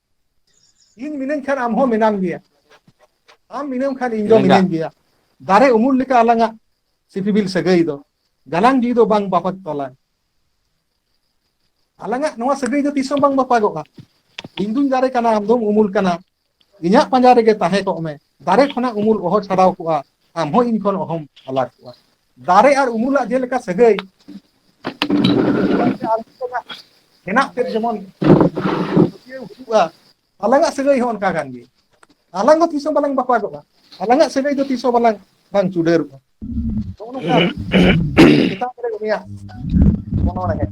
ᱤᱧ ᱢᱤᱱᱟᱹᱧ ᱠᱷᱟᱱ ᱟᱢ ᱦᱚᱸ ᱢᱮᱱᱟᱢ ᱜᱮᱭᱟ ᱟᱢ ᱢᱤᱱᱟᱢ ᱠᱷᱟᱱ ᱤᱧ ᱫᱚ ᱢᱤᱱᱟᱹᱧᱟ ᱢᱤᱱᱟᱹᱧ ᱜᱮᱭᱟ ᱫᱟᱨᱮ ᱩᱢᱩᱞ ᱞᱮᱠᱟ ᱟᱞᱟᱝᱟᱜ ᱥᱤᱯᱤᱵᱤᱞ ᱥᱟᱹᱜᱟᱹᱭ ᱫᱚ ᱜᱟᱞᱟᱝ ᱡᱤᱣᱤ ᱫᱚ ᱵᱟᱝ ᱵᱟᱯᱟᱠ ᱛᱚᱞᱟ ᱟᱞᱟᱝᱟᱜ ᱱᱚᱣᱟ ᱥᱟᱹᱜᱟᱹᱭ ᱫᱚ ᱛᱤᱥ ᱦᱚᱸ ᱵᱟᱝ ᱵᱟᱯᱟᱜᱚᱜᱼᱟ ᱤᱧ ᱫᱩᱧ ᱫᱟᱨᱮ ᱠᱟᱱᱟ ᱟᱢ ᱫᱚᱢ ᱩᱢᱩᱞ ᱠᱟᱱᱟ ᱤᱧᱟᱹᱜ ᱯᱟᱸᱡᱟ ᱨᱮᱜᱮ ᱛᱟᱦᱮᱸ ᱠᱚᱜ ᱢᱮ ᱫᱟᱨᱮ ᱠᱷᱚᱱᱟᱜ ᱩᱢᱩᱞ ᱚᱦᱚ ᱪᱷᱟᱰᱟᱣ ᱠᱚᱜᱼᱟ ᱟᱢ ᱦᱚᱸ ᱤᱧ ᱠᱷᱚᱱ ᱚᱦᱚᱢ ᱟᱞᱟ ᱠᱚᱜᱼᱟ ᱫᱟᱨᱮ ᱟᱨ ᱩᱢᱩᱞᱟᱜ ᱡᱮᱞᱮᱠᱟ ᱥᱟᱹᱜᱟᱹᱭ ᱦᱮᱱᱟᱜ ᱛᱮᱫ ᱡᱮᱢᱚᱱ ᱯᱟᱹᱛᱭᱟᱹᱣ ᱦᱩᱭᱩᱜᱼᱟ ᱟᱞᱟᱝᱟᱜ ᱥᱟᱹᱜᱟᱹᱭ ᱦᱚᱸ ᱚᱱᱠᱟ ᱠᱟᱱ ᱜᱮ ᱟᱞᱟᱝ ᱦᱚᱸ ᱛᱤᱥ ᱦᱚᱸ ᱵᱟᱞᱟᱝ ᱵᱟᱯᱟᱜᱚᱜᱼᱟ ᱟᱞᱟᱝᱟᱜ ᱥᱟᱹᱜᱟᱹᱭ ᱫᱚ ᱛᱤᱥ ᱦᱚᱸ ᱵᱟᱞᱟᱝ ᱵᱟᱝ ᱪᱩᱰᱟᱹᱨᱚᱜᱼᱟ ᱱᱚᱜᱼᱚ ᱱᱚᱝᱠᱟ ᱪᱮᱛᱟᱱ ᱨᱮ ᱩᱱᱤᱭᱟᱜ ᱚᱱᱚᱬᱦᱮᱸ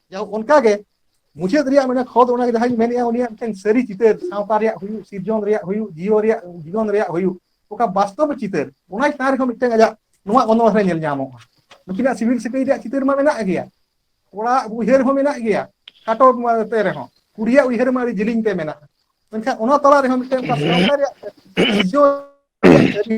ᱡᱟᱭᱦᱳᱠ ᱚᱱᱠᱟ ᱜᱮ ᱢᱩᱪᱟᱹᱫ ᱨᱮᱭᱟᱜ ᱢᱟᱱᱮ ᱠᱷᱚᱛ ᱚᱱᱟ ᱜᱮ ᱡᱟᱦᱟᱸᱧ ᱢᱮᱱᱮᱫᱼᱟ ᱩᱱᱤᱭᱟᱜ ᱢᱤᱫᱴᱮᱱ ᱥᱟᱹᱨᱤ ᱪᱤᱛᱟᱹᱨ ᱥᱟᱶᱛᱟ ᱨᱮᱭᱟᱜ ᱦᱩᱭᱩᱜ ᱥᱤᱨᱡᱚᱱ ᱨᱮᱭᱟᱜ ᱦᱩᱭᱩᱜ ᱡᱤᱭᱚ ᱨᱮᱭᱟᱜ ᱡᱤᱭᱚᱱ ᱨᱮᱭᱟᱜ ᱦᱩᱭᱩᱜ ᱚᱠᱟ ᱵᱟᱥᱛᱚᱵ ᱪᱤᱛᱟᱹᱨ ᱚᱱᱟ ᱪᱮᱛᱟᱱ ᱨᱮᱦᱚᱸ ᱢᱤᱫᱴᱮᱱ ᱟᱡᱟᱜ ᱱᱚᱣᱟ ᱚᱱᱚᱬᱦᱮ ᱨᱮ ᱧᱮᱞ ᱧᱟᱢᱚᱜᱼᱟ ᱱᱩᱠᱤᱱᱟᱜ ᱥᱤᱵᱤᱞ ᱥᱤᱠᱟᱹᱭ ᱨᱮᱭᱟᱜ ᱪᱤᱛᱟᱹᱨ ᱢᱟ ᱢᱮᱱᱟᱜ ᱜᱮᱭᱟ ᱠᱚᱲᱟ ᱩᱭᱦᱟᱹᱨ ᱦᱚᱸ ᱢᱮᱱᱟᱜ ᱜᱮᱭᱟ ᱠᱷᱟᱴᱚ ᱛᱮ ᱨᱮᱦᱚᱸ ᱠᱩᱲᱤᱭᱟᱜ ᱩᱭᱦᱟᱹᱨ ᱢᱟ ᱟᱹᱰᱤ ᱡᱤᱞᱤᱧ ᱛᱮ ᱢᱮᱱᱟᱜᱼᱟ ᱢᱮᱱᱠᱷᱟᱱ ᱚᱱᱟ ᱛᱟᱞᱟ ᱨᱮᱦᱚᱸ ᱢᱤᱫᱴᱮᱱ ᱚᱠᱟ ᱥᱟᱶᱛᱟ ᱨᱮᱭᱟᱜ ᱥᱤᱨᱡᱚᱱ ᱨᱮᱭᱟᱜ ᱥᱟᱹᱨᱤ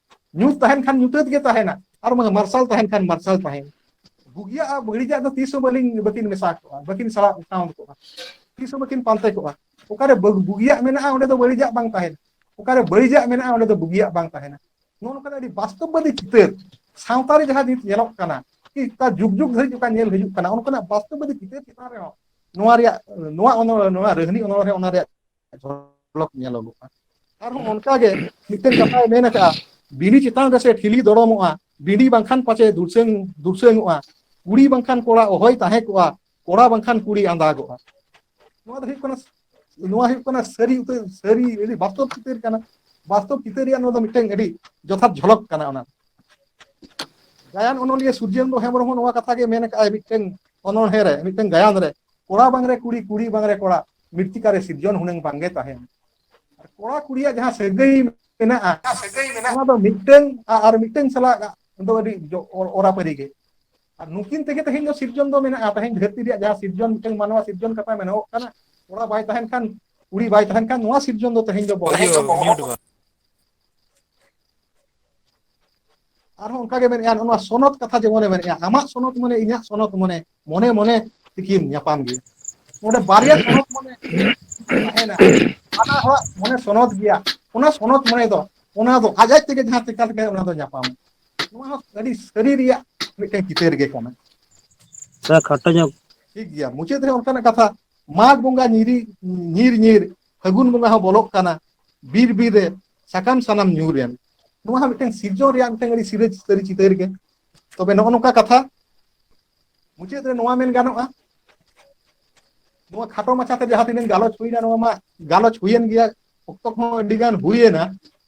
ᱧᱩᱛ ᱛᱟᱦᱮᱱ ᱠᱷᱟᱱ ᱧᱩᱛᱟᱹᱛ ᱜᱮ ᱛᱟᱦᱮᱱᱟ ᱟᱨ ᱵᱟᱝ ᱢᱟᱨᱥᱟᱞ ᱛᱟᱦᱮᱱ ᱠᱷᱟᱱ ᱢᱟᱨᱥᱟᱞ ᱛᱟᱦᱮᱱᱟ ᱵᱩᱜᱤᱭᱟᱜ ᱟᱨ ᱵᱟᱹᱲᱤᱡᱟᱜ ᱫᱚ ᱛᱤᱥ ᱦᱚᱸ ᱵᱟᱹᱞᱤᱧ ᱵᱟᱹᱠᱤᱱ ᱢᱮᱥᱟ ᱠᱚᱜᱼᱟ ᱵᱟᱹᱠᱤᱱ ᱥᱟᱞᱟᱜ ᱥᱟᱶ ᱠᱚᱜᱼᱟ ᱛᱤᱥ ᱦᱚᱸ ᱵᱟᱹᱠᱤᱱ ᱯᱟᱱᱛᱮ ᱠᱚᱜᱼᱟ ᱚᱠᱟᱨᱮ ᱵᱩᱜᱤᱭᱟᱜ ᱢᱮᱱᱟᱜᱼᱟ ᱚᱸᱰᱮ ᱫᱚ ᱵᱟᱹᱲᱤᱡᱟᱜ ᱵᱟᱝ ᱛᱟᱦᱮᱱᱟ ᱚᱠᱟᱨᱮ ᱵᱟᱹᱲᱤᱡᱟᱜ ᱢᱮᱱᱟᱜᱼᱟ ᱚᱸᱰᱮ ᱫᱚ ᱵᱩᱜᱤᱭᱟᱜ ᱵᱟᱝ ᱛᱟᱦᱮᱱᱟ ᱱᱚᱜᱼᱚ ᱱᱚᱝᱠᱟᱱᱟᱜ ᱟᱹᱰᱤ ᱵᱟᱥᱛᱚᱵᱵᱟᱫᱤ ᱪᱤᱛᱟᱹᱨ ᱥᱟᱶᱛᱟ ᱨᱮ ᱡᱟᱦᱟᱸ ᱱᱤᱛ ᱧᱮᱞᱚᱜ ᱠᱟᱱᱟ ᱠᱤ ᱚᱠᱟ ᱡᱩᱜᱽ ᱡᱩᱜᱽ ᱫᱷᱟᱹᱨᱤᱡ ᱚᱠᱟ ᱧᱮᱞ ᱦᱤᱡᱩᱜ ᱠᱟᱱᱟ ᱚᱱᱠᱟᱱᱟᱜ ᱵᱟᱥᱛᱚᱵᱟᱫᱤ ᱪᱤᱛᱟᱹᱨ ᱪᱮᱛᱟᱱ ᱨᱮᱦᱚᱸ ᱱᱚᱣᱟ ᱨᱮᱭᱟᱜ ᱱᱚᱣᱟ ᱚᱱᱚᱲ ᱱᱚᱣᱟ ᱨᱟᱹᱦᱱᱤ ᱚᱱᱚᱲᱦᱮᱸ ᱚᱱᱟ ᱨᱮᱭᱟᱜ ᱡᱷᱚᱞᱚᱠ ᱧᱮᱞᱚᱜᱚᱜᱼᱟ ᱟᱨᱦᱚᱸ ᱚᱱᱠᱟ ᱜᱮ ᱢᱤᱫᱴᱮᱱ ᱠᱟᱛᱷᱟᱭ ᱢᱮᱱ ᱟᱠᱟᱜᱼᱟ ᱫᱷᱤᱨᱤ ᱪᱮᱛᱟᱱ ᱨᱮᱥᱮ ᱴᱷᱤᱞᱤ ᱫᱚᱲᱚᱢᱚᱜᱼᱟ ᱵᱤᱰᱤ ᱵᱟᱝᱠᱷᱟᱱ ᱯᱟᱪᱮ ᱫᱩᱥᱟᱹᱝ ᱫᱩᱥᱟᱹᱝᱚᱜᱼᱟ ᱠᱩᱲᱤ ᱵᱟᱝᱠᱷᱟᱱ ᱠᱚᱲᱟ ᱚᱦᱚᱭ ᱛᱟᱦᱮᱸ ᱠᱚᱜᱼᱟ ᱠᱚᱲᱟ ᱵᱟᱝᱠᱷᱟᱱ ᱠᱩᱲᱤ ᱟᱸᱫᱟᱜᱚᱜᱼᱟ ᱱᱚᱣᱟ ᱫᱚ ᱦᱩᱭᱩᱜ ᱠᱟᱱᱟ ᱱᱚᱣᱟ ᱦᱩᱭᱩᱜ ᱠᱟᱱᱟ ᱥᱟᱹᱨᱤ ᱩᱛᱟᱹᱨ ᱥᱟᱹᱨᱤ ᱟᱹᱰᱤ ᱵᱟᱥᱛᱚᱵ ᱪᱤᱛᱟᱹᱨ ᱠᱟᱱᱟ ᱵᱟᱥᱛᱚᱵ ᱪᱤᱛᱟᱹᱨ ᱨᱮᱭᱟᱜ ᱱᱚᱣᱟ ᱫᱚ ᱢᱤᱫᱴᱮᱱ ᱟᱹᱰᱤ ᱡᱚᱛᱷᱟᱛ ᱡᱷᱚᱞᱚᱠ ᱠᱟᱱᱟ ᱚᱱᱟ ᱜᱟᱭᱟᱱ ᱚᱱᱚᱞᱤᱭᱟᱹ ᱥᱩᱨᱡᱮᱱᱫᱨᱚ ᱦᱮᱢᱵᱨᱚᱢ ᱦᱚᱸ ᱱᱚᱣᱟ ᱠᱟᱛᱷᱟ ᱜᱮ ᱢᱮᱱ ᱟᱠᱟᱫᱼᱟᱭ ᱢᱤᱫᱴᱮᱱ ᱚᱱᱚᱬᱦᱮᱸ ᱨᱮ ᱢᱤᱫᱴᱮᱱ ᱜᱟᱭᱟᱱ ᱨᱮ ᱠᱚᱲᱟ ᱵᱟᱝᱨᱮ ᱠᱩᱲᱤ ᱠᱩᱲᱤ ᱵᱟᱝᱨᱮ ᱠᱚᱲᱟ ᱢᱤᱨᱛᱤᱠᱟ ᱨᱮ ᱥᱤᱨᱡᱚᱱ ᱦᱩᱱᱟᱹᱝ ᱵᱟᱝᱜᱮ ᱛᱟᱦᱮᱱ ᱟᱨ ᱠᱚᱲᱟ ᱠᱩᱲᱤᱭᱟᱜ ᱡᱟᱦᱟᱸ ᱥᱟᱹᱜᱟᱹᱭ ᱢᱮᱱᱟᱜᱼᱟ ᱥᱟᱹᱜᱟᱹᱭ ᱢᱮᱱᱟᱜᱼᱟ ᱚᱱᱟ ᱫᱚ ᱢᱤᱫᱴᱟᱝ ᱟᱨ ᱢᱤᱫᱴᱟᱝ ᱥᱟᱞᱟᱜ ᱫᱚ ᱟᱹᱰᱤ ᱚᱨᱟᱯᱟᱹᱨᱤ ᱜᱮ ᱟᱨ ᱱᱩᱠᱤᱱ ᱛᱮᱜᱮ ᱛᱮᱦᱮᱧ ᱫᱚ ᱥᱤᱨᱡᱚᱱ ᱫᱚ ᱢᱮᱱᱟᱜᱼᱟ ᱛᱮᱦᱮᱧ ᱫᱷᱟᱹᱨᱛᱤ ᱨᱮᱭᱟᱜ ᱡᱟᱦᱟᱸ ᱥᱤᱨᱡᱚᱱ ᱢᱤᱫᱴᱟᱝ ᱢᱟᱱᱣᱟ ᱥᱤᱨᱡᱚᱱ ᱠᱟᱛᱷᱟ ᱢᱮᱱᱚᱜ ᱠᱟᱱᱟ ᱠᱚᱲᱟ ᱵᱟᱭ ᱛᱟᱦᱮᱱ ᱠᱷᱟᱱ ᱠᱩᱲᱤ ᱵᱟᱭ ᱛᱟᱦᱮᱱ ᱠᱷᱟᱱ ᱱᱚᱣᱟ ᱥᱤᱨᱡᱚᱱ ᱫᱚ ᱛᱮᱦᱮᱧ ᱫᱚ ᱵᱚᱦᱚᱜ ᱟᱨᱦᱚᱸ ᱚᱱᱠᱟ ᱜᱮ ᱢᱮᱱᱮᱫᱼᱟ ᱱᱚᱜ ᱱᱚᱣᱟ ᱥᱚᱱᱚᱛ ᱠᱟᱛᱷᱟ ᱡᱮᱢᱚᱱᱮ ᱢᱮᱱᱮᱫᱼᱟ ᱟᱢᱟᱜ ᱥᱚᱱᱚᱛ ᱢᱟᱱᱮ ᱤᱧᱟᱹᱜ ᱥᱚᱱᱚᱛ ᱢᱟᱱᱮ ᱢᱚᱱᱮ ᱢᱚᱱᱮ ᱛᱤᱠᱤᱱ ᱧᱟᱯᱟᱢ ᱜᱮ ᱚᱸᱰᱮ ᱵᱟᱨᱭᱟ ᱥᱚᱱᱚᱛ ᱢᱟᱱᱮ ᱛᱟᱦᱮᱱᱟ ᱦᱟᱱᱟ ᱦᱚᱲᱟᱜ ᱢᱚᱱᱮ ᱥᱚᱱᱚᱛ ᱜᱮᱭᱟ ᱚᱱᱟ ᱥᱚᱱᱚᱛ ᱢᱚᱱᱮ ᱫᱚ ᱚᱱᱟ ᱫᱚ ᱟᱡ ᱟᱡ ᱛᱮᱜᱮ ᱡᱟᱦᱟᱸ ᱪᱮᱠᱟ ᱞᱮᱠᱟᱭ ᱚᱱᱟ ᱫᱚ ᱧᱟᱯᱟᱢᱼᱟ ᱱᱚᱣᱟ ᱦᱚᱸ ᱟᱹᱰᱤ ᱥᱟᱹᱨᱤ ᱨᱮᱭᱟᱜ ᱢᱤᱫᱴᱮᱱ ᱪᱤᱛᱟᱹᱨ ᱜᱮ ᱠᱟᱱᱟ ᱛᱷᱚᱲᱟ ᱠᱷᱟᱴᱚ ᱧᱚᱜ ᱴᱷᱤᱠ ᱜᱮᱭᱟ ᱢᱩᱪᱟᱹᱫ ᱨᱮ ᱚᱱᱠᱟᱱᱟᱜ ᱠᱟᱛᱷᱟ ᱢᱟᱜᱽ ᱵᱚᱸᱜᱟ ᱧᱤᱨᱤ ᱧᱤᱨ ᱧᱤᱨ ᱯᱷᱟᱹᱜᱩᱱ ᱵᱚᱸᱜᱟ ᱦᱚᱸ ᱵᱚᱞᱚᱜ ᱠᱟᱱᱟ ᱵᱤᱨ ᱵᱤᱨ ᱨᱮ ᱥᱟᱠᱟᱢ ᱥᱟᱱᱟᱢ ᱧᱩᱨ ᱮᱱ ᱱᱚᱣᱟ ᱦᱚᱸ ᱢᱤᱫᱴᱟᱝ ᱥᱤᱨᱡᱚᱱ ᱨᱮᱭᱟᱜ ᱢᱤᱫᱴᱟᱝ ᱟᱹᱰᱤ ᱥᱤᱨᱟᱹ ᱥᱟᱹᱨᱤ ᱪᱤᱛᱟᱹᱨ ᱜᱮ ᱛᱚᱵᱮ ᱱᱚᱜᱼᱚ ᱱᱚᱝᱠᱟ ᱠᱟᱛᱷᱟ ᱢᱩᱪᱟᱹᱫ ᱨᱮ ᱱᱚᱣᱟ ᱢᱮᱱ ᱜᱟᱱᱚᱜᱼᱟ ᱱᱚᱣᱟ ᱠᱷᱟᱴᱚ ᱢᱟᱪᱷᱟᱛᱮ ᱡᱟᱦᱟᱸ ᱛᱤᱱᱟᱹᱜ ᱜᱟᱞᱚᱪ ᱦᱩᱭᱱᱟ ᱱᱚᱣᱟ ᱢᱟ ᱜᱟᱞᱚᱪ ᱦᱩᱭᱮᱱ ᱜᱮᱭᱟ ᱚᱠᱛᱚ ᱠᱚᱦᱚᱸ ᱟᱹᱰᱤ ᱜᱟᱱ ᱦᱩᱭᱮᱱᱟ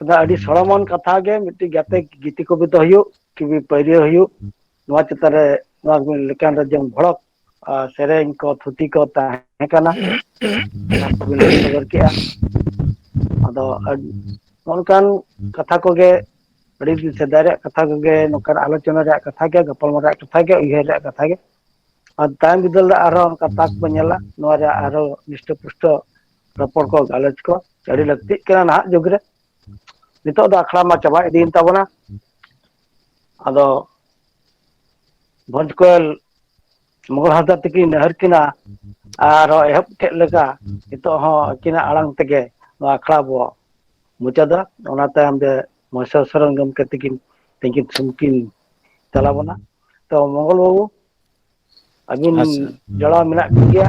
ᱟᱫᱚ ᱟᱹᱰᱤ ᱥᱚᱲᱚᱢᱚᱱ ᱠᱟᱛᱷᱟ ᱜᱮ ᱢᱤᱫᱴᱤᱡ ᱜᱟᱛᱮ ᱜᱤᱛᱤ ᱠᱚᱵᱤᱛᱟ ᱦᱩᱭᱩᱜ ᱠᱤᱵᱤ ᱯᱟᱹᱭᱨᱟᱹ ᱦᱩᱭᱩᱜ ᱱᱚᱣᱟ ᱪᱮᱛᱟᱱ ᱨᱮ ᱱᱚᱣᱟ ᱞᱮᱠᱟᱱ ᱨᱮ ᱡᱮᱢᱚᱱ ᱵᱷᱚᱲᱚᱠ ᱟᱨ ᱥᱮᱨᱮᱧ ᱠᱚ ᱛᱷᱩᱛᱤ ᱠᱚ ᱛᱟᱦᱮᱸ ᱦᱮᱸ ᱠᱟᱱᱟ ᱚᱱᱟ ᱠᱚᱵᱤᱱ ᱞᱟᱹᱭ ᱥᱚᱫᱚᱨ ᱠᱮᱜᱼᱟ ᱟᱫᱚ ᱚᱱᱠᱟᱱ ᱠᱟᱛᱷᱟ ᱠᱚᱜᱮ ᱟᱹᱰᱤ ᱫᱤᱱ ᱥᱮᱫᱟᱭ ᱨᱮᱭᱟᱜ ᱠᱟᱛᱷᱟ ᱠᱚᱜᱮ ᱱᱚᱝᱠᱟᱱ ᱟᱞᱳᱪᱚᱱᱟ ᱨᱮᱭᱟᱜ ᱠᱟᱛᱷᱟ ᱜᱮ ᱜᱟᱯᱟᱞᱢᱟᱨᱟᱣ ᱨᱮᱭᱟᱜ ᱠᱟᱛᱷᱟ ᱜᱮ ᱩᱭᱦᱟᱹᱨ ᱨᱮᱭᱟᱜ ᱠᱟᱛᱷᱟ ᱜᱮ ᱟᱨ ᱛᱟᱭᱚᱢ ᱵᱤᱫᱟᱹᱞ ᱨᱮ ᱟᱨᱦᱚᱸ ᱚᱱᱠᱟ ᱛᱟᱠ ᱵᱚᱱ ᱧᱮᱞᱟ ᱱᱚᱣᱟ ᱨᱮᱭᱟᱜ ᱟᱨᱦᱚᱸ ᱱᱤᱥᱴᱚ ᱯᱩᱥᱴᱚ ᱨᱚᱯᱚᱲ ᱠᱚ ᱜᱟᱞᱚᱪ ᱠᱚ ᱟᱹᱰᱤ ᱞᱟᱹᱠᱛᱤᱜ ᱠᱟᱱᱟ ᱱᱟᱦᱟᱜ ᱡᱩᱜᱽ ᱨᱮ ᱱᱤᱛᱚᱜ ᱫᱚ ᱟᱠᱷᱲᱟ ᱢᱟ ᱪᱟᱵᱟ ᱤᱫᱤᱭᱮᱱ ᱛᱟᱵᱚᱱᱟ ᱟᱫᱚ ᱵᱷᱚᱸᱡᱽ ᱠᱚᱭᱮᱞ ᱢᱳᱦᱚᱱ ᱦᱟᱸᱥᱫᱟ ᱛᱤᱠᱤᱱ ᱱᱮᱦᱚᱨ ᱠᱤᱱᱟ ᱟᱨᱚ ᱮᱦᱚᱵ ᱠᱮᱫ ᱞᱮᱠᱟ ᱱᱤᱛᱚᱜ ᱦᱚᱸ ᱟᱹᱠᱤᱱᱟᱜ ᱟᱲᱟᱝ ᱛᱮᱜᱮ ᱱᱚᱣᱟ ᱟᱠᱷᱲᱟ ᱵᱚ ᱢᱩᱪᱟᱹᱫᱟ ᱚᱱᱟ ᱛᱟᱭᱚᱢ ᱛᱮ ᱢᱚᱦᱮᱥᱚᱨ ᱥᱚᱨᱮᱱ ᱜᱚᱢᱠᱮ ᱛᱤᱠᱤᱱ ᱛᱤᱠᱤᱱ ᱥᱩᱱᱠᱤᱱ ᱪᱟᱞᱟᱣ ᱵᱚᱱᱟ ᱛᱚ ᱢᱚᱝᱜᱚᱞ ᱵᱟᱹᱵᱩ ᱟᱹᱵᱤᱱ ᱟᱪᱪᱷᱟ ᱡᱚᱲᱟᱣ ᱢᱮᱱᱟᱜ ᱵᱤᱱ ᱜᱮᱭᱟ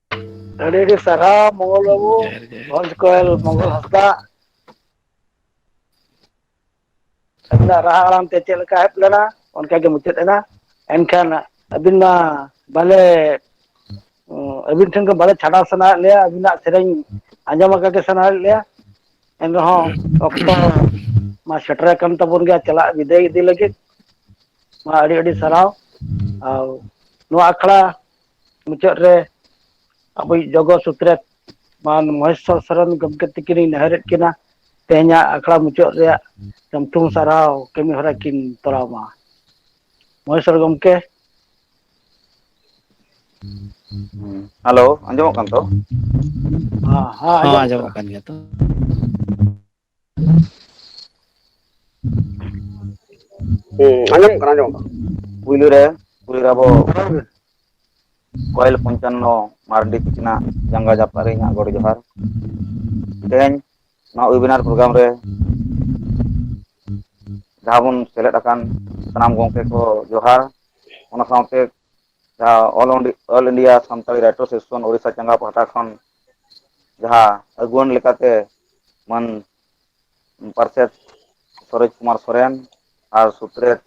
ᱟᱹᱰᱤ ᱟᱹᱰᱤ ᱥᱟᱨᱦᱟᱣ ᱢᱚᱝᱜᱚᱞ ᱵᱟᱹᱵᱩ ᱡᱚᱦᱟᱨ ᱜᱮ ᱵᱷᱚᱸᱡᱽ ᱠᱚᱭᱮᱞ ᱢᱚᱝᱜᱚᱞ ᱦᱟᱸᱥᱫᱟᱜ ᱟᱹᱵᱤᱱᱟᱜ ᱨᱟᱦᱟ ᱟᱲᱟᱝ ᱛᱮ ᱪᱮᱫ ᱞᱮᱠᱟ ᱮᱦᱚᱵ ᱞᱮᱱᱟ ᱚᱱᱠᱟ ᱜᱮ ᱢᱩᱪᱟᱹᱫ ᱮᱱᱟ ᱮᱱᱠᱷᱟᱱ ᱟᱹᱵᱤᱱ ᱢᱟ ᱵᱟᱞᱮ ᱟᱹᱵᱤᱱ ᱴᱷᱮᱱ ᱠᱷᱚᱱ ᱵᱟᱞᱮ ᱪᱷᱟᱰᱟᱣ ᱥᱟᱱᱟᱭᱮᱫ ᱞᱮᱭᱟ ᱟᱹᱵᱤᱱᱟᱜ ᱥᱮᱨᱮᱧ ᱟᱸᱡᱚᱢ ᱟᱠᱟ ᱜᱮ ᱥᱟᱱᱟᱭᱮᱫ ᱞᱮᱭᱟ ᱮᱱ ᱨᱮᱦᱚᱸ ᱚᱠᱛᱚ ᱢᱟ ᱥᱮᱴᱮᱨ ᱟᱠᱟᱱ ᱛᱟᱵᱚᱱ ᱜᱮᱭᱟ ᱪᱟᱞᱟᱜ ᱵᱤᱫᱟᱹᱭ ᱤᱫᱤ ᱞᱟᱹᱜᱤᱫ ᱢᱟ ᱟᱹᱰᱤ ᱟᱹᱰᱤ ᱥᱟᱨᱦᱟᱣ ᱟᱨ ᱱᱚᱣᱟ ᱟᱠᱷᱲᱟ ᱢᱩᱪᱟᱹᱫ ᱨᱮ ᱟᱵᱚᱭᱤᱡ ᱡᱚᱜᱚ ᱥᱩᱛᱨᱮᱛ ᱢᱟᱱ ᱢᱚᱦᱮᱥᱚᱨ ᱥᱚᱨᱮᱱ ᱜᱚᱢᱠᱮ ᱛᱤᱠᱤᱱᱤᱧ ᱱᱮᱦᱚᱨᱮᱫ ᱠᱤᱱᱟ ᱛᱮᱦᱮᱧᱟᱜ ᱟᱠᱷᱲᱟ ᱢᱩᱪᱟᱹᱫ ᱨᱮᱭᱟᱜ ᱥᱟᱢᱴᱩ ᱥᱟᱨᱦᱟᱣ ᱠᱟᱹᱢᱤ ᱦᱚᱨᱟ ᱠᱤᱱ ᱛᱚᱨᱟᱣ ᱢᱟ ᱢᱚᱦᱮᱥᱚᱨ ᱜᱚᱢᱠᱮ ᱦᱮᱞᱳ ᱟᱸᱡᱚᱢᱚᱜ ᱠᱟᱱ ᱛᱚ ᱦᱮᱸ ᱦᱮᱸ ᱦᱚᱸ ᱟᱸᱡᱚᱢᱚᱜ ᱠᱟᱱᱟ ᱠᱟᱱ ᱜᱮᱭᱟ ᱛᱚ ᱦᱩᱸ ᱟᱸᱡᱚᱢᱚᱜ ᱠᱟᱱᱟ ᱟᱸᱡᱚᱢᱚᱜ ᱠᱟᱱᱟ ᱯᱩᱭᱞᱩ ᱨᱮ ᱯᱩᱭᱞᱩ ᱨᱮ ᱟᱵᱚ ᱠᱚᱭᱮᱞ ᱯᱚᱧᱪᱟᱱᱱᱚ ᱢᱟᱨᱰᱤ ᱛᱤᱠᱤᱱᱟᱜ ᱡᱟᱸᱜᱟ ᱡᱟᱯᱟᱜ ᱨᱮ ᱤᱧᱟᱹᱜ ᱜᱚᱰ ᱡᱚᱦᱟᱨ ᱛᱮᱦᱮᱧ ᱱᱚᱣᱟ ᱚᱭᱵᱤᱱᱟᱨ ᱯᱨᱳᱜᱨᱟᱢ ᱨᱮ ᱡᱟᱦᱟᱸ ᱵᱚᱱ ᱥᱮᱞᱮᱫ ᱟᱠᱟᱱ ᱥᱟᱱᱟᱢ ᱜᱚᱢᱠᱮ ᱠᱚ ᱡᱚᱦᱟᱨ ᱚᱱᱟ ᱥᱟᱶᱛᱮ ᱡᱟᱦᱟᱸ ᱚᱞ ᱚᱸᱰᱤ all India Santali writer session Odisha ᱪᱟᱸᱜᱟ ᱯᱟᱦᱴᱟ ᱠᱷᱚᱱ ᱡᱟᱦᱟᱸ ᱟᱹᱜᱩᱣᱟᱹᱱ ᱞᱮᱠᱟᱛᱮ ᱢᱟᱹᱱ ᱯᱟᱨᱥᱮᱛ ᱥᱚᱨᱚᱡᱽ ᱠᱩᱢᱟᱨ ᱥᱚᱨᱮᱱ ᱟᱨ ᱥᱩᱛᱨᱮᱛ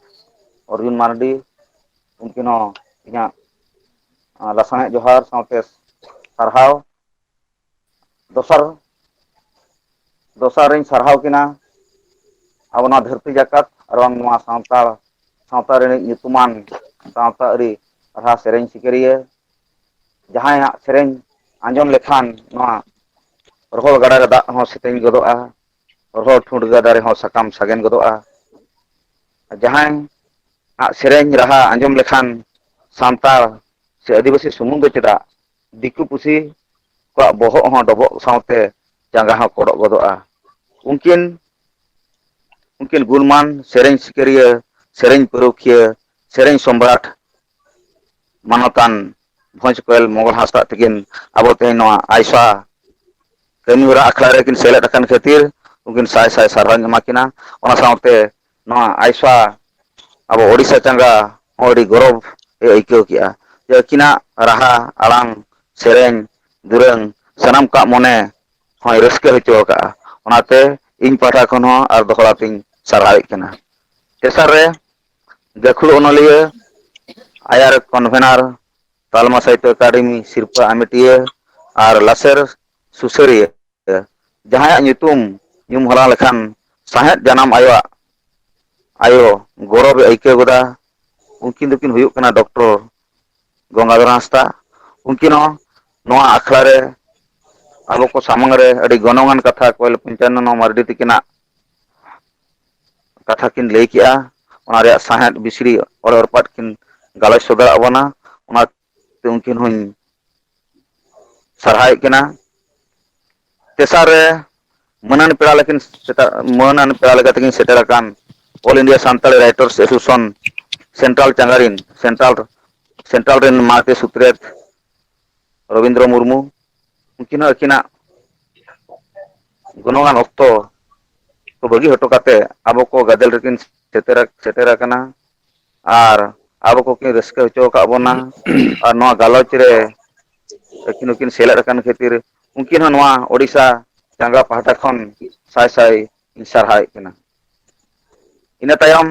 ᱚᱨᱡᱩᱱ ᱢᱟᱨᱰᱤ ᱩᱱᱠᱤᱱ ᱦᱚᱸ ᱤᱧᱟᱹᱜ ᱞᱟᱥᱟᱬᱦᱮᱫ ᱡᱚᱦᱟᱨ ᱥᱟᱶᱛᱮ ᱥᱟᱨᱦᱟᱣ ᱫᱚᱥᱟᱨ ᱫᱚᱥᱟᱨ ᱨᱤᱧ ᱥᱟᱨᱦᱟᱣ ᱠᱤᱱᱟ ᱟᱵᱚ ᱱᱚᱣᱟ ᱫᱷᱟᱹᱨᱛᱤ ᱡᱟᱠᱟᱛ ᱟᱨ ᱵᱟᱝ ᱱᱚᱣᱟ ᱥᱟᱱᱛᱟᱲ ᱥᱟᱶᱛᱟ ᱨᱤᱱᱤᱡ ᱧᱩᱛᱩᱢᱟᱱ ᱥᱟᱶᱛᱟ ᱟᱹᱨᱤ ᱨᱟᱦᱟ ᱥᱮᱨᱮᱧ ᱥᱤᱠᱟᱹᱨᱤᱭᱟᱹ ᱡᱟᱦᱟᱸᱭᱟᱜ ᱥᱮᱨᱮᱧ ᱟᱸᱡᱚᱢ ᱞᱮᱠᱷᱟᱱ ᱱᱚᱣᱟ ᱨᱚᱦᱚᱲ ᱜᱟᱰᱟ ᱨᱮ ᱫᱟᱜ ᱦᱚᱸ ᱥᱮᱛᱮᱧ ᱜᱚᱫᱚᱜᱼᱟ ᱨᱚᱦᱚᱲ ᱴᱷᱩᱸᱴ ᱜᱟᱰᱟ ᱨᱮᱦᱚᱸ ᱥᱟᱠᱟᱢ ᱥᱟᱜᱮᱱ ᱜᱚᱫᱚᱜᱼᱟ ᱡᱟᱦᱟᱸᱭ ᱟᱜ ᱥᱮᱨᱮᱧ ᱨᱟᱦᱟ ᱟᱸᱡᱚᱢ ᱞᱮᱠᱷᱟᱱ ᱥᱟᱱᱛᱟᱲ ᱥᱮ ᱟᱹᱫᱤᱵᱟᱹᱥᱤ ᱥᱩᱢᱩᱝ ᱫᱚ ᱪᱮᱫᱟᱜ ᱫᱤᱠᱩ ᱯᱩᱥᱤ ᱠᱚᱣᱟᱜ ᱵᱚᱦᱚᱜ ᱦᱚᱸ ᱰᱚᱵᱚᱜ ᱥᱟᱶᱛᱮ ᱡᱟᱸᱜᱟ ᱦᱚᱸ ᱠᱚᱰᱚᱜ ᱜᱚᱫᱚᱜᱼᱟ᱾ ᱩᱱᱠᱤᱱ ᱩᱱᱠᱤᱱ ᱜᱩᱱᱢᱟᱱ ᱥᱮᱨᱮᱧ ᱥᱤᱠᱟᱹᱨᱤᱭᱟᱹ, ᱥᱮᱨᱮᱧ ᱯᱟᱹᱨᱩᱠᱷᱤᱭᱟᱹ, ᱥᱮᱨᱮᱧ ᱥᱚᱢᱨᱟᱴ ᱢᱟᱱᱚᱛᱟᱱ ᱵᱷᱚᱸᱡᱽ ᱠᱚᱭᱮᱞ ᱢᱚᱸᱜᱚᱞ ᱦᱟᱸᱥᱫᱟᱜ ᱛᱤᱠᱤᱱ ᱟᱵᱚ ᱛᱮᱦᱮᱧ ᱱᱚᱣᱟ ᱟᱭᱥᱟ ᱠᱟᱹᱢᱤ ᱦᱚᱨᱟ ᱟᱠᱷᱲᱟ ᱨᱮᱠᱤᱱ ᱥᱮᱞᱮᱫ ᱟᱠᱟᱱ ᱠᱷᱟᱹᱛᱤᱨ ᱩᱱᱠᱤᱱ ᱥᱟᱭ ᱥᱟᱭ ᱥᱟᱨᱦᱟᱣᱤᱧ ᱮᱢᱟ ᱠᱤᱱᱟ᱾ ᱚᱱᱟ ᱥᱟᱶᱛᱮ ᱱᱚᱣᱟ ᱟᱭᱥᱟ ᱟᱵᱚ ᱳᱰᱤᱥᱟ ᱪᱟᱸᱜᱟ ᱦᱚᱸ ᱟᱹᱰᱤ ᱜᱚᱨᱚᱵᱽ ᱮ ᱟᱹᱭᱠᱟᱹᱣ ᱠᱮᱜᱼᱟ ᱡᱮ ᱟᱹᱠᱤᱱᱟᱜ ᱨᱟᱦᱟ ᱟᱲᱟᱝ ᱥᱮᱨᱮᱧ ᱫᱩᱨᱟᱹᱝ ᱥᱟᱱᱟᱢ ᱠᱚᱣᱟᱜ ᱢᱚᱱᱮ ᱦᱚᱸᱭ ᱨᱟᱹᱥᱠᱟᱹ ᱦᱚᱪᱚ ᱟᱠᱟᱫᱼᱟ ᱚᱱᱟᱛᱮ ᱤᱧ ᱯᱟᱦᱴᱟ ᱠᱷᱚᱱ ᱦᱚᱸ ᱟᱨ ᱫᱚᱦᱲᱟ ᱛᱤᱧ ᱥᱟᱨᱦᱟᱣᱮᱫ ᱠᱟᱱᱟ ᱛᱮᱥᱟᱨ ᱨᱮ ᱜᱟᱹᱠᱷᱩᱲ ᱚᱱᱚᱞᱤᱭᱟᱹ ᱟᱭᱟᱨ ᱠᱚᱱᱵᱷᱮᱱᱟᱨ ᱛᱟᱞᱢᱟ ᱥᱟᱦᱤᱛᱛᱚ ᱮᱠᱟᱰᱮᱢᱤ ᱥᱤᱨᱯᱟᱹ ᱟᱢᱮᱴᱤᱭᱟᱹ ᱟᱨ ᱞᱟᱥᱮᱨ ᱥᱩᱥᱟᱹᱨᱤᱭᱟᱹ ᱡᱟᱦᱟᱸᱭᱟᱜ ᱧᱩᱛᱩᱢ ᱧᱩᱢ ᱦᱟᱞᱟᱝ ᱞᱮᱠᱷᱟᱱ ᱥᱟᱶᱦᱮᱫ ᱡᱟᱱᱟᱢ ᱟᱭᱳᱣᱟᱜ ᱟᱭᱳ ᱜᱚᱨᱚᱵᱽ ᱮ ᱟᱹᱭᱠᱟᱹᱣ ᱜᱚᱫᱟ ᱩᱱᱠᱤᱱ ᱫᱚᱠᱤᱱ ᱦᱩᱭᱩᱜ ᱠᱟᱱᱟ ᱰᱚᱠᱴᱚᱨ ᱜᱚᱝᱜᱟᱫᱷᱚᱨ ᱦᱟᱸᱥᱫᱟ ᱩᱱᱠᱤᱱ ᱦᱚᱸ ᱱᱚᱣᱟ ᱟᱠᱷᱲᱟ ᱨᱮ ᱟᱵᱚ ᱠᱚ ᱥᱟᱢᱟᱝ ᱨᱮ ᱟᱹᱰᱤ ᱜᱚᱱᱚᱝ ᱟᱱ ᱠᱟᱛᱷᱟ ᱠᱚᱭᱮᱞ ᱯᱚᱧᱪᱟᱱᱚᱱᱚ ᱢᱟᱨᱰᱤ ᱛᱤᱠᱤᱱᱟᱜ ᱠᱟᱛᱷᱟ ᱠᱤᱱ ᱞᱟᱹᱭ ᱠᱮᱜᱼᱟ ᱚᱱᱟ ᱨᱮᱭᱟᱜ ᱥᱟᱶᱦᱮᱫ ᱵᱤᱥᱲᱤ ᱚᱲᱮ ᱲᱯᱟᱫ ᱠᱤᱱ ᱜᱟᱞᱚᱪ ᱥᱚᱫᱚᱨᱟᱜ ᱵᱚᱱᱟ ᱚᱱᱟ ᱛᱚ ᱩᱱᱠᱤᱱ ᱦᱚᱧ ᱥᱟᱨᱦᱟᱣᱮᱫ ᱠᱤᱱᱟ ᱛᱮᱥᱟᱨ ᱨᱮ ᱢᱟᱹᱱᱟᱱ ᱯᱮᱲᱟ ᱞᱮᱠᱤᱱ ᱥᱮᱴᱮᱨ ᱢᱟᱹᱱᱟᱱ ᱯᱮᱲᱟ ᱞᱮᱠᱟ ᱛᱮᱠᱤᱱ ᱥᱮᱴᱮᱨ ᱟᱠᱟᱱ all India Santali writers association central ᱪᱟᱸᱜᱟᱨᱤᱱ ᱥᱮᱱᱴᱨᱟᱞ ᱥᱮᱱᱴᱨᱟᱞ ᱨᱮᱱ ᱢᱟᱦᱟᱛᱮ ᱥᱩᱛᱨᱮᱛ ᱨᱚᱵᱤᱱᱫᱨᱚ ᱢᱩᱨᱢᱩ ᱩᱱᱠᱤᱱ ᱦᱚᱸ ᱟᱹᱠᱤᱱᱟᱜ ᱜᱩᱱᱚᱢᱟᱱ ᱚᱠᱛᱚ ᱠᱚ ᱵᱟᱹᱜᱤ ᱦᱚᱴᱚ ᱠᱟᱛᱮᱫ ᱟᱵᱚ ᱠᱚ ᱜᱟᱫᱮᱞ ᱨᱮᱠᱤᱱ ᱥᱮᱴᱮᱨ ᱥᱮᱴᱮᱨ ᱟᱠᱟᱱᱟ ᱟᱨ ᱟᱵᱚ ᱠᱚᱠᱤᱱ ᱨᱟᱹᱥᱠᱟᱹ ᱦᱚᱪᱚ ᱟᱠᱟᱫ ᱵᱚᱱᱟ ᱟᱨ ᱱᱚᱣᱟ ᱜᱟᱞᱚᱪ ᱨᱮ ᱟᱹᱠᱤᱱ ᱦᱚᱸᱠᱤᱱ ᱥᱮᱞᱮᱫ ᱟᱠᱟᱱ ᱠᱷᱟᱹᱛᱤᱨ ᱩᱱᱠᱤᱱ ᱦᱚᱸ ᱱᱚᱣᱟ ᱳᱰᱤᱥᱟ ᱪᱟᱸᱜᱟ ᱯᱟᱦᱴᱟ ᱠᱷᱚᱱ ᱥᱟᱭ ᱥᱟᱭ ᱤᱧ ᱥᱟᱨᱦᱟᱣᱮᱫ ᱠᱤᱱᱟ᱾ ᱤᱱᱟᱹ ᱛᱟᱭᱚᱢ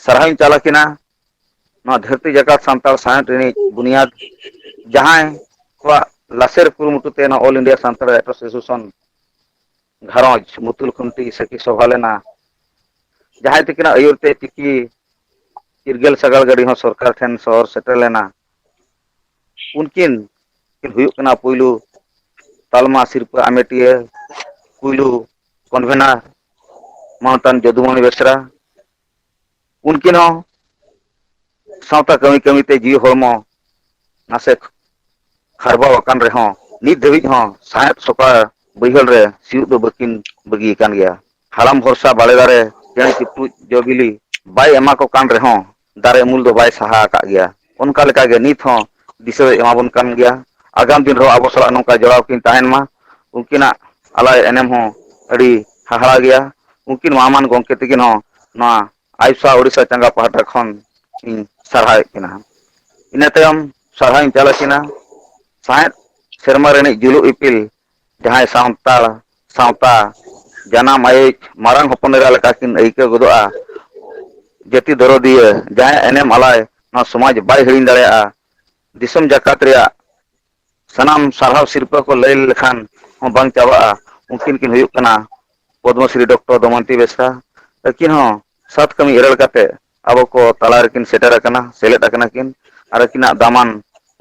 ᱥᱟᱨᱦᱟᱣ ᱤᱧ ᱪᱟᱞ ᱟᱠᱤᱱᱟ ᱱᱚᱣᱟ ᱫᱷᱟᱹᱨᱛᱤ ᱡᱟᱠᱟᱛ ᱥᱟᱱᱛᱟᱲ ᱥᱟᱶᱦᱮᱫ ᱨᱤᱱᱤᱡ ᱵᱩᱱᱤᱭᱟᱫᱽ ᱡᱟᱦᱟᱸᱭ ᱠᱚᱣᱟᱜ ᱞᱟᱥᱮᱨ ᱠᱩᱨᱩᱢᱩᱴᱩ ᱛᱮ ᱱᱚᱣᱟ ᱚᱞ ᱤᱱᱰᱤᱭᱟ ᱥᱟᱱᱛᱟᱲ ᱮᱥᱳᱥᱤᱭᱮᱥᱚᱱ ᱜᱷᱟᱨᱚᱸᱡᱽ ᱢᱩᱛᱩᱞ ᱠᱷᱩᱱᱴᱤ ᱥᱟᱹᱠᱷᱤ ᱥᱚᱵᱷᱟ ᱞᱮᱱᱟ ᱡᱟᱦᱟᱸᱭ ᱛᱤᱠᱤᱱᱟᱜ ᱟᱹᱭᱩᱨ ᱛᱮ ᱪᱤᱠᱤ ᱪᱤᱨᱜᱟᱹᱞ ᱥᱟᱜᱟᱲ ᱜᱟᱹᱰᱤ ᱦᱚᱸ ᱥᱚᱨᱠᱟᱨ ᱴᱷᱮᱱ ᱥᱚᱦᱚᱨ ᱥᱮᱴᱮᱨ ᱞᱮᱱᱟ ᱩᱱᱠᱤᱱ ᱠᱤᱱ ᱦᱩᱭᱩᱜ ᱠᱟᱱᱟ ᱯᱩᱭᱞᱩ ᱛᱟᱞᱢᱟ ᱥᱤᱨᱯᱟᱹ ᱟᱢᱮᱴᱤᱭᱟᱹ ᱯᱩᱭᱞᱩ ᱠᱚᱱᱵᱷᱮᱱᱟᱨ ᱢᱟᱱᱚᱛᱟᱱ ᱡᱚᱫᱩᱢᱚᱱᱤ ᱵᱮᱥᱨᱟ ᱩᱱᱠᱤᱱ ᱦᱚᱸ ᱥᱟᱶᱛᱟ ᱠᱟᱹᱢᱤ ᱠᱟᱹᱢᱤ ᱛᱮ ᱡᱤᱣᱤ ᱦᱚᱲᱢᱚ ᱱᱟᱥᱮ ᱠᱷᱟᱨᱵᱟᱣ ᱟᱠᱟᱱ ᱨᱮᱦᱚᱸ ᱱᱤᱛ ᱫᱷᱟᱹᱵᱤᱡ ᱦᱚᱸ ᱥᱟᱶᱦᱮᱫ ᱥᱚᱯᱟ ᱵᱟᱹᱭᱦᱟᱹᱲ ᱨᱮ ᱥᱤᱭᱳᱜ ᱫᱚ ᱵᱟᱹᱠᱤᱱ ᱵᱟᱹᱜᱤ ᱟᱠᱟᱱ ᱜᱮᱭᱟ ᱦᱟᱲᱟᱢ ᱵᱷᱚᱨᱥᱟ ᱵᱟᱲᱮ ᱫᱟᱨᱮ ᱪᱮᱬᱮ ᱪᱤᱯᱨᱩᱫ ᱡᱚ ᱵᱤᱞᱤ ᱵᱟᱭ ᱮᱢᱟ ᱠᱚ ᱠᱟᱱ ᱨᱮᱦᱚᱸ ᱫᱟᱨᱮ ᱩᱢᱩᱞ ᱫᱚ ᱵᱟᱭ ᱥᱟᱦᱟ ᱟᱠᱟᱫ ᱜᱮᱭᱟ ᱚᱱᱠᱟ ᱞᱮᱠᱟ ᱜᱮ ᱱᱤᱛ ᱦᱚᱸ ᱫᱤᱥᱟᱹ ᱫᱚᱭ ᱮᱢᱟ ᱵᱚᱱ ᱠᱟᱱ ᱜᱮᱭᱟ᱾ ᱟᱜᱟᱢ ᱫᱤᱱ ᱨᱮᱦᱚᱸ ᱟᱵᱚ ᱥᱟᱞᱟᱜ ᱱᱚᱝᱠᱟ ᱡᱚᱲᱟᱣ ᱠᱤᱱ ᱛᱟᱦᱮᱱ ᱢᱟ᱾ ᱩᱱᱠᱤᱱᱟᱜ ᱟᱞᱟᱭ ᱮᱱᱮᱢ ᱦᱚᱸ ᱟᱹᱰᱤ ᱦᱟᱦᱟᱲᱟ ᱜᱮᱭᱟ᱾ ᱩᱱᱠᱤᱱ ᱢᱟᱱ ᱜᱚᱢᱠᱮ ᱛᱤᱠᱤᱱ ᱦᱚᱸ ᱱᱚᱣᱟ ᱟᱭᱥᱟ ᱩᱰᱤᱥᱟ ᱪᱟᱸᱜᱟ ᱯᱟᱦᱴᱟ ᱠᱷᱚᱱ ᱤᱧ ᱥᱟᱨᱦᱟᱣᱮᱫ ᱠᱤᱱᱟ᱾ ᱤᱱᱟᱹ ᱛᱟᱭᱚᱢ ᱥᱟᱨᱦᱟᱣᱤᱧ ᱪᱟᱞ ᱟᱹᱠᱤᱱᱟ ᱥᱟᱶᱦᱮᱫ ᱥᱮᱨᱢᱟ ᱨᱤᱱᱤᱡ ᱡᱩᱞᱩᱜ ᱤᱯᱤᱞ ᱡᱟᱦᱟᱸᱭ ᱥᱟᱱᱛᱟᱲ ᱥᱟᱶᱛᱟ ᱡᱟᱱᱟᱢ ᱟᱭᱤᱡ ᱢᱟᱨᱟᱝ ᱦᱚᱯᱚᱱ ᱮᱨᱟ ᱞᱮᱠᱟ ᱠᱤᱱ ᱟᱹᱭᱠᱟᱹᱣ ᱜᱚᱫᱚᱜᱼᱟ ᱡᱟᱹᱛᱤ ᱫᱚᱨᱚᱫᱤᱭᱟᱹ ᱡᱟᱦᱟᱸᱭᱟᱜ ᱮᱱᱮᱢ ᱟᱞᱟᱭ ᱱᱚᱣᱟ ᱥᱚᱢᱟᱡᱽ ᱵᱟᱭ ᱦᱤᱲᱤᱧ ᱫᱟᱲᱮᱭᱟᱜᱼᱟ ᱫᱤᱥᱚᱢ ᱡᱟᱠᱟᱛ ᱨᱮᱭᱟᱜ ᱥᱟᱱᱟᱢ ᱥᱟᱨᱦᱟᱣ ᱥᱤᱨᱯᱟᱹ ᱠᱚ ᱞᱟᱹᱭ ᱞᱮᱠᱷᱟᱱ ᱦᱚᱸ ᱵᱟᱝ ᱪᱟᱵᱟᱜᱼᱟ ᱩᱱᱠᱤᱱ ᱠᱤᱱ ᱦᱩᱭᱩᱜ ᱠᱟᱱᱟ ᱯᱚᱫᱽᱢᱚ ᱥᱨᱤ ᱰᱚᱠᱴᱚᱨ ᱫᱚᱢᱚᱱᱛᱤ ᱵᱮᱥᱨᱟ ᱟᱹᱠᱤᱱ ᱦᱚᱸ ᱥᱟᱛ ᱠᱟᱹᱢᱤ ᱤᱨᱟᱹᱲ ᱠᱟᱛᱮ ᱟᱵᱚ ᱠᱚ ᱛᱟᱞᱟ ᱨᱮᱠᱤᱱ ᱥᱮᱴᱮᱨ ᱟᱠᱟᱱᱟ ᱥᱮᱞᱮᱫ ᱟᱠᱟᱱᱟ ᱠᱤᱱ ᱟᱨ ᱟᱹᱠᱤᱱᱟᱜ ᱫᱟᱢᱟᱱ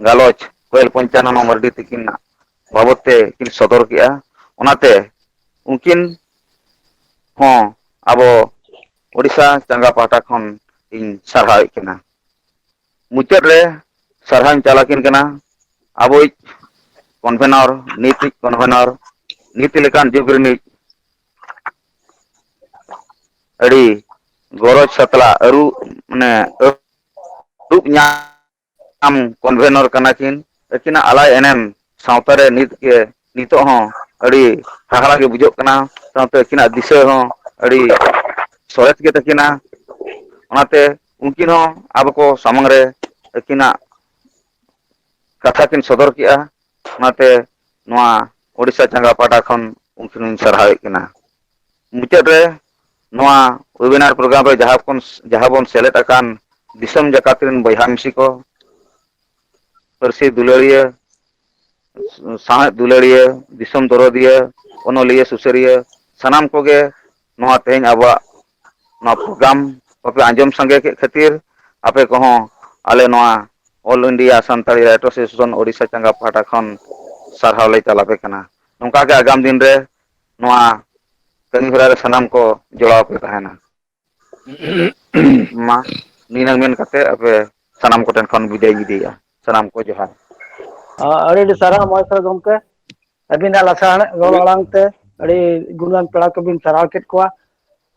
ᱜᱟᱞᱚᱪ ᱠᱚᱭᱮᱞ ᱯᱚᱧᱪᱟᱱᱚᱱᱚ ᱢᱟᱨᱰᱤ ᱛᱤᱠᱤᱱᱟᱜ ᱵᱟᱵᱚᱛ ᱛᱮ ᱠᱤᱱ ᱥᱚᱫᱚᱨ ᱠᱮᱜᱼᱟ ᱚᱱᱟᱛᱮ ᱩᱱᱠᱤᱱ ᱦᱚᱸ ᱟᱵᱚ ᱳᱰᱤᱥᱟ ᱪᱟᱸᱜᱟ ᱯᱟᱦᱴᱟ ᱠᱷᱚᱱ ᱤᱧ ᱥᱟᱨᱦᱟᱣᱮᱫ ᱠᱤᱱᱟ᱾ ᱢᱩᱪᱟᱹᱫ ᱨᱮ ᱥᱟᱨᱦᱟᱣ ᱤᱧ ᱪᱟᱞ ᱟᱹᱠᱤᱱ ᱠᱟᱱᱟ ᱟᱵᱚᱭᱤᱡ ᱠᱚᱱᱵᱷᱮᱱᱚᱨ ᱱᱤᱛᱤᱡ ᱠᱚᱱᱵᱷᱮᱱᱚᱨ ᱱᱤᱛᱤ ᱞᱮᱠᱟᱱ ᱡᱩᱜᱽ ᱨᱤᱱᱤᱡ ᱟᱹᱰᱤ ᱜᱚᱨᱚᱡᱽ ᱥᱟᱛᱞᱟᱜ ᱟᱹᱨᱩ ᱢᱟᱱᱮ ᱫᱩᱠ ᱧᱟᱢ ᱟᱢ ᱠᱚᱱᱵᱷᱮᱱᱚᱨ ᱠᱟᱱᱟ ᱠᱤᱱ ᱟᱹᱠᱤᱱᱟᱜ ᱟᱞᱟᱭ ᱮᱱᱮᱢ ᱥᱟᱶᱛᱟ ᱨᱮ ᱱᱤᱛ ᱜᱮ ᱱᱤᱛᱚᱜ ᱦᱚᱸ ᱟᱹᱰᱤ ᱦᱟᱦᱟᱲᱟ ᱜᱮ ᱵᱩᱡᱷᱟᱹᱜ ᱠᱟᱱᱟ ᱥᱟᱶᱛᱮ ᱟᱹᱠᱤᱱᱟᱜ ᱫᱤᱥᱟᱹ ᱦᱚᱸ ᱟᱹᱰᱤ ᱥᱚᱨᱮᱥ ᱜᱮ ᱛᱟᱹᱠᱤᱱᱟ ᱚᱱᱟᱛᱮ ᱩᱱᱠᱤᱱ ᱦᱚᱸ ᱟᱵᱚ ᱠᱚ ᱥᱟᱢᱟᱝ ᱨᱮ ᱟᱹᱠᱤᱱᱟᱜ ᱠᱟᱛᱷᱟ ᱠᱤᱱ ᱥᱚᱫᱚᱨ ᱠᱮᱜᱼᱟ ᱚᱱᱟᱛᱮ ᱱᱚᱣᱟ ᱳᱰᱤᱥᱟ ᱪᱟᱸᱜᱟ ᱯᱟᱦᱴᱟ ᱠᱷᱚᱱ ᱩᱱᱠᱤᱱ ᱦᱚᱸᱧ ᱥᱟᱨᱦᱟᱣᱮᱫ ᱠᱤᱱᱟ ᱢᱩᱪᱟᱹᱫ ᱨᱮ ᱱᱚᱣᱟ ᱣᱮᱵᱤᱱᱟᱨ ᱯᱨᱳᱜᱨᱟᱢ ᱨᱮ ᱡᱟᱦᱟᱸ ᱠᱷᱚᱱ ᱡᱟᱦᱟᱸ ᱵᱚᱱ ᱥᱮᱞᱮᱫ ᱟᱠᱟᱱ ᱫᱤᱥᱚᱢ ᱡᱟᱠᱟᱛ ᱨᱮᱱ ᱵᱚᱭᱦᱟ ᱢᱤᱥᱤ ᱠᱚ ᱯᱟᱹᱨᱥᱤ ᱫᱩᱞᱟᱹᱲᱤᱭᱟᱹ ᱥᱟᱶᱦᱮᱫ ᱫᱩᱞᱟᱹᱲᱤᱭᱟᱹ ᱫᱤᱥᱚᱢ ᱫᱚᱨᱚᱫᱤᱭᱟᱹ ᱚᱱᱚᱞᱤᱭᱟᱹ ᱥᱩᱥᱟᱹᱨᱤᱭᱟᱹ ᱥᱟᱱᱟᱢ ᱠᱚᱜᱮ ᱱᱚᱣᱟ ᱛᱮᱦᱮᱧ ᱟᱵᱚᱣᱟᱜ ᱱᱚᱣᱟ ᱯᱨᱳᱜᱨᱟᱢ ᱠᱚᱯᱮ ᱟᱸᱡᱚᱢ ᱥᱟᱸᱜᱮ ᱠᱮᱫ ᱠᱷᱟᱹᱛᱤᱨ ᱟᱯᱮ ᱠᱚᱦᱚᱸ ᱟᱞᱮ ᱱᱚᱣᱟ all India Santali writer association Odisha ᱪᱟᱸᱜᱟ ᱯᱟᱦᱴᱟ ᱠᱷᱚᱱ ᱥᱟᱨᱦᱟᱣ ᱞᱮ ᱪᱟᱞ ᱟᱯᱮ ᱠᱟᱱᱟ ᱱᱚᱝᱠᱟ ᱜᱮ ᱟᱜᱟᱢ ᱫᱤᱱ ᱨᱮ ᱱᱚᱣᱟ ᱠᱟᱹᱢᱤ ᱦᱚᱨᱟ ᱨᱮ ᱥᱟᱱᱟᱢ ᱠᱚ ᱡᱚᱲᱟᱣ ᱠᱚ ᱛᱟᱦᱮᱱᱟ᱾ ᱢᱟ ᱱᱤᱱᱟᱹᱝ ᱢᱮᱱ ᱠᱟᱛᱮᱫ ᱟᱯᱮ ᱥᱟᱱᱟᱢ ᱠᱚᱴᱷᱮᱱ ᱠᱷᱚᱱ ᱵᱤᱫᱟᱹᱭ ᱤᱧ ᱤᱫᱤᱭᱮᱫᱼᱟ ᱥᱟᱱᱟᱢ ᱠᱚ ᱡᱚᱦᱟᱨ᱾ ᱟᱹᱰᱤ ᱟᱹᱰᱤ ᱥᱟᱨᱦᱟᱣ ᱢᱚᱦᱮᱥᱚᱨ ᱜᱚᱢᱠᱮ ᱟᱹᱵᱤᱱᱟᱜ ᱞᱟᱥᱟᱬᱦᱮᱫ ᱨᱚᱲ ᱟᱲᱟᱝ ᱛᱮ ᱟᱹᱰᱤ ᱜᱩᱱᱟᱹᱱ ᱯᱮᱲᱟ ᱠᱚᱵᱤᱱ ᱥᱟᱨᱦᱟᱣ ᱠᱮᱫ ᱠᱚᱣᱟ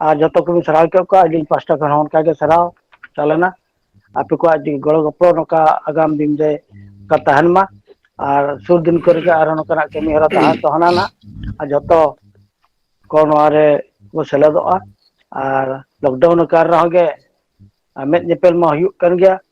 ᱟᱨ ᱡᱚᱛᱚ ᱠᱚᱵᱤᱱ ᱥᱟᱨᱦᱟᱣ ᱦᱚᱪᱚᱭᱮᱫ ᱠᱚᱣᱟ ᱟᱹᱞᱤᱧ ᱯᱟᱥᱴᱟ ᱠᱷᱚᱱ ᱦᱚᱸ ᱚᱱᱠᱟᱜᱮ ᱥᱟᱨᱦᱟᱣ ᱪᱟᱞᱮᱱᱟ ᱟᱯᱮ ᱠᱚᱣᱟᱜ ᱜᱚᱲᱚ ᱜᱚᱯᱚᱲᱚ ᱱᱚᱝᱠᱟ ᱟᱜᱟᱢ ᱫᱤᱱ ᱨᱮ ᱠᱟ ᱛᱟᱦᱮᱱ ᱢᱟ ᱟᱨ ᱥᱩᱨ ᱫᱤᱱ ᱠᱚᱨᱮᱜ ᱟᱨᱦᱚᱸ ᱱᱚᱝᱠᱟᱱᱟᱜ ᱠᱟᱹᱢᱤ ᱦᱚᱨᱟ ᱛᱟᱦᱮᱸ ᱛᱚ ᱦᱟᱱᱟ ᱱᱟᱜ ᱟᱨ ᱡᱚᱛᱚ ᱠᱚ ᱱᱚᱣᱟ ᱨᱮ ᱠᱚ ᱥᱮᱞᱮᱫᱚᱜᱼᱟ ᱟᱨ ᱞᱚᱠᱰᱟᱣᱩᱱ ᱟᱠᱟᱱ ᱨᱮᱦᱚᱸ ᱜᱮ ᱢᱮᱫ ᱧᱮᱯᱮᱞ ᱢᱟ ᱦᱩᱭᱩᱜ ᱠᱟᱱ ᱜᱮᱭᱟ